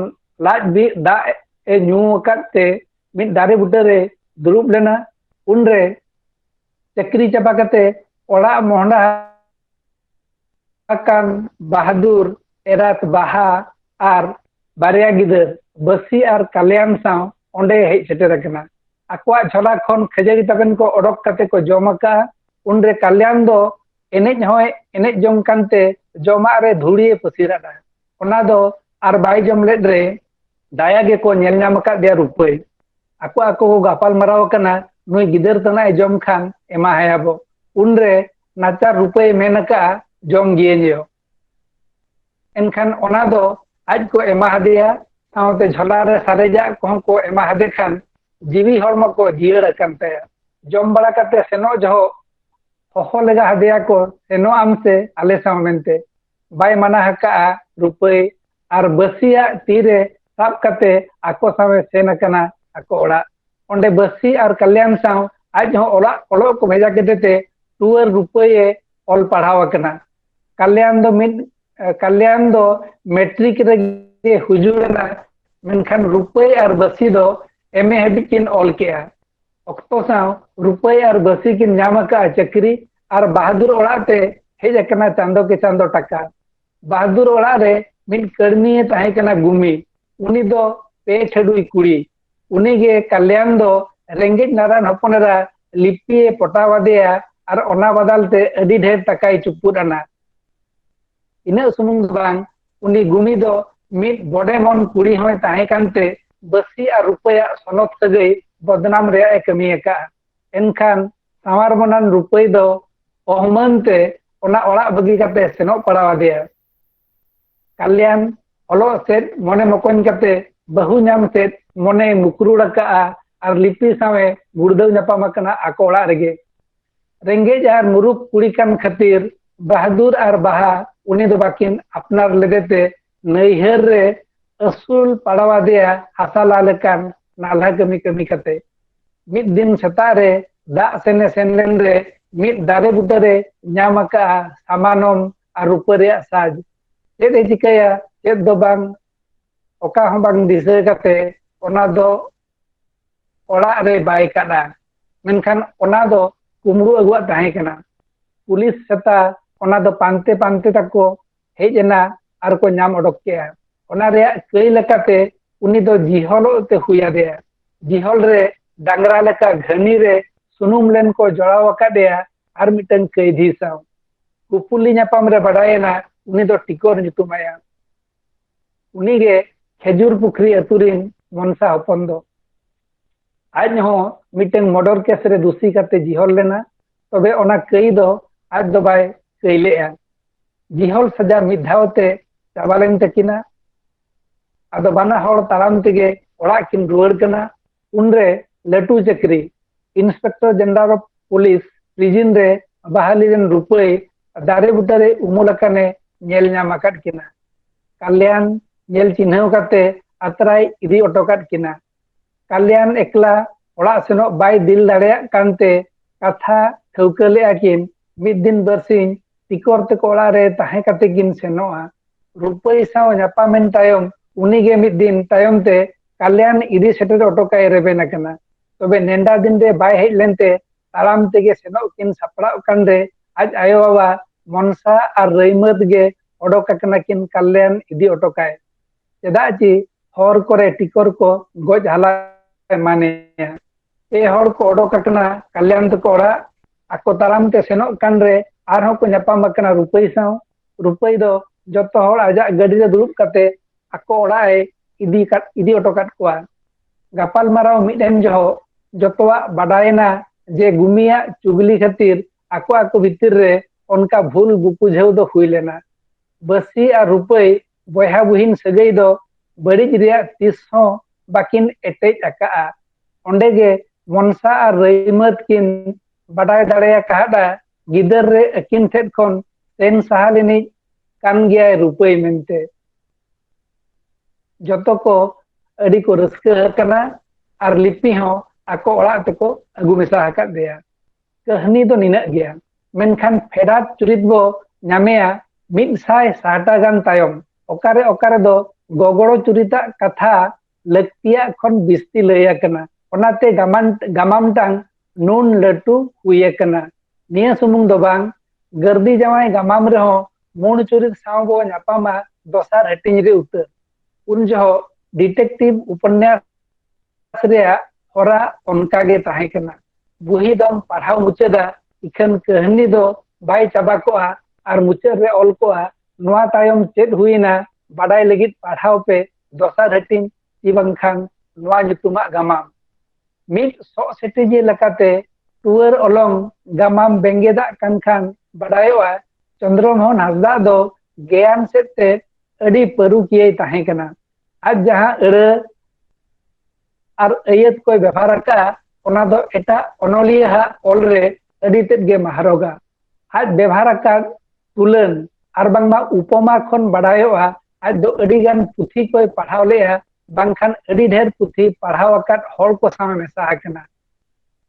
ᱞᱟᱡ ᱵᱤᱜ ᱫᱟᱜ ᱮ ᱧᱩ ᱟᱠᱟᱫ ᱛᱮ ᱢᱤᱫ ᱫᱟᱨᱮ ᱵᱩᱴᱟᱹᱨᱮ ᱫᱩᱲᱩᱵ ᱞᱮᱱᱟ ᱩᱱᱨᱮ ᱪᱟᱹᱠᱨᱤ ᱪᱟᱵᱟ ᱠᱟᱛᱮ ᱚᱲᱟᱜ ᱢᱚᱦᱰᱟ ᱟᱠᱟᱱ ᱵᱟᱦᱟᱫᱩᱨ ᱮᱨᱟᱛ ᱵᱟᱦᱟ ᱟᱨ ᱵᱟᱨᱭᱟ ᱜᱤᱫᱟᱹᱨ ᱵᱟᱹᱥᱤ ᱟᱨ ᱠᱟᱞᱭᱟᱱ ᱥᱟᱶ ᱚᱸᱰᱮ ᱦᱮᱡ ᱥᱮᱴᱮᱨ ᱟᱠᱟᱱᱟ ᱟᱠᱚᱣᱟᱜ ᱡᱷᱚᱞᱟ ᱠᱷᱚᱱ ᱠᱷᱟᱹᱡᱟᱹᱲᱤ ᱛᱟᱵᱮᱱ ᱠᱚ ᱚᱰᱚᱠ ᱠᱟᱛᱮ ᱠᱚ ᱡᱚᱢ ᱟᱠᱟᱜᱼᱟ ᱩᱱᱨᱮ ᱠᱟᱞᱭᱟᱱ ᱫᱚ ᱮᱱᱮᱡ ᱦᱚᱸᱭ ᱮᱱᱮᱡ ᱡᱚᱝ ᱠᱟᱱᱛᱮ ᱡᱚᱢᱟᱜ ᱨᱮ ᱫᱷᱩᱲᱤᱭᱮ ᱯᱟᱹᱥᱤᱨᱟᱫᱟ ᱚᱱᱟ ᱫᱚ ᱟᱨ ᱵᱟᱭ ᱡᱚᱢ ᱞᱮᱫ ᱨᱮ ᱫᱟᱭᱟ ᱜᱮᱠᱚ ᱧᱮᱞ ᱧᱟᱢ ᱟᱠᱟᱫ ᱫᱮᱭᱟ ᱨᱩᱯᱟᱹᱭ ᱟᱠᱚ ᱟᱠᱚ ᱠᱚ ᱜᱟᱯᱟᱞ ᱢᱟᱨᱟᱣ ᱟᱠᱟᱱᱟ ᱱᱩᱭ ᱜᱤᱫᱟᱹᱨ ᱛᱟᱱᱟᱜ ᱮ ᱡᱚᱢ ᱠᱷᱟᱱ ᱮᱢᱟ ᱦᱟᱭᱟᱵᱚ ᱩᱱᱨᱮ ᱱᱟᱪᱟᱨ ᱨᱩᱯᱟᱹᱭ ᱢᱮᱱ ᱟᱠᱟᱜᱼᱟ ᱡᱚᱢ ᱜᱤᱭᱟᱹᱧ ᱭᱚ ᱮᱱᱠᱷᱟᱱ ᱚᱱᱟ ᱫᱚ ᱟᱡ ᱠᱚ ᱮᱢᱟ ᱦᱟᱫᱮᱭᱟ ᱥᱟᱶᱛᱮ ᱡᱷᱚᱞᱟ ᱨᱮ ᱥᱟᱨᱮᱡᱟᱜ ᱠᱚᱦᱚᱸ ᱠᱚ ᱮᱢᱟ ᱦᱟᱫᱮ ᱠᱷᱟᱱ ᱡᱤᱣᱤ ᱦᱚᱲᱢᱚ ᱠᱚ ᱡᱤᱭᱟᱹᱲ ᱟᱠᱟᱱ ᱛᱟᱭᱟ ᱡᱚᱢ ᱵᱟᱲᱟ ᱠᱟᱛᱮ ᱥᱮᱱᱚᱜ ᱡᱚᱦᱚᱜ ᱦᱚᱦᱚ ᱞᱮᱜᱟ ᱦᱟᱫᱮᱭᱟ ᱠᱚ ᱥᱮᱱᱚᱜ ᱟᱢ ᱥᱮ ᱟᱞᱮ ᱥᱟᱶ ᱢᱮᱱᱛᱮ ᱵᱟᱭ ᱢᱟᱱᱟ ᱦᱟᱠᱟᱜᱼᱟ ᱨᱩᱯᱟᱹᱭ ᱟᱨ ᱵᱟᱹᱥᱤᱭᱟᱜ ᱛᱤᱨᱮ ᱥᱟᱵ ᱠᱟᱛᱮ ᱟᱠᱚ ᱥᱟᱶᱮ ᱥᱮᱱ ᱟᱠᱟᱱᱟ ᱟᱠᱚ ᱚᱲᱟᱜ ᱚᱸᱰᱮ ᱵᱟᱹᱥᱤ ᱟᱨ ᱠᱟᱞᱭᱟᱱ ᱥᱟᱶ ᱟᱡ ᱦᱚᱸ ᱚᱲᱟᱜ ᱚᱞᱚᱜ ᱠᱚ ᱵᱷᱮᱡᱟ ᱠᱮᱫᱮ ᱛᱮ ᱴᱩᱣᱟᱹᱨ ᱨᱩᱯᱟᱹᱭᱮ ᱚᱞ ᱯᱟᱲᱦᱟᱣ ᱟᱠᱟᱱᱟ ᱠᱟᱞᱭᱟᱱ ᱫᱚ ᱢᱤᱫ ᱠᱟᱞᱭᱟᱱ ᱫᱚ ᱢᱮᱴᱨᱤᱠ ᱨᱮᱜᱮ ᱦᱩᱡᱩᱲ ᱮᱱᱟ ᱢᱮᱱᱠᱷᱟᱱ ᱨᱩᱯᱟᱹᱭ ᱟᱨ ᱵᱟᱹᱥᱤ ᱫᱚ ᱮᱢ ᱮ ᱦᱟᱹᱵᱤᱡ ᱠᱤᱱ ᱚᱞ ᱠᱮᱜᱼᱟ ᱚᱠᱛᱚ ᱥᱟᱶ ᱨᱩᱯᱟᱹᱭ ᱟᱨ ᱵᱟᱹᱥᱤ ᱠᱤᱱ ᱧᱟᱢ ᱟᱠᱟᱫᱼᱟ ᱪᱟᱹᱠᱨᱤ ᱟᱨ ᱵᱟᱦᱟᱫᱩᱨ ᱚᱲᱟᱜ ᱛᱮ ᱦᱮᱡ ᱟᱠᱟᱱᱟ ᱪᱟᱸᱫᱚ ᱠᱮ ᱪᱟᱸᱫᱚ ᱴᱟᱠᱟ ᱵᱟᱦᱟᱫᱩᱨ ᱚᱲᱟᱜ ᱨᱮ ᱢᱤᱫ ᱠᱟᱹᱲᱢᱤᱭᱮ ᱛᱟᱦᱮᱸ ᱠᱟᱱᱟ ᱜᱩᱢᱤ ᱩᱱᱤ ᱫᱚ ᱯᱮ ᱴᱷᱟᱹᱰᱩᱭ ᱠᱩᱲᱤ ᱩᱱᱤ ᱜᱮ ᱠᱟᱞᱭᱟᱱ ᱫᱚ ᱨᱮᱸᱜᱮᱡ ᱱᱟᱨᱟᱭᱚᱱ ᱦᱚᱯᱚᱱ ᱮᱨᱟ ᱞᱤᱯᱤᱭᱮ ᱯᱚᱴᱟᱣ ᱟᱫᱮᱭᱟ ᱟᱨ ᱚᱱᱟ ᱵᱟᱫᱟᱞ ᱛᱮ ᱟᱹᱰᱤ ᱰᱷᱮᱨ ᱴᱟᱠᱟᱭ ᱪᱩᱯᱩᱫ ᱟᱱᱟ ᱤᱱᱟᱹᱜ ᱥᱩᱢᱩᱝ ᱫᱚ ᱵᱟᱝ ᱩᱱᱤ ᱜᱩᱢᱤ ᱫᱚ ᱢᱤᱫ ᱵᱚᱰᱮ ᱢᱚᱱ ᱠᱩᱲᱤ ᱦᱚᱸᱭ ᱛᱟᱦᱮᱸ ᱠᱟᱱᱛᱮ ᱵᱟᱹᱥᱤ ᱟᱨ ᱨᱩᱯᱟᱹᱭᱟᱜ ᱥᱚᱱᱚᱛ ᱥᱟᱹᱜᱟᱹᱭ ᱵᱚᱫᱱᱟᱢ ᱨᱮᱭᱟᱜ ᱮ ᱠᱟᱹᱢᱤ ᱟᱠᱟᱫᱼᱟ ᱮᱱᱠᱷᱟᱱ ᱥᱟᱶᱟᱨ ᱢᱟᱱᱟᱱ ᱨᱩᱯᱟᱹᱭ ᱫᱚ ᱚᱦᱢᱟᱹᱱ ᱛᱮ ᱚᱱᱟ ᱚᱲᱟᱜ ᱵᱟᱹᱜᱤ ᱠᱟᱛᱮ ᱥᱮᱱᱚᱜ ᱯᱟᱲᱟᱣ ᱟᱫᱮᱭᱟ ᱠᱟᱞᱭᱟᱱ ᱚᱞᱚᱜ ᱥᱮᱫ ᱢᱚᱱᱮ ᱢᱚᱠᱚᱧ ᱠᱟᱛᱮ ᱵᱟᱹᱦᱩ ᱧᱟᱢ ᱥᱮᱫ ᱢᱚᱱᱮ ᱢᱩᱠᱨᱩᱲ ᱟᱠᱟᱜᱼᱟ ᱟᱨ ᱞᱤᱯᱤ ᱥᱟᱶᱮ ᱜᱩᱲᱫᱟᱹᱣ ᱧᱟᱯᱟᱢ ᱟᱠᱟᱱᱟ ᱟᱠᱚ ᱚᱲᱟᱜ ᱨᱮᱜᱮ ᱨᱮᱸᱜᱮᱡ ᱟᱨ ᱢᱩᱨᱩᱠ ᱠᱩᱲᱤ ᱠᱟᱱ ᱠᱷᱟᱹᱛᱤᱨ ᱵᱟᱦᱟᱫᱩᱨ ᱟᱨ ᱵᱟᱦᱟ ᱩᱱᱤ ᱫᱚ ᱵᱟᱹᱠᱤᱱ ᱟᱯᱱᱟᱨ ᱞᱮᱫᱮᱛᱮ ᱱᱟᱹᱭᱦᱟᱹᱨ ᱨᱮ ᱟᱹᱥᱩᱞ ᱯᱟᱲᱟᱣᱟᱫᱮᱭᱟ ᱦᱟᱥᱟ ᱞᱟ ᱞᱮᱠᱟᱱ ᱱᱟᱞᱦᱟ ᱠᱟᱹᱢᱤ ᱠᱟᱹᱢᱤ ᱠᱟᱛᱮ ᱢᱤᱫ ᱫᱤᱱ ᱥᱮᱛᱟᱜ ᱨᱮ ᱫᱟᱜ ᱥᱮᱱᱮ ᱥᱮᱱ ᱞᱮᱱ ᱨᱮ ᱢᱤᱫ ᱫᱟᱨᱮ ᱵᱩᱴᱟᱹ ᱨᱮ ᱧᱟᱢ ᱟᱠᱟᱜᱼᱟ ᱥᱟᱢᱟᱱᱚᱢ ᱟᱨ ᱨᱩᱯᱟᱹ ᱨᱮᱭᱟᱜ ᱥᱟᱡᱽ ᱪᱮᱫ ᱮ ᱪᱤᱠᱟᱹᱭᱟ ᱪᱮᱫ ᱫᱚ ᱵᱟᱝ ᱚᱠᱟ ᱦᱚᱸ ᱵᱟᱝ ᱫᱤᱥᱟᱹ ᱠᱟᱛᱮ ᱚᱱᱟ ᱫᱚ ᱚᱲᱟᱜ ᱨᱮ ᱵᱟᱭ ᱠᱟᱫᱟ ᱢᱮᱱᱠᱷᱟᱱ ᱚᱱᱟ ᱫᱚ ᱠᱩᱢᱲᱩ ᱟᱹᱜᱩᱣᱟᱜ ᱛᱟᱦᱮᱸ ᱠᱟᱱᱟ ᱯᱩᱞᱤᱥ ᱥᱮᱛᱟ ᱚᱱᱟ ᱫᱚ ᱯᱟᱱᱛᱮ ᱯᱟᱱᱛᱮ ᱛᱟᱠᱚ ᱦᱮᱡ ᱮᱱᱟ ᱟᱨ ᱠᱚ ᱧᱟᱢ ᱚᱰᱚᱠ ᱠᱮᱫᱼᱟ ᱚᱱᱟ ᱨᱮᱭᱟᱜ ᱠᱟᱹᱭ ᱞᱮᱠᱟᱛᱮ ᱩᱱᱤ ᱫᱚ ᱡᱤᱦᱚᱞᱚᱜ ᱛᱮ ᱦᱩᱭ ᱟᱫᱮᱭᱟ ᱡᱤᱦᱚᱞ ᱨᱮ ᱰᱟᱝᱨᱟ ᱞᱮᱠᱟ ᱜᱷᱟᱹᱱᱤ ᱨᱮ ᱥᱩᱱᱩᱢ ᱞᱮᱱ ᱠᱚ ᱡᱚᱲᱟᱣ ᱟᱠᱟᱫᱮᱭᱟ ᱟᱨ ᱢᱤᱫᱴᱟᱝ ᱠᱟᱹᱭᱫᱷᱤ ᱥᱟᱶ ᱠᱩᱯᱩᱞᱤ ᱧᱟᱯᱟᱢ ᱨᱮ ᱵᱟᱰᱟᱭᱮᱱᱟ ᱩᱱᱤ ᱫᱚ ᱴᱤᱠᱚᱨ ᱧᱩᱛᱩᱢᱟᱭᱟ ᱩᱱᱤᱜᱮ ᱠᱷᱮᱡᱩᱨ ᱯᱩᱠᱷᱨᱤ ᱟᱹᱛᱩ ᱨᱤᱱ ᱢᱚᱱᱥᱟ ᱦᱚᱯᱚᱱ ᱫᱚ ᱟᱡ ᱦᱚᱸ ᱢᱤᱫᱴᱟᱝ ᱢᱚᱰᱚᱨ ᱠᱮᱥ ᱨᱮ ᱫᱩᱥᱤ ᱠᱟᱛᱮ ᱡᱤᱦᱚᱞ ᱞᱮᱱᱟ ᱛᱚᱵᱮ ᱚᱱᱟ ᱠᱟᱹᱭ ᱫᱚ ᱟᱡ ᱫᱚ ᱵᱟᱭ ᱠᱟᱹᱭ ᱞᱮᱫᱼᱟ ᱡᱤᱦᱚᱞ ᱥᱟᱡᱟ ᱢᱤᱫ ᱫᱷᱟᱣ ᱛᱮ ᱪᱟᱵᱟ ᱞᱮᱱ ᱛᱟᱹᱠᱤᱱᱟ ᱟᱫᱚ ᱵᱟᱱᱟ ᱦᱚᱲ ᱛᱟᱲᱟᱢ ᱛᱮᱜᱮ ᱚᱲᱟᱜ ᱠᱤᱱ ᱨᱩᱣᱟᱹᱲ ᱠᱟᱱᱟ ᱩᱱᱨᱮ ᱞᱟᱹᱴᱩ ᱪᱟᱹᱠᱨᱤ inspector general of police prison ᱨᱮ ᱵᱟᱦᱟᱞᱤ ᱨᱮᱱ ᱨᱩᱯᱟᱹᱭ ᱫᱟᱨᱮ ᱵᱩᱴᱟᱹᱨᱮ ᱩᱢᱩᱞ ᱟᱠᱟᱱᱮ ᱧᱮᱞ ᱧᱟᱢ ᱟᱠᱟᱫ ᱠᱤᱱᱟ ᱠᱟᱞᱭᱟᱱ ᱧᱮᱞ ᱪᱤᱱᱦᱟᱹᱣ ᱠᱟᱛᱮ ᱟᱛᱨᱟᱭ ᱤᱫᱤ ᱚᱴᱚ ᱠᱟᱫ ᱠᱤᱱᱟ ᱠᱟᱞᱭᱟᱱ ᱮᱠᱞᱟ ᱚᱲᱟᱜ ᱥᱮᱱᱚᱜ ᱵᱟᱭ ᱫᱤᱞ ᱫᱟᱲᱮᱭᱟᱜ ᱠᱟᱱᱛᱮ ᱠᱟᱛᱷᱟ ᱴᱷᱟᱹᱣᱠᱟᱹ ᱞᱮᱫᱼᱟ ᱠᱤᱱ ᱢᱤᱫ ᱫᱤᱱ ᱵᱟᱨᱥᱤᱧ ᱴᱤᱠᱚᱨ ᱛᱮᱠᱚ ᱚᱲᱟᱜ ᱨᱮ ᱛᱟᱦᱮᱸ ᱠᱟᱛᱮ ᱠᱤᱱ ᱥᱮᱱᱚᱜᱼᱟ ᱨᱩᱯᱟᱹᱭ ᱥᱟᱶ ᱧᱟᱯᱟᱢᱮᱱ ᱛᱟᱭᱚᱢ ᱩᱱᱤᱜᱮ ᱢᱤᱫ ᱫᱤᱱ ᱛᱟᱭᱚᱢ ᱛᱮ ᱠᱟᱞᱭᱟᱱ ᱤᱫᱤ ᱥᱮᱴᱮᱨ ᱚᱴᱚ ᱠᱟᱭ ᱨᱮᱵᱮᱱ ᱟᱠᱟᱱᱟ ᱛᱚᱵᱮ ᱱᱮᱰᱟ ᱫᱤᱱ ᱨᱮ ᱵᱟᱭ ᱦᱮᱡ ᱞᱮᱱᱛᱮ ᱛᱟᱲᱟᱢ ᱛᱮᱜᱮ ᱥᱮᱱᱚᱜ ᱠᱤᱱ ᱥᱟᱯᱲᱟᱣ ᱠᱟᱱ ᱨᱮ ᱟᱡ ᱟᱭᱳ ᱵᱟᱵᱟ ᱢᱚᱱᱥᱟ ᱟᱨ ᱨᱟᱹᱭᱢᱟᱹᱛ ᱜᱮ ᱚᱰᱚᱠ ᱟᱠᱟᱱᱟ ᱠᱤᱱ ᱠᱟᱞᱭᱟᱱ ᱤᱫᱤ ᱚᱴᱚ ᱠᱟᱭ ᱪᱮᱫᱟᱜ ᱪᱮ ᱦᱚᱨ ᱠᱚᱨᱮ ᱴᱤᱠᱚᱨ ᱠᱚ ᱜᱚᱡ ᱦᱟᱞᱟ ᱮᱢᱟᱱᱮᱭᱟ ᱯᱮ ᱦᱚᱲ ᱠᱚ ᱚᱰᱚᱠ ᱟᱠᱟᱱᱟ ᱠᱟᱞᱭᱟᱱ ᱛᱟᱠᱚ ᱚᱲᱟᱜ ᱟᱠᱚ ᱛᱟᱲᱟᱢ ᱛᱮ ᱥᱮᱱᱚᱜ ᱠᱟᱱ ᱨᱮ ᱟᱨᱦᱚᱸ ᱠᱚ ᱧᱟᱯᱟᱢ ᱟᱠᱟᱱᱟ ᱨᱩᱯᱟᱹᱭ ᱥᱟᱶ ᱨᱩᱯᱟᱹᱭ ᱫᱚ ᱡᱚᱛᱚ ᱦᱚᱲ ᱟᱡᱟᱜ ᱜᱟᱹᱰᱤ ᱨᱮ ᱫᱩᱲᱩᱵ ᱠᱟᱛᱮ ᱟᱠᱚ ᱚᱲᱟᱜ ᱮ ᱤᱫᱤ ᱠᱟᱫ ᱤᱫᱤ ᱚᱴᱚ ᱠᱟᱫ ᱠᱚᱣᱟ ᱜᱟᱯᱟᱞ ᱢᱟᱨᱟᱣ ᱢᱤᱫ ᱮᱱ ᱡᱚᱦᱚᱜ ᱡᱚᱛᱚᱣᱟᱜ ᱵᱟᱰᱟᱭᱮᱱᱟ ᱡᱮ ᱜᱩᱢᱤᱭᱟᱜ ᱪᱩᱜᱽᱞᱤ ᱠᱷᱟᱹᱛᱤᱨ ᱟᱠᱚ ᱟᱠᱚ ᱵᱷᱤᱛᱤᱨ ᱨᱮ ᱚᱱᱠᱟ ᱵᱷᱩᱞ ᱵᱩᱯᱩᱡᱷᱟᱹᱣ ᱫᱚ ᱦᱩᱭ ᱞᱮᱱᱟ ᱵᱟᱹᱥᱤ ᱟᱨ ᱨᱩᱯᱟᱹᱭ ᱵᱚᱭᱦᱟ ᱵᱩᱦᱤᱱ ᱥᱟᱹᱜᱟᱹᱭ ᱫᱚ ᱵᱟᱹᱲᱤᱡ ᱨᱮᱭᱟᱜ ᱛᱤᱥ ᱦᱚᱸ ᱵᱟᱹᱠᱤᱱ ᱮᱴᱮᱡ ᱟᱠᱟᱫᱼᱟ ᱚᱸᱰᱮ ᱜᱮ ᱢᱚᱱᱥᱟ ᱟᱨ ᱨᱟᱹᱭᱢᱟᱹᱫ ᱠᱤᱱ ᱵᱟᱰᱟᱭ ᱫᱟᱲᱮ ᱟᱠᱟᱫᱼᱟ ᱜᱤᱫᱟᱹᱨ ᱨᱮ ᱟᱹᱠᱤᱱ ᱴᱷᱮᱱ ᱠᱷᱚᱱ ᱥᱮᱱ ᱥᱟᱦᱟ ᱞᱮᱱᱤᱡ ᱠᱟᱱ ᱜᱮᱭᱟᱭ ᱨᱩᱯᱟᱹᱭ ᱢᱮᱱᱛᱮ ᱡᱚᱛᱚ ᱠᱚ ᱟᱹᱰᱤ ᱠᱚ ᱨᱟᱹᱥᱠᱟᱹ ᱟᱠᱟᱱᱟ ᱟᱨ ᱞᱤᱯᱤ ᱦᱚᱸ ᱟᱠᱚ ᱚᱲᱟᱜ ᱛᱮᱠᱚ ᱟᱹᱜᱩ ᱢᱮᱥᱟ ᱟᱠᱟᱫᱮᱭᱟ ᱠᱟᱹᱦᱱᱤ ᱫᱚ ᱱᱤᱱᱟᱹᱜ ᱜᱮᱭᱟ ᱢᱮᱱᱠᱷᱟᱱ ᱯᱷᱮᱰᱟᱛ ᱪᱩᱨᱤᱛ ᱵᱚ ᱧᱟᱢᱮᱭᱟ ᱢᱤᱫ ᱥᱟᱭ ᱥᱟᱦᱴᱟ ᱜᱟᱱ ᱛᱟᱭᱚᱢ ᱚᱠᱟᱨᱮ ᱚᱠᱟᱨᱮ ᱫᱚ ᱜᱚᱜᱚᱲᱚ ᱪᱩᱨᱤᱛᱟᱜ ᱠᱟᱛᱷᱟ ᱞᱟᱹᱠᱛᱤᱭᱟᱜ ᱠᱷᱚᱱ ᱵᱤᱥᱛᱤ ᱞᱟᱹᱭ ᱟᱠᱟᱱᱟ ᱚᱱᱟᱛᱮ ᱜᱟᱢᱟᱱ ᱜᱟᱢᱟᱢ ᱴᱟᱝ ᱱᱩᱱ ᱞᱟᱹᱴᱩ ᱦᱩᱭ ᱟᱠᱟᱱᱟ ᱱᱤᱭᱟᱹ ᱥᱩᱢᱩᱝ ᱫᱚ ᱵᱟᱝ ᱜᱟᱹᱨᱫᱤ ᱡᱟᱶᱟᱭ ᱜᱟᱢᱟᱢ ᱨᱮᱦᱚᱸ ᱢᱩᱬ ᱪᱩᱨᱤᱛ ᱥᱟᱶ ᱵᱚ ᱧᱟᱯᱟᱢᱟ ᱫᱚᱥᱟᱨ ᱦᱟᱹᱴᱤᱧ ᱨᱮ ᱩᱛᱟᱹᱨ ᱩᱱ ᱡᱚᱦᱚᱜ ᱰᱤᱴᱮᱠᱴᱤᱵᱷ ᱩᱯᱚᱱᱱᱟᱥ ᱨᱮᱭᱟᱜ ᱦᱚᱨᱟ ᱚᱱᱠᱟ ᱜᱮ ᱛᱟᱦᱮᱸ ᱠᱟᱱᱟ ᱵᱩᱦᱤ ᱫᱚᱢ ᱯᱟᱲᱦᱟᱣ ᱢᱩᱪᱟᱹᱫᱟ ᱤᱠᱷᱟᱹᱱ ᱠᱟᱹᱦᱱᱤ ᱫᱚ ᱵᱟᱭ ᱪᱟᱵᱟ ᱠᱚᱜᱼᱟ ᱟᱨ ᱢᱩᱪᱟᱹᱫ ᱨᱮ ᱚᱞ ᱠᱚᱜᱼᱟ ᱱᱚᱣᱟ ᱛᱟᱭᱚᱢ ᱪᱮᱫ ᱦᱩᱭᱮᱱᱟ ᱵᱟᱰᱟᱭ ᱞᱟᱹᱜᱤᱫ ᱯᱟᱲᱦᱟᱣ ᱯᱮ ᱫᱚᱥᱟᱨ ᱦᱟᱹᱴᱤᱧ ᱠᱤ ᱵᱟᱝᱠᱷᱟᱱ ᱱᱚᱣᱟ ᱧᱩᱛᱩᱢᱟᱜ ᱜᱟᱢᱟᱢ ᱢᱤᱫ ᱥᱚᱜ ᱥᱮᱴᱮᱡᱤ ᱞᱮᱠᱟᱛᱮ ᱴᱩᱣᱟᱹᱨ ᱚᱞᱚᱝ ᱜᱟᱢᱟᱢ ᱵᱮᱸᱜᱮᱫᱟᱜ ᱠᱟᱱ ᱠᱷᱟᱱ ᱵᱟᱰᱟᱭᱚᱜᱼᱟ ᱪᱚᱱᱫᱨᱚᱢᱳᱦᱚᱱ ᱦᱟᱸᱥᱫᱟᱜ ᱫᱚ ᱜᱮᱭᱟᱱ ᱥᱮᱫ ᱛᱮ ᱟᱹᱰᱤ ᱯᱟᱹᱨᱩᱠᱤᱭᱟᱹᱭ ᱛᱟᱦᱮᱸ ᱠᱟᱱᱟ ᱟᱡ ᱡᱟᱦᱟᱸ ᱟᱹᱲᱟᱹ ᱟᱨ ᱟᱹᱭᱟᱹᱛ ᱠᱚᱭ ᱵᱮᱵᱷᱟᱨ ᱟᱠᱟᱫᱼᱟ ᱚᱱᱟ ᱫᱚ ᱮᱴᱟᱜ ᱚᱱᱚᱞᱤᱭᱟᱹ ᱦᱟᱜ ᱚᱞ ᱨᱮ ᱟᱹᱰᱤ ᱛᱮᱫ ᱜᱮ ᱢᱟᱦᱨᱚᱜᱟ ᱟᱡ ᱵᱮᱵᱷᱟᱨ ᱟᱠᱟᱫ ᱛᱩᱞᱟᱹᱱ ᱟᱨ ᱵᱟᱝᱢᱟ ᱩᱯᱚᱢᱟ ᱠᱷᱚᱱ ᱵᱟᱰᱟᱭᱚᱜᱼᱟ ᱟᱡ ᱫᱚ ᱟᱹᱰᱤ ᱜᱟᱱ ᱯᱩᱛᱷᱤ ᱠᱚᱭ ᱯᱟᱲᱦᱟᱣ ᱞᱮᱫᱼᱟ ᱵᱟᱝᱠᱷᱟᱱ ᱟᱹᱰᱤ ᱰᱷᱮᱨ ᱯᱩᱛᱷᱤ ᱯᱟᱲᱦᱟᱣ ᱟᱠᱟᱫ ᱦᱚᱲ ᱠᱚ ᱥᱟᱶ ᱢᱮᱥᱟ ᱟᱠᱟᱱᱟ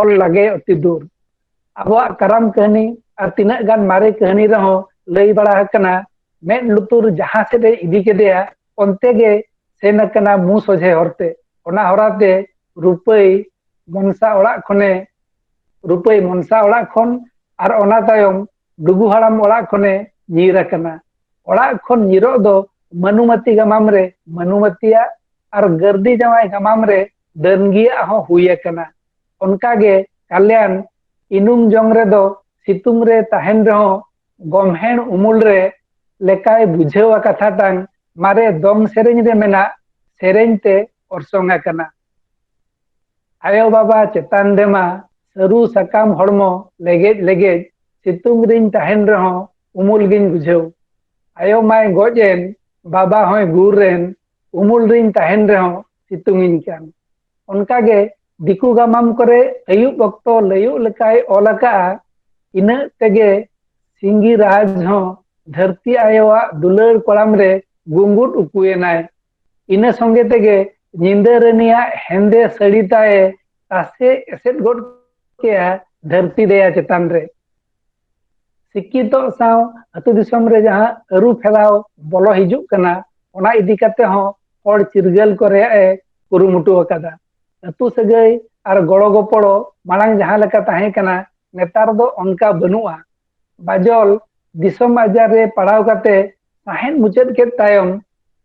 ᱚᱞ ᱞᱟᱜᱮ ᱚᱛᱤ ᱫᱩᱨ ᱟᱵᱚᱣᱟᱜ ᱠᱟᱨᱟᱢ ᱠᱟᱹᱦᱱᱤ ᱟᱨ ᱛᱤᱱᱟᱹᱜ ᱜᱟᱱ ᱢᱟᱨᱮ ᱠᱟᱹᱦᱱᱤ ᱨᱮᱦᱚᱸ ᱞᱟᱹᱭ ᱵᱟᱲᱟ ᱟᱠᱟᱱᱟ ᱢᱮᱫ ᱞᱩᱛᱩᱨ ᱡᱟᱦᱟᱸ ᱥᱮᱫ ᱮ ᱤᱫᱤ ᱠᱮᱫᱮᱭᱟ ᱚᱱᱛᱮ ᱜᱮ ᱥᱮᱱ ᱟᱠᱟᱱᱟ ᱢᱩ ᱥᱚᱡᱷᱮ ᱦᱚᱨᱛᱮ ᱚᱱᱟ ᱦᱚᱨᱟᱛᱮ ᱨᱩᱯᱟᱹᱭ ᱢᱚᱱᱥᱟ ᱚᱲᱟᱜ ᱠᱷᱚᱱᱮ ᱨᱩᱯᱟᱹᱭ ᱢᱚᱱᱥᱟ ᱚᱲᱟᱜ ᱠᱷᱚᱱ ᱟᱨ ᱚᱱᱟ ᱛᱟᱭᱚᱢ ᱰᱩᱜᱩ ᱦᱟᱲᱟᱢ ᱚᱲᱟᱜ ᱠᱷᱚᱱᱮ ᱧᱤᱨ ᱟᱠᱟᱱᱟ ᱚᱲᱟᱜ ᱠᱷᱚᱱ ᱧᱤᱨᱚᱜ ᱫᱚ ᱢᱟᱹᱱᱩᱢᱟᱹᱛᱤ ᱜᱟᱢᱟᱢ ᱨᱮ ᱢᱟᱹᱱᱩᱢᱟᱹᱛᱤᱭᱟᱜ ᱟᱨ ᱜᱟᱹᱨᱫᱤ ᱡᱟᱶᱟᱭ ᱜᱟᱢᱟᱢ ᱨᱮ ᱰᱟᱹᱱᱜᱤᱭᱟᱜ ᱦᱚᱸ ᱦᱩᱭ ᱟᱠᱟᱱᱟ ᱚᱱᱠᱟᱜᱮ ᱠᱟᱞᱭᱟᱱ ᱤᱱᱩᱢ ᱡᱚᱝ ᱨᱮᱫᱚ ᱥᱤᱛᱩᱝ ᱨᱮ ᱛᱟᱦᱮᱱ ᱨᱮᱦᱚᱸ ᱜᱚᱢᱦᱮᱲ ᱩᱢᱩᱞ ᱨᱮ ᱞᱮᱠᱟᱭ ᱵᱩᱡᱷᱟᱹᱣᱟ ᱠᱟᱛᱷᱟ ᱛᱟᱝ ᱢᱟᱨᱮ ᱫᱚᱝ ᱥᱮᱨᱮᱧ ᱨᱮ ᱢᱮᱱᱟᱜ ᱥᱮᱨᱮᱧ ᱛᱮ ᱚᱨᱥᱚᱝ ᱟᱠᱟᱱᱟ ᱟᱭᱳ-ᱵᱟᱵᱟ ᱪᱮᱛᱟᱱ ᱨᱮᱢᱟ ᱥᱟᱹᱨᱩ ᱥᱟᱠᱟᱢ ᱦᱚᱲᱢᱚ ᱞᱮᱜᱮᱡ ᱞᱮᱜᱮᱡ ᱥᱤᱛᱩᱝ ᱨᱤᱧ ᱛᱟᱦᱮᱱ ᱨᱮᱦᱚᱸ ᱩᱢᱩᱞ ᱜᱤᱧ ᱵᱩᱡᱷᱟᱹᱣ᱾ ᱟᱭᱳ ᱢᱟᱭ ᱜᱚᱡ ᱮᱱ, ᱵᱟᱵᱟ ᱦᱚᱸᱭ ᱜᱩᱨ ᱮᱱ, ᱩᱢᱩᱞ ᱨᱤᱧ ᱛᱟᱦᱮᱱ ᱨᱮᱦᱚᱸ ᱥᱤᱛᱩᱝ ᱤᱧ ᱠᱟᱱ᱾ ᱚᱱᱠᱟ ᱜᱮ ᱫᱤᱠᱩ ᱜᱟᱢᱟᱢ ᱠᱚᱨᱮ ᱟᱹᱭᱩᱵ ᱚᱠᱛᱚ ᱞᱟᱹᱭᱩᱜ ᱞᱮᱠᱟᱭ ᱚᱞ ᱟᱠᱟᱫᱼᱟ, ᱤᱱᱟᱹᱜ ᱛᱮᱜᱮ ᱥᱤᱝᱜᱤᱨᱟᱡᱽ ᱦᱚᱸ ᱫᱷᱟᱹᱨᱛᱤ ᱟᱭᱳᱣᱟᱜ ᱫᱩᱞᱟᱹᱲ ᱠᱚᱲᱟᱢ ᱨᱮ ᱜᱩᱸᱜᱩᱫ ᱩᱠᱩ ᱮᱱᱟᱭ᱾ ᱤᱱᱟᱹ ᱥᱚᱸᱜᱮ ᱛᱮᱜᱮ ᱧᱤᱫᱟᱹ ᱨᱟᱹᱱᱤᱭᱟᱜ ᱦᱮᱸᱫᱮ ᱥᱟᱹᱲᱤ ᱛᱟᱭᱮ ᱛᱟᱥᱮ ᱮᱥᱮᱫ ᱜᱚᱫ ᱠᱮᱜᱼᱟ ᱫᱷᱟᱹᱨᱛᱤ ᱫᱮᱭᱟ ᱪᱮᱛᱟᱱ ᱨᱮ ᱥᱤᱠᱠᱷᱤᱛᱚᱜ ᱥᱟᱶ ᱟᱹᱛᱩ ᱫᱤᱥᱚᱢ ᱨᱮ ᱡᱟᱦᱟᱸ ᱟᱹᱨᱩ ᱯᱷᱮᱨᱟᱣ ᱵᱚᱞᱚ ᱦᱤᱡᱩᱜ ᱠᱟᱱᱟ ᱚᱱᱟ ᱤᱫᱤ ᱠᱟᱛᱮ ᱦᱚᱸ ᱦᱚᱲ ᱪᱤᱨᱜᱟᱹᱞ ᱠᱚ ᱨᱮᱭᱟᱜ ᱮ ᱠᱩᱨᱩᱢᱩᱴᱩ ᱟᱠᱟᱫᱟ ᱟᱹᱛᱩ ᱥᱟᱹᱜᱟᱹᱭ ᱟᱨ ᱜᱚᱲᱚ ᱜᱚᱯᱚᱲᱚ ᱢᱟᱲᱟᱝ ᱡᱟᱦᱟᱸ ᱞᱮᱠᱟ ᱛᱟᱦᱮᱸ ᱠᱟᱱᱟ ᱱᱮᱛᱟᱨ ᱫᱚ ᱚᱱᱠᱟ ᱵᱟᱹᱱᱩᱜᱼᱟ ᱵᱟᱡᱚᱞ ᱫᱤᱥᱚᱢ ᱟᱡᱟᱨ ᱨᱮ ᱯᱟᱲᱟᱣ ᱠᱟᱛᱮ ᱥᱟᱦᱮᱸᱫ ᱢᱩᱪᱟᱹᱫ ᱠᱮᱫ ᱛᱟᱭᱚᱢ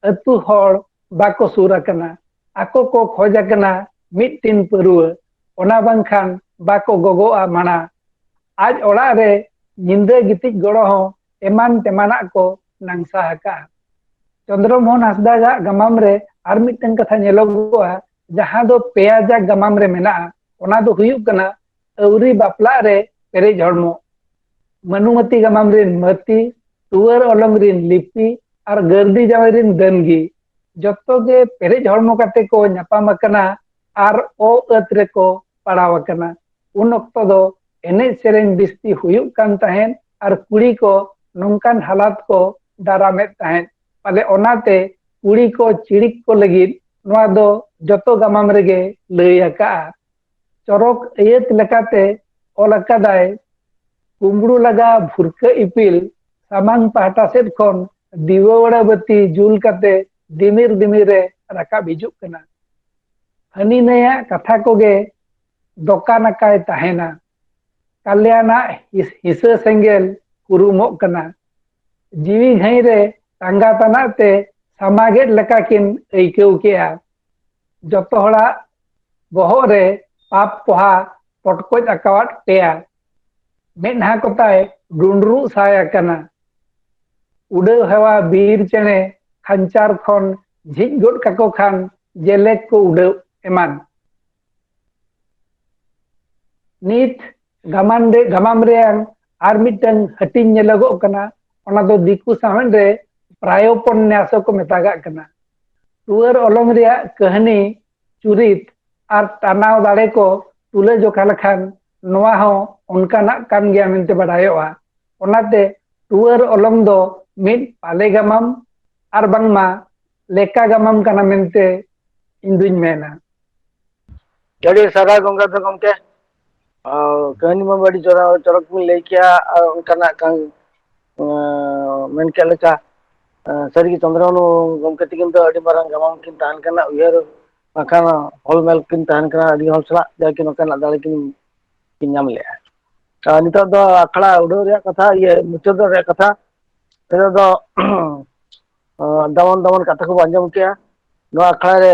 ᱟᱹᱛᱩ ᱦᱚᱲ ᱵᱟᱠᱚ ᱥᱩᱨ ᱟᱠᱟᱱᱟ ᱟᱠᱚ ᱠᱚ ᱠᱷᱚᱡ ᱟᱠᱟᱱᱟ ᱢᱤᱫ ᱴᱤᱱ ᱯᱟᱹᱨᱩᱣᱟᱹ ᱚᱱᱟ ᱵᱟᱝᱠᱷᱟᱱ ᱵᱟᱠᱚ ᱜᱚᱜᱚᱜᱼᱟ ᱢᱟᱬᱟ ᱟᱡ ᱚᱲᱟᱜ ᱨᱮ ᱧᱤᱫᱟᱹ ᱜᱤᱛᱤᱡ ᱜᱚᱲᱚ ᱦᱚᱸ ᱮᱢᱟᱱ ᱛᱮᱢᱟᱱᱟᱜ ᱠᱚ ᱱᱟᱝᱥᱟ ᱟᱠᱟᱜᱼᱟ ᱪᱚᱱᱫᱨᱚ ᱢᱳᱦᱚᱱ ᱦᱟᱸᱥᱫᱟᱜᱟᱜ ᱜᱟᱢᱟᱢ ᱨᱮ ᱟᱨ ᱢᱤᱫᱴᱟᱝ ᱠᱟᱛᱷᱟ ᱧᱮᱞᱚᱜᱚᱜᱼᱟ ᱡᱟᱦᱟᱸ ᱫᱚ ᱯᱮᱭᱟ ᱡᱟᱜ ᱜᱟᱢᱟᱢ ᱨᱮ ᱢᱮᱱᱟᱜᱼᱟ ᱚᱱᱟ ᱫᱚ ᱦᱩᱭᱩᱜ ᱠᱟᱱᱟ ᱟᱹᱣᱨᱤ ᱵᱟᱯᱞᱟᱜ ᱨᱮ ᱯᱮᱨᱮᱡ ᱦᱚᱲᱢᱚ ᱢᱟᱹᱱᱩᱢᱟᱹᱛᱤ ᱜᱟᱢᱟᱢ ᱨᱤᱱ ᱢᱟᱹᱛᱤ ᱴᱩᱣᱟᱹᱨ ᱚᱞᱚᱝ ᱨᱤᱱ ᱞᱤᱯᱤ ᱟᱨ ᱜᱟᱹᱨᱫᱤ ᱡᱟᱶᱟᱭ ᱨᱤᱱ ᱫᱟᱹᱱᱜᱤ ᱡᱚᱛᱚ ᱜᱮ ᱯᱮᱨᱮᱡ ᱦᱚᱲᱢᱚ ᱠᱟᱛᱮ ᱠᱚ ᱧᱟᱯᱟᱢ ᱟᱠᱟᱱᱟ ᱟᱨ ᱚ ᱟᱹᱛ ᱨᱮᱠᱚ ᱯᱟᱲᱟᱣ ᱟᱠᱟᱱᱟ ᱩᱱ ᱚᱠᱛᱚ ᱫᱚ ᱮᱱᱮᱡ ᱥᱮᱨᱮᱧ ᱵᱤᱥᱛᱤ ᱦᱩᱭᱩᱜ ᱠᱟᱱ ᱛᱟᱦᱮᱸᱫ ᱟᱨ ᱠᱩᱲᱤ ᱠᱚ ᱱᱚᱝᱠᱟᱱ ᱦᱟᱞᱟᱛ ᱠᱚ ᱫᱟᱨᱟᱢᱮᱫ ᱛᱟᱦᱮᱸᱫ ᱯᱟᱞᱮ ᱚᱱᱟᱛᱮ ᱠᱩᱲᱤ ᱠᱚ ᱪᱤᱲᱤᱠ ᱠᱚ ᱞᱟᱹᱜᱤᱫ ᱱᱚᱣᱟ ᱫᱚ ᱡᱚᱛᱚ ᱜᱟᱢᱟᱢ ᱨᱮᱜᱮ ᱞᱟᱹᱭ ᱟᱠᱟᱜᱼᱟ ᱪᱚᱨᱚᱠ ᱟᱹᱭᱟᱹᱛ ᱞᱮᱠᱟᱛᱮ ᱚᱞ ᱟᱠᱟᱫᱟᱭ ᱠᱩᱢᱵᱽᱲᱩ ᱞᱟᱜᱟ ᱵᱷᱩᱨᱠᱟᱹ ᱤᱯᱤᱞ ᱥᱟᱢᱟᱝ ᱯᱟᱦᱴᱟ ᱥᱮᱫ ᱠᱷᱚᱱ ᱫᱤᱣᱟᱹᱣᱲᱟ ᱵᱟᱹᱛᱤ ᱡᱩᱞ ᱠᱟᱛᱮ ᱫᱤᱢᱤᱨ ᱫᱤᱢᱤᱨ ᱨᱮ ᱨᱟᱠᱟᱵ ᱦᱤᱡᱩᱜ ᱠᱟᱱᱟ ᱦᱟᱹᱱᱤ ᱱᱟᱹᱭᱟᱜ ᱠᱟᱛᱷᱟ ᱠᱚᱜᱮ ᱫᱚᱠᱟᱱ ᱟᱠᱟᱭ ᱛᱟᱦᱮᱱᱟ ᱠᱟᱞᱭᱟᱱᱟᱜ ᱦᱤᱥᱟᱹ ᱥᱮᱸᱜᱮᱞ ᱠᱩᱨᱩᱢᱚᱜ ᱠᱟᱱᱟ ᱡᱤᱣᱤ ᱜᱷᱟᱹᱭ ᱨᱮ ᱛᱟᱸᱜᱟ ᱛᱟᱱᱟᱜ ᱛᱮ ᱥᱟᱢᱟᱜᱮᱫ ᱞᱮᱠᱟ ᱠᱤᱱ ᱟᱹᱭᱠᱟᱹᱣ ᱠᱮᱜᱼᱟ ᱡᱚᱛᱚ ᱦᱚᱲᱟᱜ ᱵᱚᱦᱚᱜ ᱨᱮ ᱯᱟᱯ ᱯᱚᱦᱟ ᱯᱚᱴᱠᱚᱡ ᱟᱠᱟᱣᱟᱫ ᱯᱮᱭᱟ ᱢᱮᱫᱦᱟ ᱠᱚᱛᱟᱭ ᱰᱩᱸᱰᱨᱩᱜ ᱥᱟᱭ ᱟᱠᱟᱱᱟ ᱩᱰᱟᱹᱣ ᱦᱮᱣᱟ ᱵᱤᱨ ᱪᱮᱬᱮ ᱠᱷᱟᱧᱪᱟᱨ ᱠᱷᱚᱱ ᱡᱷᱤᱡ ᱜᱚᱫ ᱠᱟᱠᱚ ᱠᱷᱟᱱ ᱡᱮᱞᱮᱠ ᱠᱚ ᱩᱰᱟᱹᱣ ᱮᱢᱟᱱ ᱱᱤᱛ ᱜᱟᱢᱟᱢ ᱨᱮ ᱜᱟᱢᱟᱢ ᱨᱮᱭᱟᱝ ᱟᱨ ᱢᱤᱫᱴᱟᱝ ᱦᱟᱹᱴᱤᱧ ᱧᱮᱞᱚᱜᱚᱜ ᱠᱟᱱᱟ ᱚᱱᱟ ᱫᱚ ᱫᱤᱠᱩ ᱥᱟᱶᱦᱮᱫ ᱨᱮ ᱯᱨᱟᱭᱳᱯᱚᱱᱱᱟᱥ ᱠᱚ ᱢᱮᱛᱟᱜᱟᱜ ᱠᱟᱱᱟ ᱴᱩᱣᱟᱹᱨ ᱚᱞᱚᱝ ᱨᱮᱭᱟᱜ ᱠᱟᱹᱦᱱᱤ ᱪᱩᱨᱤᱛ ᱟᱨ ᱴᱟᱱᱟᱣ ᱫᱟᱲᱮ ᱠᱚ ᱛᱩᱞᱟᱹ ᱡᱚᱠᱷᱟ ᱞᱮᱠᱷᱟᱱ ᱱᱚᱣᱟ ᱦᱚᱸ ᱚᱱᱠᱟᱱᱟᱜ ᱠᱟᱱ ᱜᱮᱭᱟ ᱢᱮᱱᱛᱮ ᱵᱟᱰᱟᱭᱚᱜᱼᱟ ᱚᱱᱟᱛᱮ ᱴᱩᱣᱟᱹᱨ ᱚᱞᱚᱝ ᱫᱚ ᱢᱤᱫ ᱯᱟᱞᱮ ᱜᱟᱢᱟᱢ ᱟᱨ ᱵᱟᱝᱢᱟ ᱞᱮᱠᱟ ᱜᱟᱢᱟᱢ ᱠᱟᱱᱟ ᱢᱮᱱᱛᱮ ᱤᱧ ᱫᱩᱧ ᱢᱮᱱᱟ ᱟᱹᱰᱤ ᱥᱟᱨᱦᱟᱣ ᱜᱚᱝᱜᱟᱫᱷᱚ ᱜᱚᱝᱠᱮ ᱠᱟᱹᱦᱱᱤ ᱢᱟ ᱟᱹᱰᱤ ᱪᱚᱨᱟ ᱪᱚᱨᱚᱠ ᱵᱤᱱ ᱞᱟᱹᱭ ᱠᱮᱭᱟ ᱟᱨ ᱚᱱᱠᱟᱱᱟᱜ ᱠᱟᱱ ᱢᱮᱱ ᱠᱮᱫ ᱞᱮᱠᱟ ᱥᱟᱹᱨᱤ ᱜᱮ ᱪᱚᱱᱫᱨᱚ ᱢᱩᱨᱢᱩ ᱜᱚᱢᱠᱮ ᱛᱤᱠᱤᱱ ᱫᱚ ᱟᱹᱰᱤ ᱢᱟᱨᱟᱝ ᱜᱟᱢᱟᱢ ᱠᱤᱱ ᱛᱟᱦᱮᱱ ᱠᱟᱱᱟ ᱩᱭᱦᱟᱹᱨ ᱵᱟᱝᱠᱷᱟᱱ ᱚᱞ ᱢᱮᱞ ᱠᱤᱱ ᱛᱟᱦᱮᱱ ᱠᱟᱱᱟ ᱟᱹᱰᱤ ᱦᱚᱲ ᱥᱟᱞᱟᱜ ᱡᱟᱜᱮ ᱱᱚᱝᱠᱟᱱᱟᱜ ᱫᱟᱲᱮ ᱠᱤᱱ ᱠᱤᱱ ᱧᱟᱢ ᱞᱮᱜᱼᱟ ᱟᱨ ᱱᱤᱛᱚᱜ ᱫᱚ ᱟᱠᱷᱲᱟ ᱩᱰᱷᱟᱹᱣ ᱨᱮᱭᱟᱜ ᱠᱟᱛᱷᱟ ᱤᱭᱟᱹ ᱢᱩᱪᱟᱹᱫᱚᱜ ᱨᱮᱭᱟᱜ ᱠᱟᱛᱷᱟ ᱱᱤᱛᱚᱜ ᱫᱚ ᱫᱟᱢᱟᱱ ᱫᱟᱢᱟᱱ ᱠᱟᱛᱷᱟ ᱠᱚᱵᱚᱱ ᱟᱸᱡᱚᱢ ᱠᱮᱜᱼᱟ ᱱᱚᱣᱟ ᱟᱠᱷᱲᱟ ᱨᱮ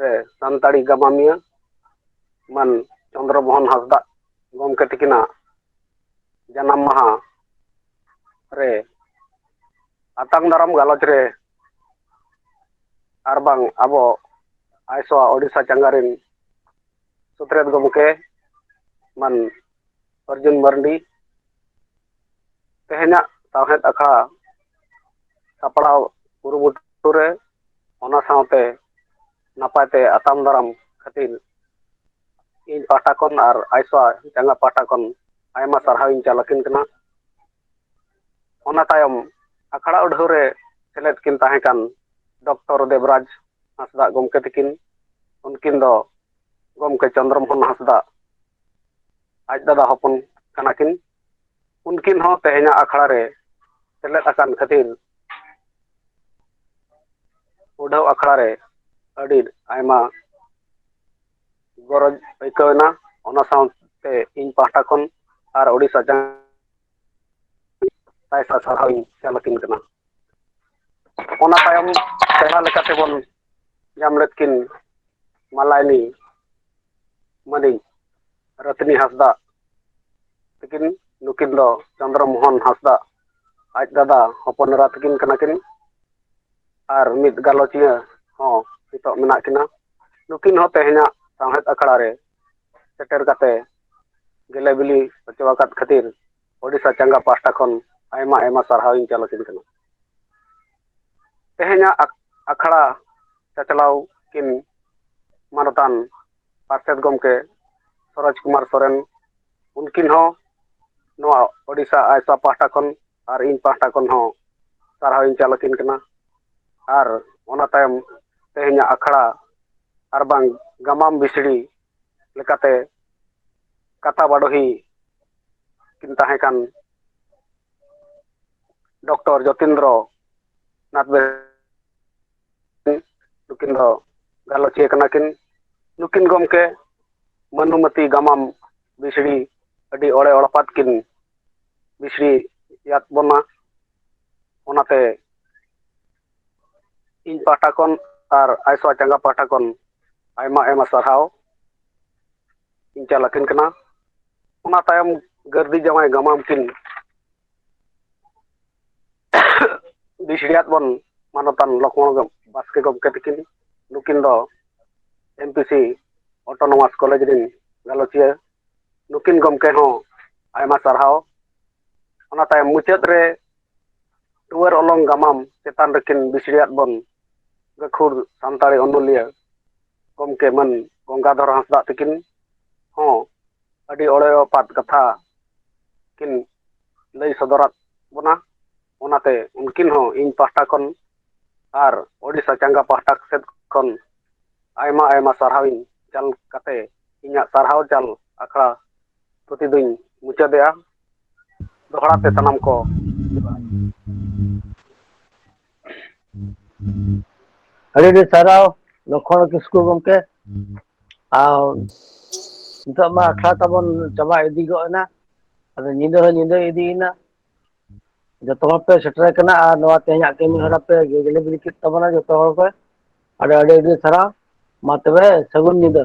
ᱨᱮ ᱥᱟᱱᱛᱟᱲᱤ ᱜᱟᱢᱟᱢᱤᱭᱟᱹ ᱢᱟᱱ ᱪᱚᱱᱫᱨᱚ ᱢᱳᱦᱚᱱ ᱦᱟᱸᱥᱫᱟᱜ ᱜᱚᱢᱠᱮ ᱛᱤᱠᱤᱱᱟᱜ ᱡᱟᱱᱟᱢ ᱢᱟᱦᱟ ᱨᱮ ᱟᱛᱟᱝ ᱫᱟᱨᱟᱢ ᱜᱟᱞᱚᱪ ᱨᱮ ᱟᱨ ᱵᱟᱝ ᱟᱵᱚ ᱟᱭᱥᱚᱣᱟ ᱳᱰᱤᱥᱟ ᱪᱟᱸᱜᱟ ᱨᱮᱱ ᱥᱩᱛᱨᱮᱛ ᱜᱚᱢᱠᱮ ᱢᱟᱱ ᱚᱨᱡᱩᱱ ᱢᱟᱨᱰᱤ ᱛᱮᱦᱮᱧᱟᱜ ᱥᱟᱶᱦᱮᱫ ᱟᱠᱷᱲᱟ ᱥᱟᱯᱲᱟᱣ ᱠᱩᱨᱩᱢᱩᱴᱩ ᱨᱮ ᱚᱱᱟ ᱥᱟᱶᱛᱮ ᱱᱟᱯᱟᱭ ᱛᱮ ᱟᱛᱟᱝ ᱫᱟᱨᱟᱢ ᱠᱷᱟᱹᱛᱤᱨ ᱤᱧ ᱯᱟᱦᱴᱟ ᱠᱷᱚᱱ ᱟᱨ ᱟᱭᱥᱟ ᱪᱟᱸᱜᱟ ᱯᱟᱦᱴᱟ ᱠᱷᱚᱱ ᱟᱭᱢᱟ ᱥᱟᱨᱦᱟᱣ ᱤᱧ ᱪᱟᱞ ᱟᱹᱠᱤᱱ ᱠᱟᱱᱟ ᱚᱱᱟ ᱛᱟᱭᱚᱢ ᱟᱠᱷᱲᱟ ᱩᱰᱷᱟᱹᱣ ᱨᱮ ᱥᱮᱞᱮᱫ ᱠᱤᱱ ᱛᱟᱦᱮᱸ ᱠᱟᱱ ᱰᱚᱠᱴᱚᱨ ᱫᱮᱵᱽᱨᱟᱡᱽ ᱦᱟᱸᱥᱫᱟᱜ ᱜᱚᱢᱠᱮ ᱛᱟᱹᱠᱤᱱ ᱩᱱᱠᱤᱱ ᱫᱚ ᱜᱚᱢᱠᱮ ᱪᱚᱱᱫᱨᱚ ᱢᱳᱦᱚᱱ ᱦᱟᱸᱥᱫᱟᱜ ᱟᱡ ᱫᱟᱫᱟ ᱦᱚᱯᱚᱱ ᱠᱟᱱᱟ ᱠᱤᱱ ᱩᱱᱠᱤᱱ ᱦᱚᱸ ᱛᱮᱦᱮᱧᱟᱜ ᱟᱠᱷᱲᱟ ᱨᱮ ᱥᱮᱞᱮᱫ ᱟᱠᱟᱱ ᱠᱷᱟᱹᱛᱤᱨ ᱩᱰᱷᱟᱹᱣ ᱟᱠᱷᱲᱟ ᱨᱮ ᱟᱹᱰᱤ ᱟᱭᱢᱟ ᱜᱚᱨᱚᱡᱽ ᱟᱹᱭᱠᱟᱹᱣ ᱮᱱᱟ ᱚᱱᱟ ᱥᱟᱶᱛᱮ ᱤᱧ ᱯᱟᱦᱴᱟ ᱠᱷᱚᱱ ᱟᱨ ᱳᱰᱤᱥᱟ ᱡᱟᱦᱟᱸ ᱥᱟᱭ ᱥᱟᱭ ᱥᱟᱨᱦᱟᱣ ᱤᱧ ᱪᱟᱞ ᱟᱹᱠᱤᱱ ᱠᱟᱱᱟ ᱚᱱᱟ ᱛᱟᱭᱚᱢ ᱯᱮᱲᱟ ᱞᱮᱠᱟ ᱛᱮᱵᱚᱱ ᱧᱟᱢ ᱞᱮᱫ ᱠᱤᱱ ᱢᱟᱞᱟᱭᱱᱤ ᱢᱟᱹᱱᱤᱡ ᱨᱟᱹᱛᱷᱤᱱᱤ ᱦᱟᱸᱥᱫᱟᱜ ᱛᱤᱠᱤᱱ ᱱᱩᱠᱤᱱ ᱫᱚ ᱪᱚᱱᱫᱨᱚ ᱢᱳᱦᱚᱱ ᱦᱟᱸᱥᱫᱟᱜ ᱟᱡ ᱫᱟᱫᱟ ᱦᱚᱯᱚᱱ ᱮᱨᱟ ᱛᱤᱠᱤᱱ ᱠᱟᱱᱟ ᱠᱤᱱ ᱟᱨ ᱢᱤᱫ ᱜᱟᱞᱚᱪᱤᱭᱟᱹ ᱦᱚᱸ ᱱᱤᱛᱚᱜ ᱢᱮᱱᱟᱜ ᱠᱤᱱᱟ ᱱᱩᱠᱤᱱ ᱦᱚᱸ ᱛᱮᱦᱮᱧᱟᱜ ᱥᱟᱶᱦᱮᱫ ᱟᱠᱷᱲᱟ ᱨᱮ ᱥᱮᱴᱮᱨ ᱠᱟᱛᱮ ᱜᱮᱞᱮ ᱵᱤᱞᱤ ᱦᱚᱪᱚ ᱟᱠᱟᱫ ᱠᱷᱟᱹᱛᱤᱨ ᱳᱰᱤᱥᱟ ᱪᱟᱸᱜᱟ ᱯᱟᱦᱴᱟ ᱠᱷᱚᱱ ᱟᱭᱢᱟ ᱟᱭᱢᱟ ᱥᱟᱨᱦᱟᱣ ᱤᱧ ᱪᱟᱞ ᱟᱹᱠᱤᱱ ᱠᱟᱱᱟ ᱛᱮᱦᱮᱧᱟᱜ ᱟᱠᱷᱲᱟ ᱪᱟᱪᱞᱟᱣ ᱠᱤᱱ ᱢᱟᱱᱚᱛᱟᱱ ᱯᱟᱨᱥᱮᱛ ᱜᱚᱢᱠᱮ ᱥᱚᱨᱚᱡᱽ ᱠᱩᱢᱟᱨ ᱥᱚᱨᱮᱱ ᱩᱱᱠᱤᱱ ᱦᱚᱸ ᱱᱚᱣᱟ ᱳᱰᱤᱥᱟ ᱟᱭᱥᱟ ᱯᱟᱦᱴᱟ ᱠᱷᱚᱱ ᱟᱨ ᱤᱧ ᱯᱟᱦᱴᱟ ᱠᱷᱚᱱ ᱦᱚᱸ ᱥᱟᱨᱦᱟᱣ ᱤᱧ ᱪᱟᱞ ᱟᱹᱠᱤᱱ ᱠᱟᱱᱟ ᱟᱨ ᱚᱱᱟ ᱛᱟᱭᱚᱢ ᱛᱮᱦᱮᱧᱟᱜ ᱟᱠᱷᱲᱟ ᱟᱨ ᱵᱟᱝ ᱜᱟᱢᱟᱢ ᱵᱤᱥᱲᱤ ᱞᱮᱠᱟᱛᱮ ᱠᱟᱛᱟ ᱵᱟᱰᱚᱦᱤ ᱠᱤᱱ ᱛᱟᱦᱮᱸ ᱠᱟᱱ ᱰᱚᱠᱴᱚᱨ ᱡᱚᱛᱤᱱᱫᱨᱚ ᱱᱟᱛᱷ ᱵᱮ ᱱᱩᱠᱤᱱ ᱫᱚ ᱜᱟᱞᱚᱪᱤᱭᱟᱹ ᱠᱟᱱᱟ ᱠᱤᱱ ᱱᱩᱠᱤᱱ ᱜᱚᱢᱠᱮ ᱢᱟᱹᱱᱩᱢᱚᱛᱤ ᱜᱟᱢᱟᱢ ᱵᱤᱥᱲᱤ ᱟᱹᱰᱤ ᱚᱲᱮ ᱚᱲᱯᱟᱛ ᱠᱤᱱ ᱵᱤᱥᱲᱤᱭᱟᱫ ᱵᱚᱱᱟ ᱚᱱᱟᱛᱮ ᱤᱧ ᱯᱟᱦᱴᱟ ᱠᱷᱚᱱ ᱟᱨ ᱟᱭᱥᱟ ᱪᱟᱸᱜᱟ ᱯᱟᱦᱴᱟ ᱠᱷᱚᱱ ᱟᱭᱢᱟ ᱟᱭᱢᱟ ᱥᱟᱨᱦᱟᱣ ᱤᱧ ᱪᱟᱞ ᱟᱹᱠᱤᱱ ᱠᱟᱱᱟ ᱚᱱᱟ ᱛᱟᱭᱚᱢ ᱜᱟᱹᱨᱫᱤ ᱡᱟᱶᱟᱭ ᱜᱟᱢᱟᱢ ᱠᱤᱱ ᱵᱤᱥᱲᱤᱭᱟᱫ ᱵᱚᱱ ᱢᱟᱱᱚᱛᱟᱱ ᱞᱚᱠᱷᱢᱚᱬ ᱵᱟᱥᱠᱮ ᱜᱚᱢᱠᱮ ᱛᱟᱹᱠᱤᱱ ᱱᱩᱠᱤᱱ ᱫᱚ M P C autonomous college ᱨᱤᱱ ᱜᱟᱞᱚᱪᱤᱭᱟᱹ ᱱᱩᱠᱤᱱ ᱜᱚᱢᱠᱮ ᱦᱚᱸ ᱟᱭᱢᱟ ᱥᱟᱨᱦᱟᱣ ᱚᱱᱟ ᱛᱟᱭᱚᱢ ᱢᱩᱪᱟᱹᱫ ᱨᱮ ᱴᱩᱣᱟᱹᱨ ᱚᱞᱚᱝ ᱜᱟᱢᱟᱢ ᱪᱮᱛᱟᱱ ᱨᱮᱠᱤᱱ ᱵᱤᱥᱲᱤᱭᱟᱫ ᱵᱚᱱ ᱜᱟᱹᱠᱷᱩᱲ ᱥᱟᱱᱛᱟᱲᱤ ᱚᱱᱚᱞᱤᱭᱟᱹ ᱜᱚᱢᱠᱮ ᱢᱟᱹᱱ ᱜᱚᱝᱜᱟᱫᱷᱚᱨ ᱦᱟᱸᱥᱫᱟᱜ ᱛᱤᱠᱤᱱ ᱦᱚᱸ ᱟᱹᱰᱤ ᱚᱲᱮᱭᱚᱯᱟᱛ ᱠᱟᱛᱷᱟ ᱠᱤᱱ ᱞᱟᱹᱭ ᱥᱚᱫᱚᱨᱟᱫ ᱵᱚᱱᱟ ᱚᱱᱟᱛᱮ ᱩᱱᱠᱤᱱ ᱦᱚᱸ ᱤᱧ ᱯᱟᱦᱴᱟ ᱠᱷᱚᱱ ᱟᱨ ᱳᱰᱤᱥᱟ ᱪᱟᱸᱜᱟ ᱯᱟᱦᱴᱟ ᱥᱮᱫ ᱠᱷᱚᱱ ᱟᱭᱢᱟ ᱟᱭᱢᱟ ᱥᱟᱨᱦᱟᱣᱤᱧ ᱪᱟᱞ ᱠᱟᱛᱮ ᱤᱧᱟᱹᱜ ᱥᱟᱨᱦᱟᱣ ᱪᱟᱞ ᱟᱠᱷᱲᱟ ᱛᱷᱩᱛᱤ ᱫᱩᱧ ᱢᱩᱪᱟᱹᱫᱮᱜᱼᱟ ᱫᱚᱦᱲᱟ ᱛᱮ ᱥᱟᱱᱟᱢ ᱠᱚ ᱟᱹᱰᱤ ᱟᱹᱰᱤ ᱥᱟᱨᱦᱟᱣ ᱞᱚᱠᱷᱚᱱ ᱠᱤᱥᱠᱩ ᱜᱚᱢᱠᱮ ᱟᱨ ᱱᱤᱛᱚᱜ ᱢᱟ ᱟᱠᱷᱲᱟ ᱛᱟᱵᱚᱱ ᱪᱟᱵᱟ ᱤᱫᱤ ᱜᱚᱜ ᱮᱱᱟ ᱟᱫᱚ ᱧᱤᱫᱟᱹ ᱦᱚᱸ ᱧᱤᱫᱟᱹ ᱤᱫᱤᱭᱮᱱᱟ ᱡᱚᱛᱚ ᱦᱚᱲ ᱯᱮ ᱥᱮᱴᱮᱨ ᱟᱠᱟᱱᱟ ᱟᱨ ᱱᱚᱣᱟ ᱛᱮᱦᱮᱧᱟᱜ ᱠᱟᱹᱢᱤ ᱦᱚᱨᱟ ᱯᱮ ᱜᱮᱞᱮ ᱵᱤᱞᱤ ᱠᱮᱫ ᱛᱟᱵᱚᱱᱟ ᱡᱚᱛᱚ ᱦᱚᱲ ᱜᱮ ᱟᱹᱰᱤ ᱟᱹᱰᱤ ᱟᱹᱰᱤ ᱥᱟᱨᱦᱟᱣ ᱢᱟ ᱛᱚᱵᱮ ᱥᱟᱹᱜᱩᱱ ᱧᱤᱫᱟᱹ